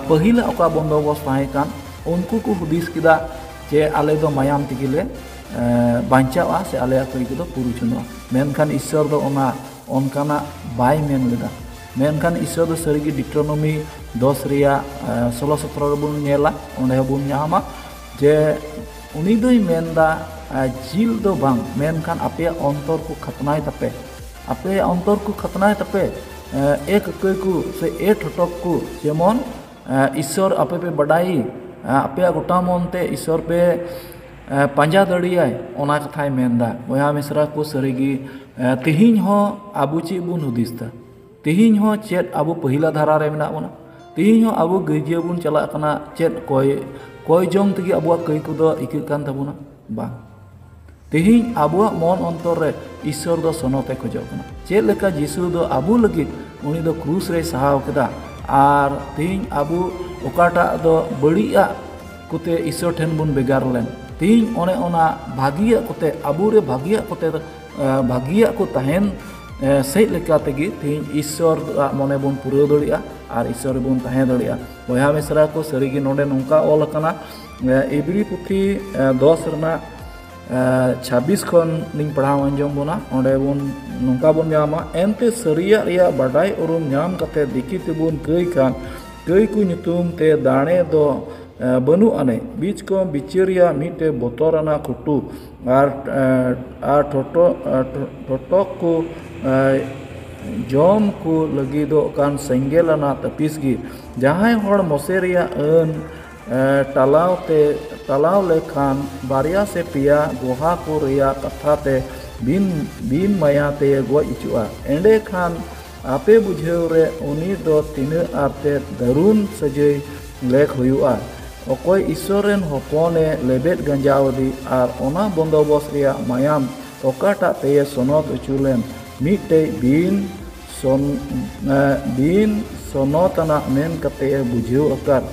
ᱯᱟᱹᱦᱤᱞᱟᱜ ᱚᱠᱟ ᱵᱚᱱᱫᱳᱵᱚᱥᱛ ᱛᱟᱦᱮᱸ ᱠᱟᱱ ᱩᱱᱠᱩ ᱠᱚ ᱦᱩᱫᱤᱥ ᱠᱮᱫᱟ ᱡᱮ ᱟᱞᱮ ᱫᱚ ᱢᱟᱭᱟᱢ ᱛᱮᱜᱮ ᱞᱮ ᱵᱟᱧᱪᱟᱣᱟ ᱥᱮ ᱟᱞᱮ ᱟᱛᱳ ᱨᱮ ᱫᱚ ᱯᱩᱨᱩ ᱪᱟᱸᱫᱚᱜᱼᱟ ᱢᱮᱱᱠᱷᱟᱱ ᱤᱥᱥᱚᱨ ᱫᱚ ᱚᱱᱟ ᱚᱱᱠᱟᱱᱟᱜ ᱵᱟᱭ ᱢᱮᱱ ᱞᱮᱫᱟ ᱢᱮᱱᱠᱷᱟᱱ ᱤᱥᱥᱚᱨ ᱫᱚ ᱥᱟᱹᱨᱤᱜᱮ ᱰᱤᱴᱨᱳᱱᱚᱢᱤ ᱫᱚᱥ ᱨᱮᱭᱟᱜ ᱥᱳᱞᱳ ᱥᱚᱛᱨᱚ ᱨᱮᱵᱚᱱ ᱧᱮᱞᱟ ᱚᱸᱰᱮ ᱦᱚᱸᱵᱚᱱ ᱧᱟᱢᱟ ᱡᱮ ᱩᱱᱤ ᱫᱚᱭ ᱢᱮᱱᱫᱟ ᱡᱤᱞ ᱫᱚ ᱵᱟᱝ ᱢᱮᱱᱠᱷᱟᱱ ᱟᱯᱮᱭᱟᱜ ᱚᱱᱛᱚᱨ ᱠᱚ ᱠᱷᱟᱛᱱᱟᱭ ᱛᱟᱯᱮ ᱟᱯᱮᱭᱟᱜ ᱚᱱᱛᱚᱨ ᱠᱚ ᱠᱷᱟᱛᱱᱟᱭ ᱛᱟᱯᱮ ᱮ ᱠᱟᱹᱠᱟᱹᱭ ᱠᱚ ᱥᱮ ᱮ ᱴᱷᱚᱴᱚᱠ ᱠᱚ ᱡᱮᱢᱚᱱ ᱤᱥᱥᱚᱨ ᱟᱯᱮ ᱯᱮ ᱵᱟᱰᱟᱭᱮ ᱟᱯᱮᱭᱟᱜ ᱜᱚᱴᱟ ᱢᱚᱱᱛᱮ ᱤᱥᱥᱚᱨ ᱯᱮ ᱯᱟᱸᱡᱟ ᱫᱟᱲᱮᱭᱟᱭ ᱚᱱᱟ ᱠᱟᱛᱷᱟᱭ ᱢᱮᱱ ᱮᱫᱟ ᱵᱚᱭᱦᱟ ᱢᱤᱥᱨᱟ ᱠᱚ ᱥᱟᱹᱨᱤᱜᱮ ᱛᱮᱦᱮᱧ ᱦᱚᱸ ᱟᱵᱚ ᱪᱮᱫ ᱵᱚᱱ ᱦᱩᱫᱤᱥ ᱮᱫᱟ ᱛᱮᱦᱮᱧ ᱦᱚᱸ ᱪᱮᱫ ᱟᱵᱚ ᱯᱟᱹᱦᱤᱞᱟ ᱫᱷᱟᱨᱟ ᱨᱮ ᱢᱮᱱᱟᱜ ᱵᱚᱱᱟ ᱛᱮᱦᱮᱧ ᱦᱚᱸ ᱟᱵᱚ ᱜᱤᱨᱡᱟᱹ ᱵᱚᱱ ᱪᱟᱞᱟᱜ ᱠᱟᱱᱟ ᱪᱮᱫ ᱠᱚᱭ ᱠᱚᱭ ᱡᱚᱝ ᱛᱮᱜᱮ ᱟᱵᱚᱣᱟᱜ ᱠᱟᱹᱭ ᱠᱚᱫᱚ ᱤᱠᱟᱹᱜ ᱠᱟᱱ ᱛᱟᱵᱚᱱᱟ ᱵᱟᱝ ᱛᱮᱦᱮᱧ ᱟᱵᱚᱣᱟᱜ ᱢᱚᱱ ᱚᱱᱛᱚᱨ ᱨᱮ ᱤᱥᱥᱚᱨ ᱫᱚ ᱥᱚᱱᱚᱛᱮ ᱠᱷᱚᱡᱚᱜ ᱠᱟᱱᱟ ᱪᱮᱫ ᱞᱮᱠᱟ ᱡᱤᱥᱩ ᱫᱚ ᱟᱵᱚ ᱞᱟᱹᱜᱤᱫ ᱩᱱᱤ ᱫᱚ ᱠᱨᱩᱥ ᱨᱮᱭ ᱥᱟᱦᱟᱣ ᱠᱮᱫᱟ ᱟᱨ ᱛᱮᱦᱮᱧ ᱟᱵᱚ ᱚᱠᱟᱴᱟᱜ ᱫᱚ ᱵᱟᱹᱲᱤᱡ ᱟᱜ ᱠᱚᱛᱮ ᱤᱥᱚᱨ ᱴᱷᱮᱱ ᱵᱚᱱ ᱵᱮᱜᱟᱨ ᱞᱮᱱ ᱛᱤᱧ ᱚᱱᱮ ᱚᱱᱟ ᱵᱷᱟᱹᱜᱤᱭᱟᱜ ᱠᱚᱛᱮ ᱟᱵᱚ ᱨᱮ ᱵᱷᱟᱹᱜᱤᱭᱟᱜ ᱠᱚᱛᱮ ᱵᱷᱟᱹᱜᱤᱭᱟᱜ ᱠᱚ ᱛᱟᱦᱮᱱ ᱥᱮᱡ ᱞᱮᱠᱟ ᱛᱮᱜᱮ ᱛᱤᱧ ᱤᱥᱚᱨ ᱟᱜ ᱢᱚᱱᱮ ᱵᱚᱱ ᱯᱩᱨᱟᱹᱣ ᱫᱟᱲᱮᱭᱟᱜᱼᱟ ᱟᱨ ᱤᱥᱚᱨ ᱨᱮᱵᱚᱱ ᱛᱟᱦᱮᱸ ᱫᱟᱲᱮᱭᱟᱜᱼᱟ ᱵᱚᱭᱦᱟ ᱢᱤᱥᱨᱟ ᱠᱚ ᱥᱟᱹᱨᱤ ᱜᱮ ᱱᱚᱰᱮ ᱱᱚᱝᱠᱟ ᱚᱞ ᱟᱠᱟᱱᱟ ᱮᱵᱨᱤ ᱯᱩᱛᱷᱤ ᱫᱚᱥ ᱨᱮᱱᱟᱜ ᱪᱷᱟᱵᱤᱥ ᱠᱷᱚᱱ ᱞᱤᱧ ᱯᱟᱲᱦᱟᱣ ᱟᱸᱡᱚᱢ ᱵᱚᱱᱟ ᱚᱸᱰᱮ ᱵᱚᱱ ᱱᱚᱝᱠᱟ ᱵᱚᱱ ᱧᱟᱢᱟ ᱮᱱᱛᱮ ᱥᱟᱹᱨᱤᱭᱟᱜ ᱨᱮᱭᱟᱜ ᱵᱟᱰᱟᱭ ᱩᱨᱩᱢ ᱧᱟᱢ ᱠᱟᱛᱮ ᱫᱤᱠᱤ ᱛᱮᱵᱚᱱ ᱠᱟᱹᱭ ᱠᱷᱟᱱ ᱜᱟᱹᱭ ᱠᱚ ᱧᱩᱛᱩᱢ ᱛᱮ ᱫᱟᱲᱮ ᱫᱚ ᱵᱟᱹᱱᱩᱜ ᱟᱹᱱᱤᱡ ᱵᱤᱪ ᱠᱚᱢ ᱵᱤᱪᱟᱹᱨ ᱨᱮᱭᱟᱜ ᱢᱤᱫᱴᱮᱱ ᱵᱚᱛᱚᱨ ᱟᱱᱟᱜ ᱠᱩᱴᱩ ᱟᱨ ᱟᱨ ᱴᱷᱚᱴᱚ ᱴᱷᱚᱴᱚᱠ ᱠᱚ ᱡᱚᱢ ᱠᱚ ᱞᱟᱹᱜᱤᱫᱚᱜ ᱠᱟᱱ ᱥᱮᱸᱜᱮᱞ ᱟᱱᱟᱜ ᱛᱟᱹᱯᱤᱥ ᱜᱮ ᱡᱟᱦᱟᱸᱭ ᱦᱚᱲ ᱢᱚᱥᱮ ᱨᱮᱭᱟᱜ ᱟᱹᱱ ᱴᱟᱞᱟᱣ ᱛᱮ ᱴᱟᱞᱟᱣ ᱞᱮᱠᱷᱟᱱ ᱵᱟᱨᱭᱟ ᱥᱮ ᱯᱮᱭᱟ ᱜᱚᱦᱟ ᱠᱚ ᱨᱮᱭᱟᱜ ᱠᱟᱛᱷᱟ ᱛᱮ ᱵᱤᱱ ᱵᱤᱱ ᱢᱟᱭᱟ ᱛᱮ ᱜᱚᱡ ᱦᱚᱪᱚᱜᱼᱟ ᱮᱸᱰᱮᱠᱷᱟᱱ ᱟᱯᱮ ᱵᱩᱡᱷᱟᱹᱣ ᱨᱮ ᱩᱱᱤ ᱫᱚ ᱛᱤᱱᱟᱹᱜ ᱟᱨ ᱛᱮᱫ ᱫᱟᱹᱨᱩᱱ ᱥᱟᱹᱡᱟᱹᱭ ᱞᱮᱠ ᱦᱩᱭᱩᱜᱼᱟ᱾ ᱚᱠᱚᱭ ᱤᱥᱥᱚᱨ ᱨᱮᱱ ᱦᱚᱯᱚᱱ ᱮ ᱞᱮᱵᱮᱫ ᱜᱟᱸᱡᱟᱣ ᱟᱫᱮ ᱟᱨ ᱚᱱᱟ ᱵᱚᱱᱫᱚᱵᱚᱥ ᱨᱮᱭᱟᱜ ᱢᱟᱭᱟᱢ ᱚᱠᱟᱴᱟᱜ ᱛᱮᱭᱮ ᱥᱚᱱᱚᱛ ᱚᱪᱚ ᱞᱮᱱ ᱢᱤᱫᱴᱮᱡ ᱵᱤᱱ ᱵᱤᱱ ᱥᱚᱱᱚᱛ ᱟᱱᱟᱜ ᱢᱮᱱ ᱠᱟᱛᱮ ᱮ ᱵᱩᱡᱷᱟᱹᱣ ᱟᱠᱟᱫ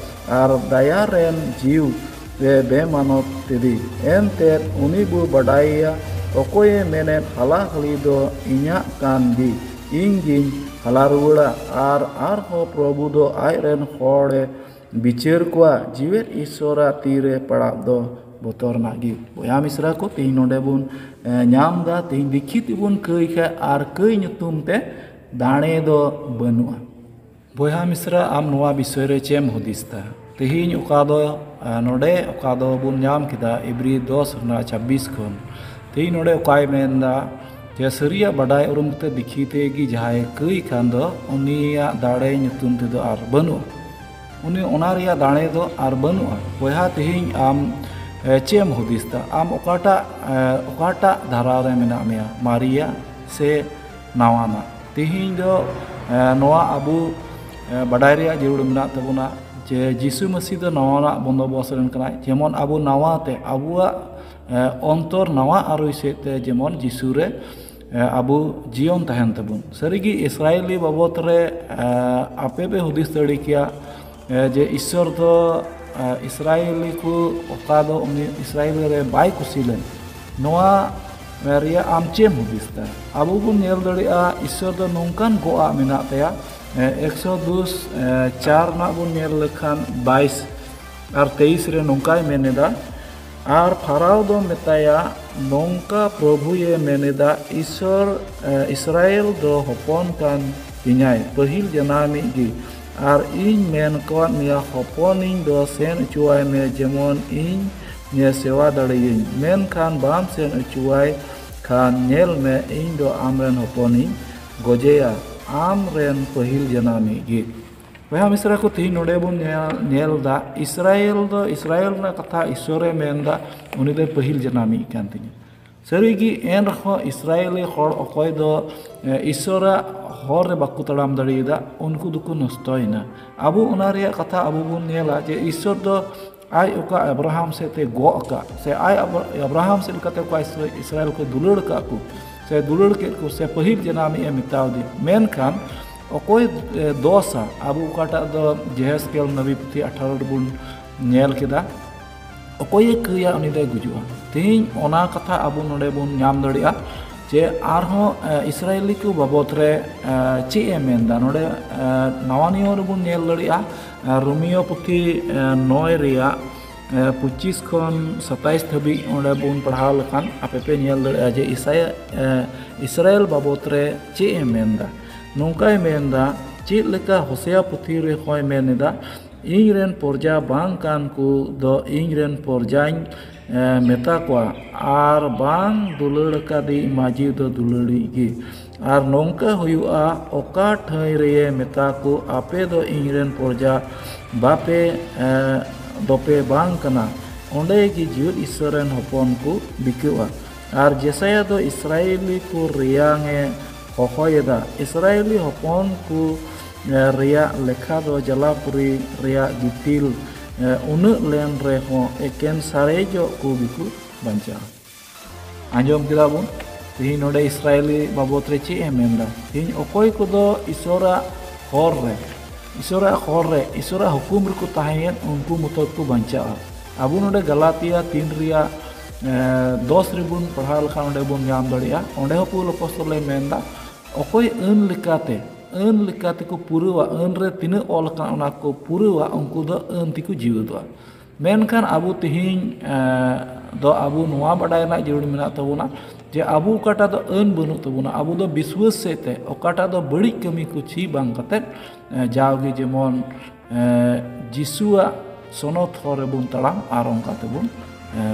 ᱟᱨ ᱫᱟᱭᱟ ᱨᱮᱱ ᱡᱤᱣ ᱨᱮ ᱵᱮᱢᱟᱱᱚᱛ ᱛᱮᱫᱤ ᱮᱱᱛᱮᱫ ᱩᱱᱤ ᱵᱚ ᱵᱟᱰᱟᱭᱮᱭᱟ ᱚᱠᱚᱭᱮ ᱢᱮᱱᱮᱫ ᱦᱟᱞᱟ ᱦᱟᱹᱞᱤ ᱫᱚ ᱤᱧᱟᱜ ᱠᱟᱱ ᱜᱮ ᱤᱧ ᱜᱤᱧ ᱦᱟᱞᱟ ᱨᱩᱣᱟᱹᱲᱟ ᱟᱨ ᱟᱨᱦᱚᱸ ᱯᱨᱚᱵᱷᱩ ᱫᱚ ᱟᱡ ᱨᱮᱱ ᱦᱚᱲᱮ ᱵᱤᱪᱟᱹᱨ ᱠᱚᱣᱟ ᱡᱤᱣᱮᱫ ᱤᱥᱥᱚᱨᱟᱜ ᱛᱤ ᱨᱮ ᱯᱟᱲᱟᱜ ᱫᱚ ᱵᱚᱛᱚᱨᱟᱱᱟᱜ ᱜᱮ ᱵᱚᱭᱦᱟ ᱢᱤᱥᱨᱟ ᱠᱚ ᱛᱮᱦᱮᱧ ᱱᱚᱰᱮ ᱵᱚᱱ ᱧᱟᱢ ᱮᱫᱟ ᱛᱮᱦᱮᱧ ᱫᱤᱠᱷᱤᱛ ᱵᱚᱱ ᱠᱟᱹᱭ ᱠᱷᱟᱱ ᱟᱨ ᱠᱟᱹᱭ ᱧᱩᱛᱩᱢ ᱛᱮ ᱫᱟᱲᱮ ᱫᱚ ᱵᱟᱹᱱᱩᱜᱼᱟ ᱵᱚᱭᱦᱟ ᱢᱤᱥᱨᱟ ᱟᱢ ᱱᱚᱣᱟ ᱵᱤᱥᱚᱭ ᱨᱮ ᱪᱮᱫ ᱮᱢ ᱦᱩᱫᱤᱥ ᱮᱫᱟ ᱛᱮᱦᱮᱧ ᱚᱠᱟ ᱫᱚ ᱱᱚᱰᱮ ᱚᱠᱟ ᱫᱚᱵᱚᱱ ᱧᱟᱢ ᱠᱮᱫᱟ ᱮᱵᱨᱤ ᱫᱚᱥ ᱨᱮᱱᱟᱜ ᱪᱷᱟᱵᱵᱤᱥ ᱠᱷᱚᱱ ᱛᱮᱦᱮᱧ ᱱᱚᱰᱮ ᱚᱠᱟᱭ ᱢᱮᱱ ᱮᱫᱟ ᱡᱮ ᱥᱟᱹᱨᱤᱭᱟᱜ ᱵᱟᱰᱟᱭ ᱩᱨᱩᱢ ᱠᱟᱛᱮ ᱫᱤᱠᱷᱤ ᱛᱮᱜᱮ ᱡᱟᱦᱟᱸᱭ ᱠᱟᱹᱭ ᱠᱷᱟᱱ ᱫᱚ ᱩᱱᱤᱭᱟᱜ ᱫᱟᱲᱮ ᱧᱩᱛᱩᱢ ᱛᱮᱫᱚ ᱟᱨ ᱵᱟᱹᱱᱩᱜᱼᱟ ᱩᱱᱤ ᱚᱱᱟ ᱨᱮᱭᱟᱜ ᱫᱟᱲᱮ ᱫᱚ ᱟᱨ ᱵᱟᱹᱱᱩᱜᱼᱟ ᱵᱚᱭᱦᱟ ᱛᱮᱦᱮᱧ ᱟᱢ ᱪᱮᱫ ᱮᱢ ᱦᱩᱫᱤᱥ ᱮᱫᱟ ᱟᱢ ᱚᱠᱟᱴᱟᱜ ᱚᱠᱟᱴᱟᱜ ᱫᱷᱟᱨᱟ ᱨᱮ ᱢᱮᱱᱟᱜ ᱢᱮᱭᱟ ᱢᱟᱨᱮᱭᱟᱜ ᱥᱮ ᱱᱟᱣᱟᱱᱟᱜ ᱛᱮᱦᱮᱧ ᱫᱚ ᱱᱚᱣᱟ ᱟᱵᱚ ᱵᱟᱰᱟᱭ ᱨᱮᱭᱟᱜ ᱡᱟᱹᱨᱩᱲ ᱢᱮᱱᱟᱜ ᱛᱟᱵᱚᱱᱟ ᱡᱮ ᱡᱤᱥᱩ ᱢᱟᱹᱥᱤ ᱫᱚ ᱱᱟᱣᱟᱱᱟᱜ ᱵᱚᱱᱫᱚᱵᱚᱥ ᱨᱮᱱ ᱠᱟᱱᱟᱭ ᱡᱮᱢᱚᱱ ᱟᱵᱚ ᱱᱟᱣᱟ ᱛᱮ ᱟᱵᱚᱣᱟᱜ ᱚᱱᱛᱚᱨ ᱱᱟᱣᱟ ᱟᱹᱨᱩᱭ ᱥᱮᱫ ᱛᱮ ᱡᱮᱢᱚᱱ ᱡᱤᱥᱩ ᱨᱮ ᱟᱵᱚ ᱡᱤᱭᱚᱱ ᱛᱟᱦᱮᱱ ᱛᱟᱵᱚᱱ ᱥᱟᱹᱨᱤᱜᱮ ᱤᱥᱨᱟᱭᱮᱞᱤ ᱵᱟᱵᱚᱫ ᱨᱮ ᱟᱯᱮ ᱯᱮ ᱦᱩᱫᱤᱥ ᱫᱟᱲᱮ ᱠᱮᱭᱟ ᱡᱮ ᱤᱥᱥᱚᱨ ᱫᱚ ᱤᱥᱨᱟᱭᱮᱞᱤ ᱠᱚ ᱚᱠᱟ ᱫᱚ ᱩᱱᱤ ᱤᱥᱨᱟᱭᱮᱞ ᱨᱮ ᱵᱟᱭ ᱠᱩᱥᱤ ᱞᱮᱱ ᱱᱚᱣᱟ ᱨᱮᱭᱟᱜ ᱟᱢ ᱪᱮᱫ ᱮᱢ ᱦᱩᱫᱤᱥ ᱫᱟ ᱟᱵᱚ ᱵᱚᱱ ᱧᱮᱞ ᱫᱟᱲᱮᱭᱟᱜᱼᱟ ᱤᱥᱥᱚᱨ ᱫᱚ ᱱᱚᱝᱠᱟᱱ ᱜᱚᱜᱼᱟᱜ ᱢᱮᱱᱟᱜ ᱛᱟᱭᱟ ᱮᱠᱥᱚ ᱫᱩᱥ ᱪᱟᱨ ᱨᱮᱱᱟᱜ ᱵᱚᱱ ᱧᱮᱞ ᱞᱮᱠᱷᱟᱱ ᱵᱟᱭᱤᱥ ᱟᱨ ᱛᱮᱭᱤᱥ ᱨᱮ ᱱᱚᱝᱠᱟᱭ ᱢᱮᱱ ᱮᱫᱟ ᱟᱨ ᱯᱷᱟᱨᱟᱣ ᱫᱚ ᱢᱮᱛᱟᱭᱟ ᱱᱚᱝᱠᱟ ᱯᱨᱚᱵᱷᱩᱭᱮ ᱢᱮᱱ ᱮᱫᱟ ᱤᱥᱥᱚᱨ ᱤᱥᱨᱟᱭᱮᱞ ᱫᱚ ᱦᱚᱯᱚᱱ ᱠᱟᱱ ᱛᱤᱧᱟᱭ ᱯᱟᱹᱦᱤᱞ ᱡᱟᱱᱟᱢᱤᱡ ᱜᱮ ᱟᱨ ᱤᱧ ᱢᱮᱱ ᱟᱠᱟᱫ ᱢᱮᱭᱟ ᱦᱚᱯᱚᱱᱤᱧ ᱫᱚ ᱥᱮᱱ ᱚᱪᱚᱣᱟᱭ ᱢᱮ ᱡᱮᱢᱚᱱ ᱤᱧ ᱧᱮ ᱥᱮᱣᱟ ᱫᱟᱲᱮᱭᱟᱹᱧ ᱢᱮᱱᱠᱷᱟᱱ ᱵᱟᱢ ᱥᱮᱱ ᱚᱪᱚᱣᱟᱭ ᱠᱷᱟᱱ ᱧᱮᱞ ᱢᱮ ᱤᱧ ᱫᱚ ᱟᱢ ᱨᱮᱱ ᱦᱚᱯᱚᱱᱤᱧ ᱜᱚᱡᱮᱭᱟ ᱟᱢ ᱨᱮᱱ ᱯᱟᱹᱦᱤᱞ ᱡᱟᱱᱟᱢᱤᱡ ᱜᱮ ᱵᱚᱭᱦᱟ ᱢᱤᱥᱨᱟ ᱠᱚ ᱛᱮᱦᱮᱧ ᱱᱚᱰᱮ ᱵᱚᱱ ᱧᱮᱞ ᱮᱫᱟ ᱤᱥᱨᱟᱭᱮᱞ ᱫᱚ ᱤᱥᱨᱟᱭᱮᱞ ᱨᱮᱱᱟᱜ ᱠᱟᱛᱷᱟ ᱤᱥᱥᱚᱨᱮ ᱢᱮᱱ ᱮᱫᱟ ᱩᱱᱤ ᱫᱚ ᱯᱟᱹᱦᱤᱞ ᱡᱟᱱᱟᱢᱤᱡ ᱠᱟᱱ ᱛᱤᱧᱟᱹ ᱥᱟᱹᱨᱤᱜᱮ ᱮᱱ ᱨᱮᱦᱚᱸ ᱤᱥᱨᱟᱭᱮᱞᱤ ᱦᱚᱲ ᱚᱠᱚᱭ ᱫᱚ ᱤᱥᱚᱨᱟᱜ ᱦᱚᱨ ᱨᱮ ᱵᱟᱠᱚ ᱛᱟᱲᱟᱢ ᱫᱟᱲᱮᱭᱟᱫᱟ ᱩᱱᱠᱩ ᱫᱚᱠᱚ ᱱᱚᱥᱴᱚᱭᱮᱱᱟ ᱟᱵᱚ ᱚᱱᱟ ᱨᱮᱭᱟᱜ ᱠᱟᱛᱷᱟ ᱟᱵᱚ ᱵᱚᱱ ᱧᱮᱞᱟ ᱡᱮ ᱤᱥᱚᱨ ᱫᱚ ᱟᱡ ᱚᱠᱟ ᱟᱵᱨᱟᱦᱟᱢ ᱥᱮᱫ ᱛᱮ ᱜᱚᱜ ᱟᱠᱟᱫ ᱥᱮ ᱟᱡ ᱟᱵᱨᱟᱦᱟᱢ ᱥᱮᱫ ᱞᱮᱠᱟᱛᱮ ᱚᱠᱟ ᱤᱥᱨᱟᱭᱮᱞ ᱠᱚ ᱫᱩᱞᱟᱹᱲ ᱟᱠᱟᱫ ᱠᱚ ᱥᱮ ᱫᱩᱞᱟᱹᱲ ᱠᱮᱫ ᱠᱚ ᱥᱮ ᱯᱟᱹᱦᱤᱞ ᱡᱟᱱᱟᱢᱤᱡ ᱮ ᱢᱮᱛᱟᱣᱫᱮ ᱢᱮᱱᱠᱷᱟᱱ ᱚᱠᱚᱭ ᱫᱚᱥᱟ ᱟᱵᱚ ᱚᱠᱟᱴᱟᱜ ᱫᱚ ᱡᱮᱦᱮᱥᱠᱮᱞ ᱱᱟᱵᱤ ᱯᱩᱛᱷᱤ ᱟᱴᱷᱟᱨᱚ ᱨᱮᱵᱚᱱ ᱧᱮᱞ ᱠᱮᱫᱟ ᱚᱠᱚᱭᱮ ᱠᱟᱹᱭᱟ ᱩᱱᱤ ᱫᱚᱭ ᱜᱩᱡᱩᱜᱼᱟ ᱛᱮᱦᱮᱧ ᱚᱱᱟ ᱠᱟᱛᱷᱟ ᱟᱵᱚ ᱱᱚᱰᱮ ᱵᱚᱱ ᱧᱟᱢ ᱫᱟᱲᱮᱭᱟᱜᱼᱟ ᱡᱮ ᱟᱨᱦᱚᱸ ᱤᱥᱨᱟᱭᱮᱞᱤ ᱠᱚ ᱵᱟᱵᱚᱫ ᱨᱮ ᱪᱮᱫ ᱮ ᱢᱮᱱᱫᱟ ᱱᱚᱰᱮ ᱱᱟᱣᱟ ᱱᱤᱭᱚᱢ ᱨᱮᱵᱚᱱ ᱧᱮᱞ ᱫᱟᱲᱮᱭᱟᱜᱼᱟ ᱨᱳᱢᱤᱭᱳ ᱯᱩᱛᱷᱤ ᱱᱚᱭ ᱨᱮᱭᱟᱜ ᱯᱚᱸᱪᱤᱥ ᱠᱷᱚᱱ ᱥᱟᱛᱟᱭᱤᱥ ᱫᱷᱟᱹᱵᱤᱡ ᱚᱸᱰᱮ ᱵᱚᱱ ᱯᱟᱲᱦᱟᱣ ᱞᱮᱠᱷᱟᱱ ᱟᱯᱮ ᱯᱮ ᱧᱮᱞ ᱫᱟᱲᱮᱭᱟᱜᱼᱟ ᱡᱮ ᱤᱥᱟᱭᱟ ᱤᱥᱨᱟᱭᱮᱞ ᱵᱟᱵᱚᱫ ᱨᱮ ᱪᱮᱫ ᱮ ᱢᱮᱱᱫᱟ ᱱᱚᱝᱠᱟᱭ ᱢᱮᱱᱫᱟ ᱪᱮᱫ ᱞᱮᱠᱟ ᱦᱚᱥᱮᱭᱟ ᱯᱩᱛᱷᱤ ᱨᱮᱦᱚᱸᱭ ᱢᱮᱱ ᱮᱫᱟ ᱤᱧ ᱨᱮᱱ ᱯᱨᱚᱡᱟ ᱵᱟᱝ ᱠᱟᱱ ᱠᱚᱫᱚ ᱤᱧ ᱨᱮᱱ ᱯᱨᱚᱡᱟᱧ ᱢᱮᱛᱟ ᱠᱚᱣᱟ ᱟᱨ ᱵᱟᱝ ᱫᱩᱞᱟᱹᱲ ᱠᱟᱫᱤᱧ ᱢᱟᱹᱡᱷᱤ ᱫᱚ ᱫᱩᱞᱟᱹᱲᱤᱡ ᱜᱮ ᱟᱨ ᱱᱚᱝᱠᱟ ᱦᱩᱭᱩᱜᱼᱟ ᱚᱠᱟ ᱴᱷᱟᱹᱭ ᱨᱮᱭᱮ ᱢᱮᱛᱟ ᱠᱚ ᱟᱯᱮ ᱫᱚ ᱤᱧ ᱨᱮᱱ ᱯᱨᱚᱡᱟ ᱵᱟᱯᱮ ᱫᱚᱯᱮ ᱵᱟᱝ ᱠᱟᱱᱟ ᱚᱸᱰᱮ ᱜᱮ ᱡᱤᱣᱮᱫ ᱤᱥᱥᱚᱨ ᱨᱮᱱ ᱦᱚᱯᱚᱱ ᱠᱚ ᱵᱤᱠᱟᱹᱜᱼᱟ ᱟᱨ ᱡᱮᱥᱟᱭᱟ ᱫᱚ ᱤᱥᱨᱟᱭᱮᱞᱤ ᱠᱚ ᱨᱮᱭᱟᱝ ᱮ ᱦᱚᱦᱚᱭᱮᱫᱟ ᱤᱥᱨᱟᱭᱮᱞᱤ ᱦᱚᱯᱚᱱ ᱠᱚ ᱨᱮᱭᱟᱜ ᱞᱮᱠᱷᱟ ᱫᱚ ᱡᱟᱞᱟᱯᱩᱨᱤ ᱨᱮᱭᱟᱜ ᱜᱤᱛᱤᱞ ᱩᱱᱟᱹᱜ ᱞᱮᱱ ᱨᱮᱦᱚᱸ ᱮᱠᱮᱱ ᱥᱟᱨᱮᱡᱚᱜ ᱠᱚ ᱜᱮᱠᱚ ᱵᱟᱧᱪᱟᱜᱼᱟ ᱟᱸᱡᱚᱢ ᱠᱮᱫᱟ ᱵᱚᱱ ᱛᱮᱦᱮᱧ ᱱᱚᱰᱮ ᱤᱥᱨᱟᱭᱮᱞᱤ ᱵᱟᱵᱚᱛ ᱨᱮ ᱪᱮᱫ ᱮ ᱢᱮᱱᱫᱟ ᱛᱮᱦᱮᱧ ᱚᱠᱚᱭ ᱠᱚᱫᱚ ᱤᱥᱚᱨᱟᱜ ᱦᱚᱨ ᱨᱮ ᱤᱥᱚᱨᱟᱜ ᱦᱚᱨ ᱨᱮ ᱤᱥᱚᱨᱟᱜ ᱦᱩᱠᱩᱢ ᱨᱮᱠᱚ ᱛᱟᱦᱮᱸᱭᱮᱱ ᱩᱱᱠᱩ ᱢᱚᱛᱚ ᱠᱚ ᱵᱟᱧᱪᱟᱜᱼᱟ ᱟᱵᱚ ᱱᱚᱰᱮ ᱜᱟᱞᱟᱛᱤᱭᱟ ᱛᱤᱱ ᱨᱮᱭᱟᱜ ᱫᱚᱥ ᱨᱮᱵᱚᱱ ᱯᱟᱲᱦᱟᱣ ᱞᱮᱠᱷᱟᱱ ᱚᱸᱰᱮ ᱵᱚᱱ ᱧᱟᱢ ᱫᱟᱲᱮᱭᱟᱜᱼᱟ ᱚᱸᱰᱮ ᱦᱚᱸ ᱯᱩᱞ ᱚᱯᱚᱥᱛᱚᱞᱮ ᱢᱮᱱᱫᱟ ᱚᱠᱚᱭ ᱟᱹᱱ ᱞᱮᱠᱟᱛᱮ ᱟᱹᱱ ᱞᱮᱠᱟ ᱛᱮᱠᱚ ᱯᱩᱨᱟᱹᱣᱟ ᱟᱹᱱ ᱨᱮ ᱛᱤᱱᱟᱹᱜ ᱚᱞ ᱟᱠᱟᱱᱟ ᱚᱱᱟ ᱠᱚ ᱯᱩᱨᱟᱹᱣᱟ ᱩᱱᱠᱩ ᱫᱚ ᱟᱹᱱ ᱛᱮᱠᱚ ᱡᱤᱣᱮᱫᱚᱜᱼᱟ ᱢᱮᱱᱠᱷᱟᱱ ᱟᱵᱚ ᱛᱮᱦᱮᱧ ᱫᱚ ᱟᱵᱚ ᱱᱚᱣᱟ ᱵᱟᱰᱟᱭ ᱨᱮᱱᱟᱜ ᱡᱟᱹᱨᱩᱲ ᱢᱮᱱᱟᱜ ᱛᱟᱵᱚᱱᱟ ᱡᱮ ᱟᱵᱚ ᱚᱠᱟᱴᱟᱜ ᱫᱚ ᱟᱹᱱ ᱵᱟᱹᱱᱩᱜ ᱛᱟᱵᱚᱱᱟ ᱟᱵᱚ ᱫᱚ ᱵᱤᱥᱣᱟᱹᱥ ᱥᱮᱫ ᱛᱮ ᱚᱠᱟᱴᱟᱜ ᱫᱚ ᱵᱟᱹᱲᱤᱡ ᱠᱟᱹᱢᱤ ᱠᱚ ᱪᱮᱫ ᱵᱟᱝ ᱠᱟᱛᱮᱫ ᱡᱟᱣᱜᱮ ᱡᱮᱢᱚᱱ ᱡᱤᱥᱩᱣᱟᱜ ᱥᱚᱱᱚᱛ ᱦᱚᱨ ᱨᱮᱵᱚᱱ ᱛᱟᱲᱟᱢ ᱟᱨ ᱚᱱᱠᱟ ᱛᱮᱵᱚᱱ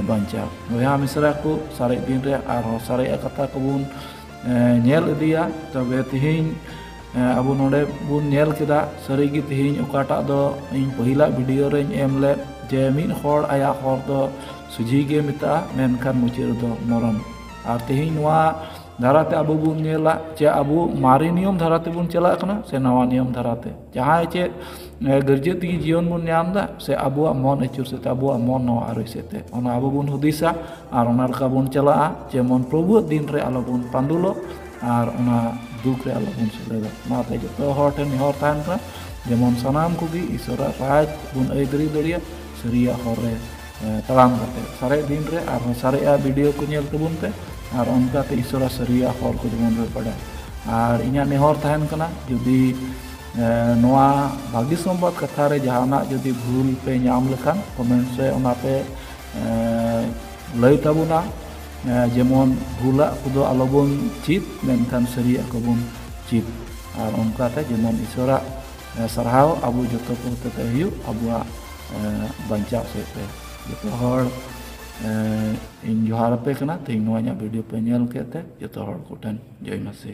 ᱵᱟᱧᱪᱟᱣ ᱵᱚᱭᱦᱟ ᱢᱤᱥᱨᱟ ᱠᱚ ᱥᱟᱨᱮᱡ ᱫᱤᱱ ᱨᱮ ᱟᱨᱦᱚᱸ ᱥᱟᱨᱮᱡᱟᱜ ᱠᱟᱛᱷᱟ ᱠᱚᱵᱚᱱ ᱧᱮᱞ ᱤᱫᱤᱭᱟ ᱛᱚᱵᱮ ᱛᱮᱦᱮᱧ ᱟᱵᱚ ᱱᱚᱰᱮ ᱵᱚᱱ ᱧᱮᱞ ᱠᱮᱫᱟ ᱥᱟᱹᱨᱤᱜᱮ ᱛᱮᱦᱮᱧ ᱚᱠᱟᱴᱟᱜ ᱫᱚ ᱤᱧ ᱯᱟᱹᱦᱤᱞᱟᱜ ᱵᱷᱤᱰᱤᱭᱳ ᱨᱮᱧ ᱮᱢ ᱞᱮᱫ ᱡᱮ ᱢᱤᱫ ᱦᱚᱲ ᱟᱭᱟᱜ ᱦᱚᱨ ᱫᱚ ᱥᱚᱡᱷᱮ ᱜᱮ ᱢᱮᱛᱟᱜᱼᱟ ᱢᱮᱱᱠᱷᱟᱱ ᱢᱩᱪᱟᱹᱫ ᱨᱮᱫᱚ ᱢᱚᱨᱚᱢ ᱟᱨ ᱛᱮᱦᱮᱧ ᱱᱚᱣᱟ ᱫᱷᱟᱨᱟᱛᱮ ᱟᱵᱚ ᱵᱚᱱ ᱧᱮᱞᱟ ᱡᱮ ᱟᱵᱚ ᱢᱟᱨᱮ ᱱᱤᱭᱚᱢ ᱫᱷᱟᱨᱟ ᱛᱮᱵᱚᱱ ᱪᱟᱞᱟᱜ ᱠᱟᱱᱟ ᱥᱮ ᱱᱟᱣᱟ ᱱᱤᱭᱚᱢ ᱫᱷᱟᱨᱟᱛᱮ ᱡᱟᱦᱟᱸᱭ ᱪᱮᱫ ᱜᱟᱹᱨᱡᱟᱹ ᱛᱮᱜᱮ ᱡᱤᱭᱚᱱ ᱵᱚᱱ ᱧᱟᱢ ᱮᱫᱟ ᱥᱮ ᱟᱵᱚᱣᱟᱜ ᱢᱚᱱ ᱟᱹᱪᱩᱨ ᱥᱮᱫ ᱛᱮ ᱟᱵᱚᱣᱟᱜ ᱢᱚᱱ ᱱᱚᱣᱟ ᱟᱹᱨᱤ ᱥᱮᱫ ᱛᱮ ᱚᱱᱟ ᱟᱵᱚ ᱵᱚᱱ ᱦᱩᱫᱤᱥᱟ ᱟᱨ ᱚᱱᱟ ᱞᱮᱠᱟ ᱵᱚᱱ ᱪᱟᱞᱟᱜᱼᱟ ᱡᱮᱢᱚᱱ ᱯᱨᱚᱵᱷᱩᱣᱟᱜ ᱫᱤᱱ ᱨᱮ ᱟᱞᱚ ᱵᱚᱱ ᱯᱟᱺᱰᱩᱞᱚᱜ ᱟᱨ ᱚᱱᱟ ᱫᱩᱠ ᱨᱮ ᱟᱞᱚ ᱵᱚᱱ ᱥᱮᱞᱮᱫᱚᱜ ᱚᱱᱟᱛᱮ ᱡᱚᱛᱚ ᱦᱚᱲ ᱴᱷᱮᱱ ᱱᱮᱦᱚᱨ ᱛᱟᱦᱮᱱ ᱠᱟᱱᱟ ᱡᱮᱢᱚᱱ ᱥᱟᱱᱟᱢ ᱠᱚᱜᱮ ᱤᱥᱥᱚᱨᱟᱜ ᱨᱟᱡᱽ ᱵᱚᱱ ᱟᱹᱭᱫᱟᱹᱨᱤ ᱫᱟᱲᱮᱭᱟᱜ ᱥᱟᱹᱨᱤᱭᱟᱜ ᱦᱚᱨ ᱨᱮ ᱛᱟᱲᱟᱢ ᱠᱟᱛᱮ ᱥᱟᱨᱮ ᱫᱤᱱ ᱨᱮ ᱟᱨ ᱥᱟᱨᱮᱜᱼᱟ ᱵᱷᱤᱰᱤᱭᱳ ᱠᱚ ᱧᱮᱞ ᱛᱟᱵᱚᱱ ᱯᱮ ᱟᱨ ᱚᱱᱠᱟᱛᱮ ᱤᱥᱚᱨᱟ ᱥᱟᱹᱨᱤᱭᱟ ᱦᱚᱲ ᱠᱚ ᱡᱮᱢᱚᱱ ᱵᱚ ᱵᱟᱰᱟᱭ ᱟᱨ ᱤᱧᱟᱹᱜ ᱱᱮᱦᱚᱨ ᱛᱟᱦᱮᱱ ᱠᱟᱱᱟ ᱡᱩᱫᱤ ᱱᱚᱣᱟ ᱵᱷᱟᱹᱜᱤ ᱥᱚᱢᱵᱟᱫ ᱠᱟᱛᱷᱟ ᱨᱮ ᱡᱟᱦᱟᱱᱟᱜ ᱡᱩᱫᱤ ᱵᱷᱩᱞ ᱯᱮ ᱧᱟᱢ ᱞᱮᱠᱷᱟᱱ ᱠᱚᱢᱮᱱᱴᱥ ᱨᱮ ᱚᱱᱟ ᱯᱮ ᱞᱟᱹᱭ ᱛᱟᱵᱚᱱᱟ ᱡᱮᱢᱚᱱ ᱵᱷᱩᱞᱟᱜ ᱠᱚᱫᱚ ᱟᱞᱚᱵᱚᱱ ᱪᱮᱫ ᱢᱮᱱᱠᱷᱟᱱ ᱥᱟᱹᱨᱤᱭᱟᱜ ᱠᱚᱵᱚᱱ ᱪᱮᱫ ᱟᱨ ᱚᱱᱠᱟᱛᱮ ᱡᱮᱢᱚᱱ ᱤᱥᱚᱨᱟᱜ ᱥᱟᱨᱦᱟᱣ ᱟᱵᱚ ᱡᱚᱛᱚ ᱠᱚ ᱦᱚᱛᱮᱛᱮ ᱦᱩᱭᱩᱜ ᱟᱵᱚᱣᱟᱜ ᱵᱟᱧᱪᱟᱣ ᱥᱮᱫ ᱛᱮ ᱡᱚᱛᱚ ᱦᱚᱲ ᱤᱧ ᱡᱚᱦᱟᱨ ᱟᱯᱮ ᱠᱟᱱᱟ ᱛᱮᱦᱮᱧ ᱱᱚᱣᱟ ᱤᱧᱟᱹᱜ ᱵᱷᱤᱰᱭᱳ ᱯᱮ ᱧᱮᱞ ᱠᱮᱫ ᱛᱮ ᱡᱚᱛᱚ ᱦᱚᱲ ᱠᱚᱴᱷᱮᱱ ᱡᱚᱭ ᱢᱟᱥᱤ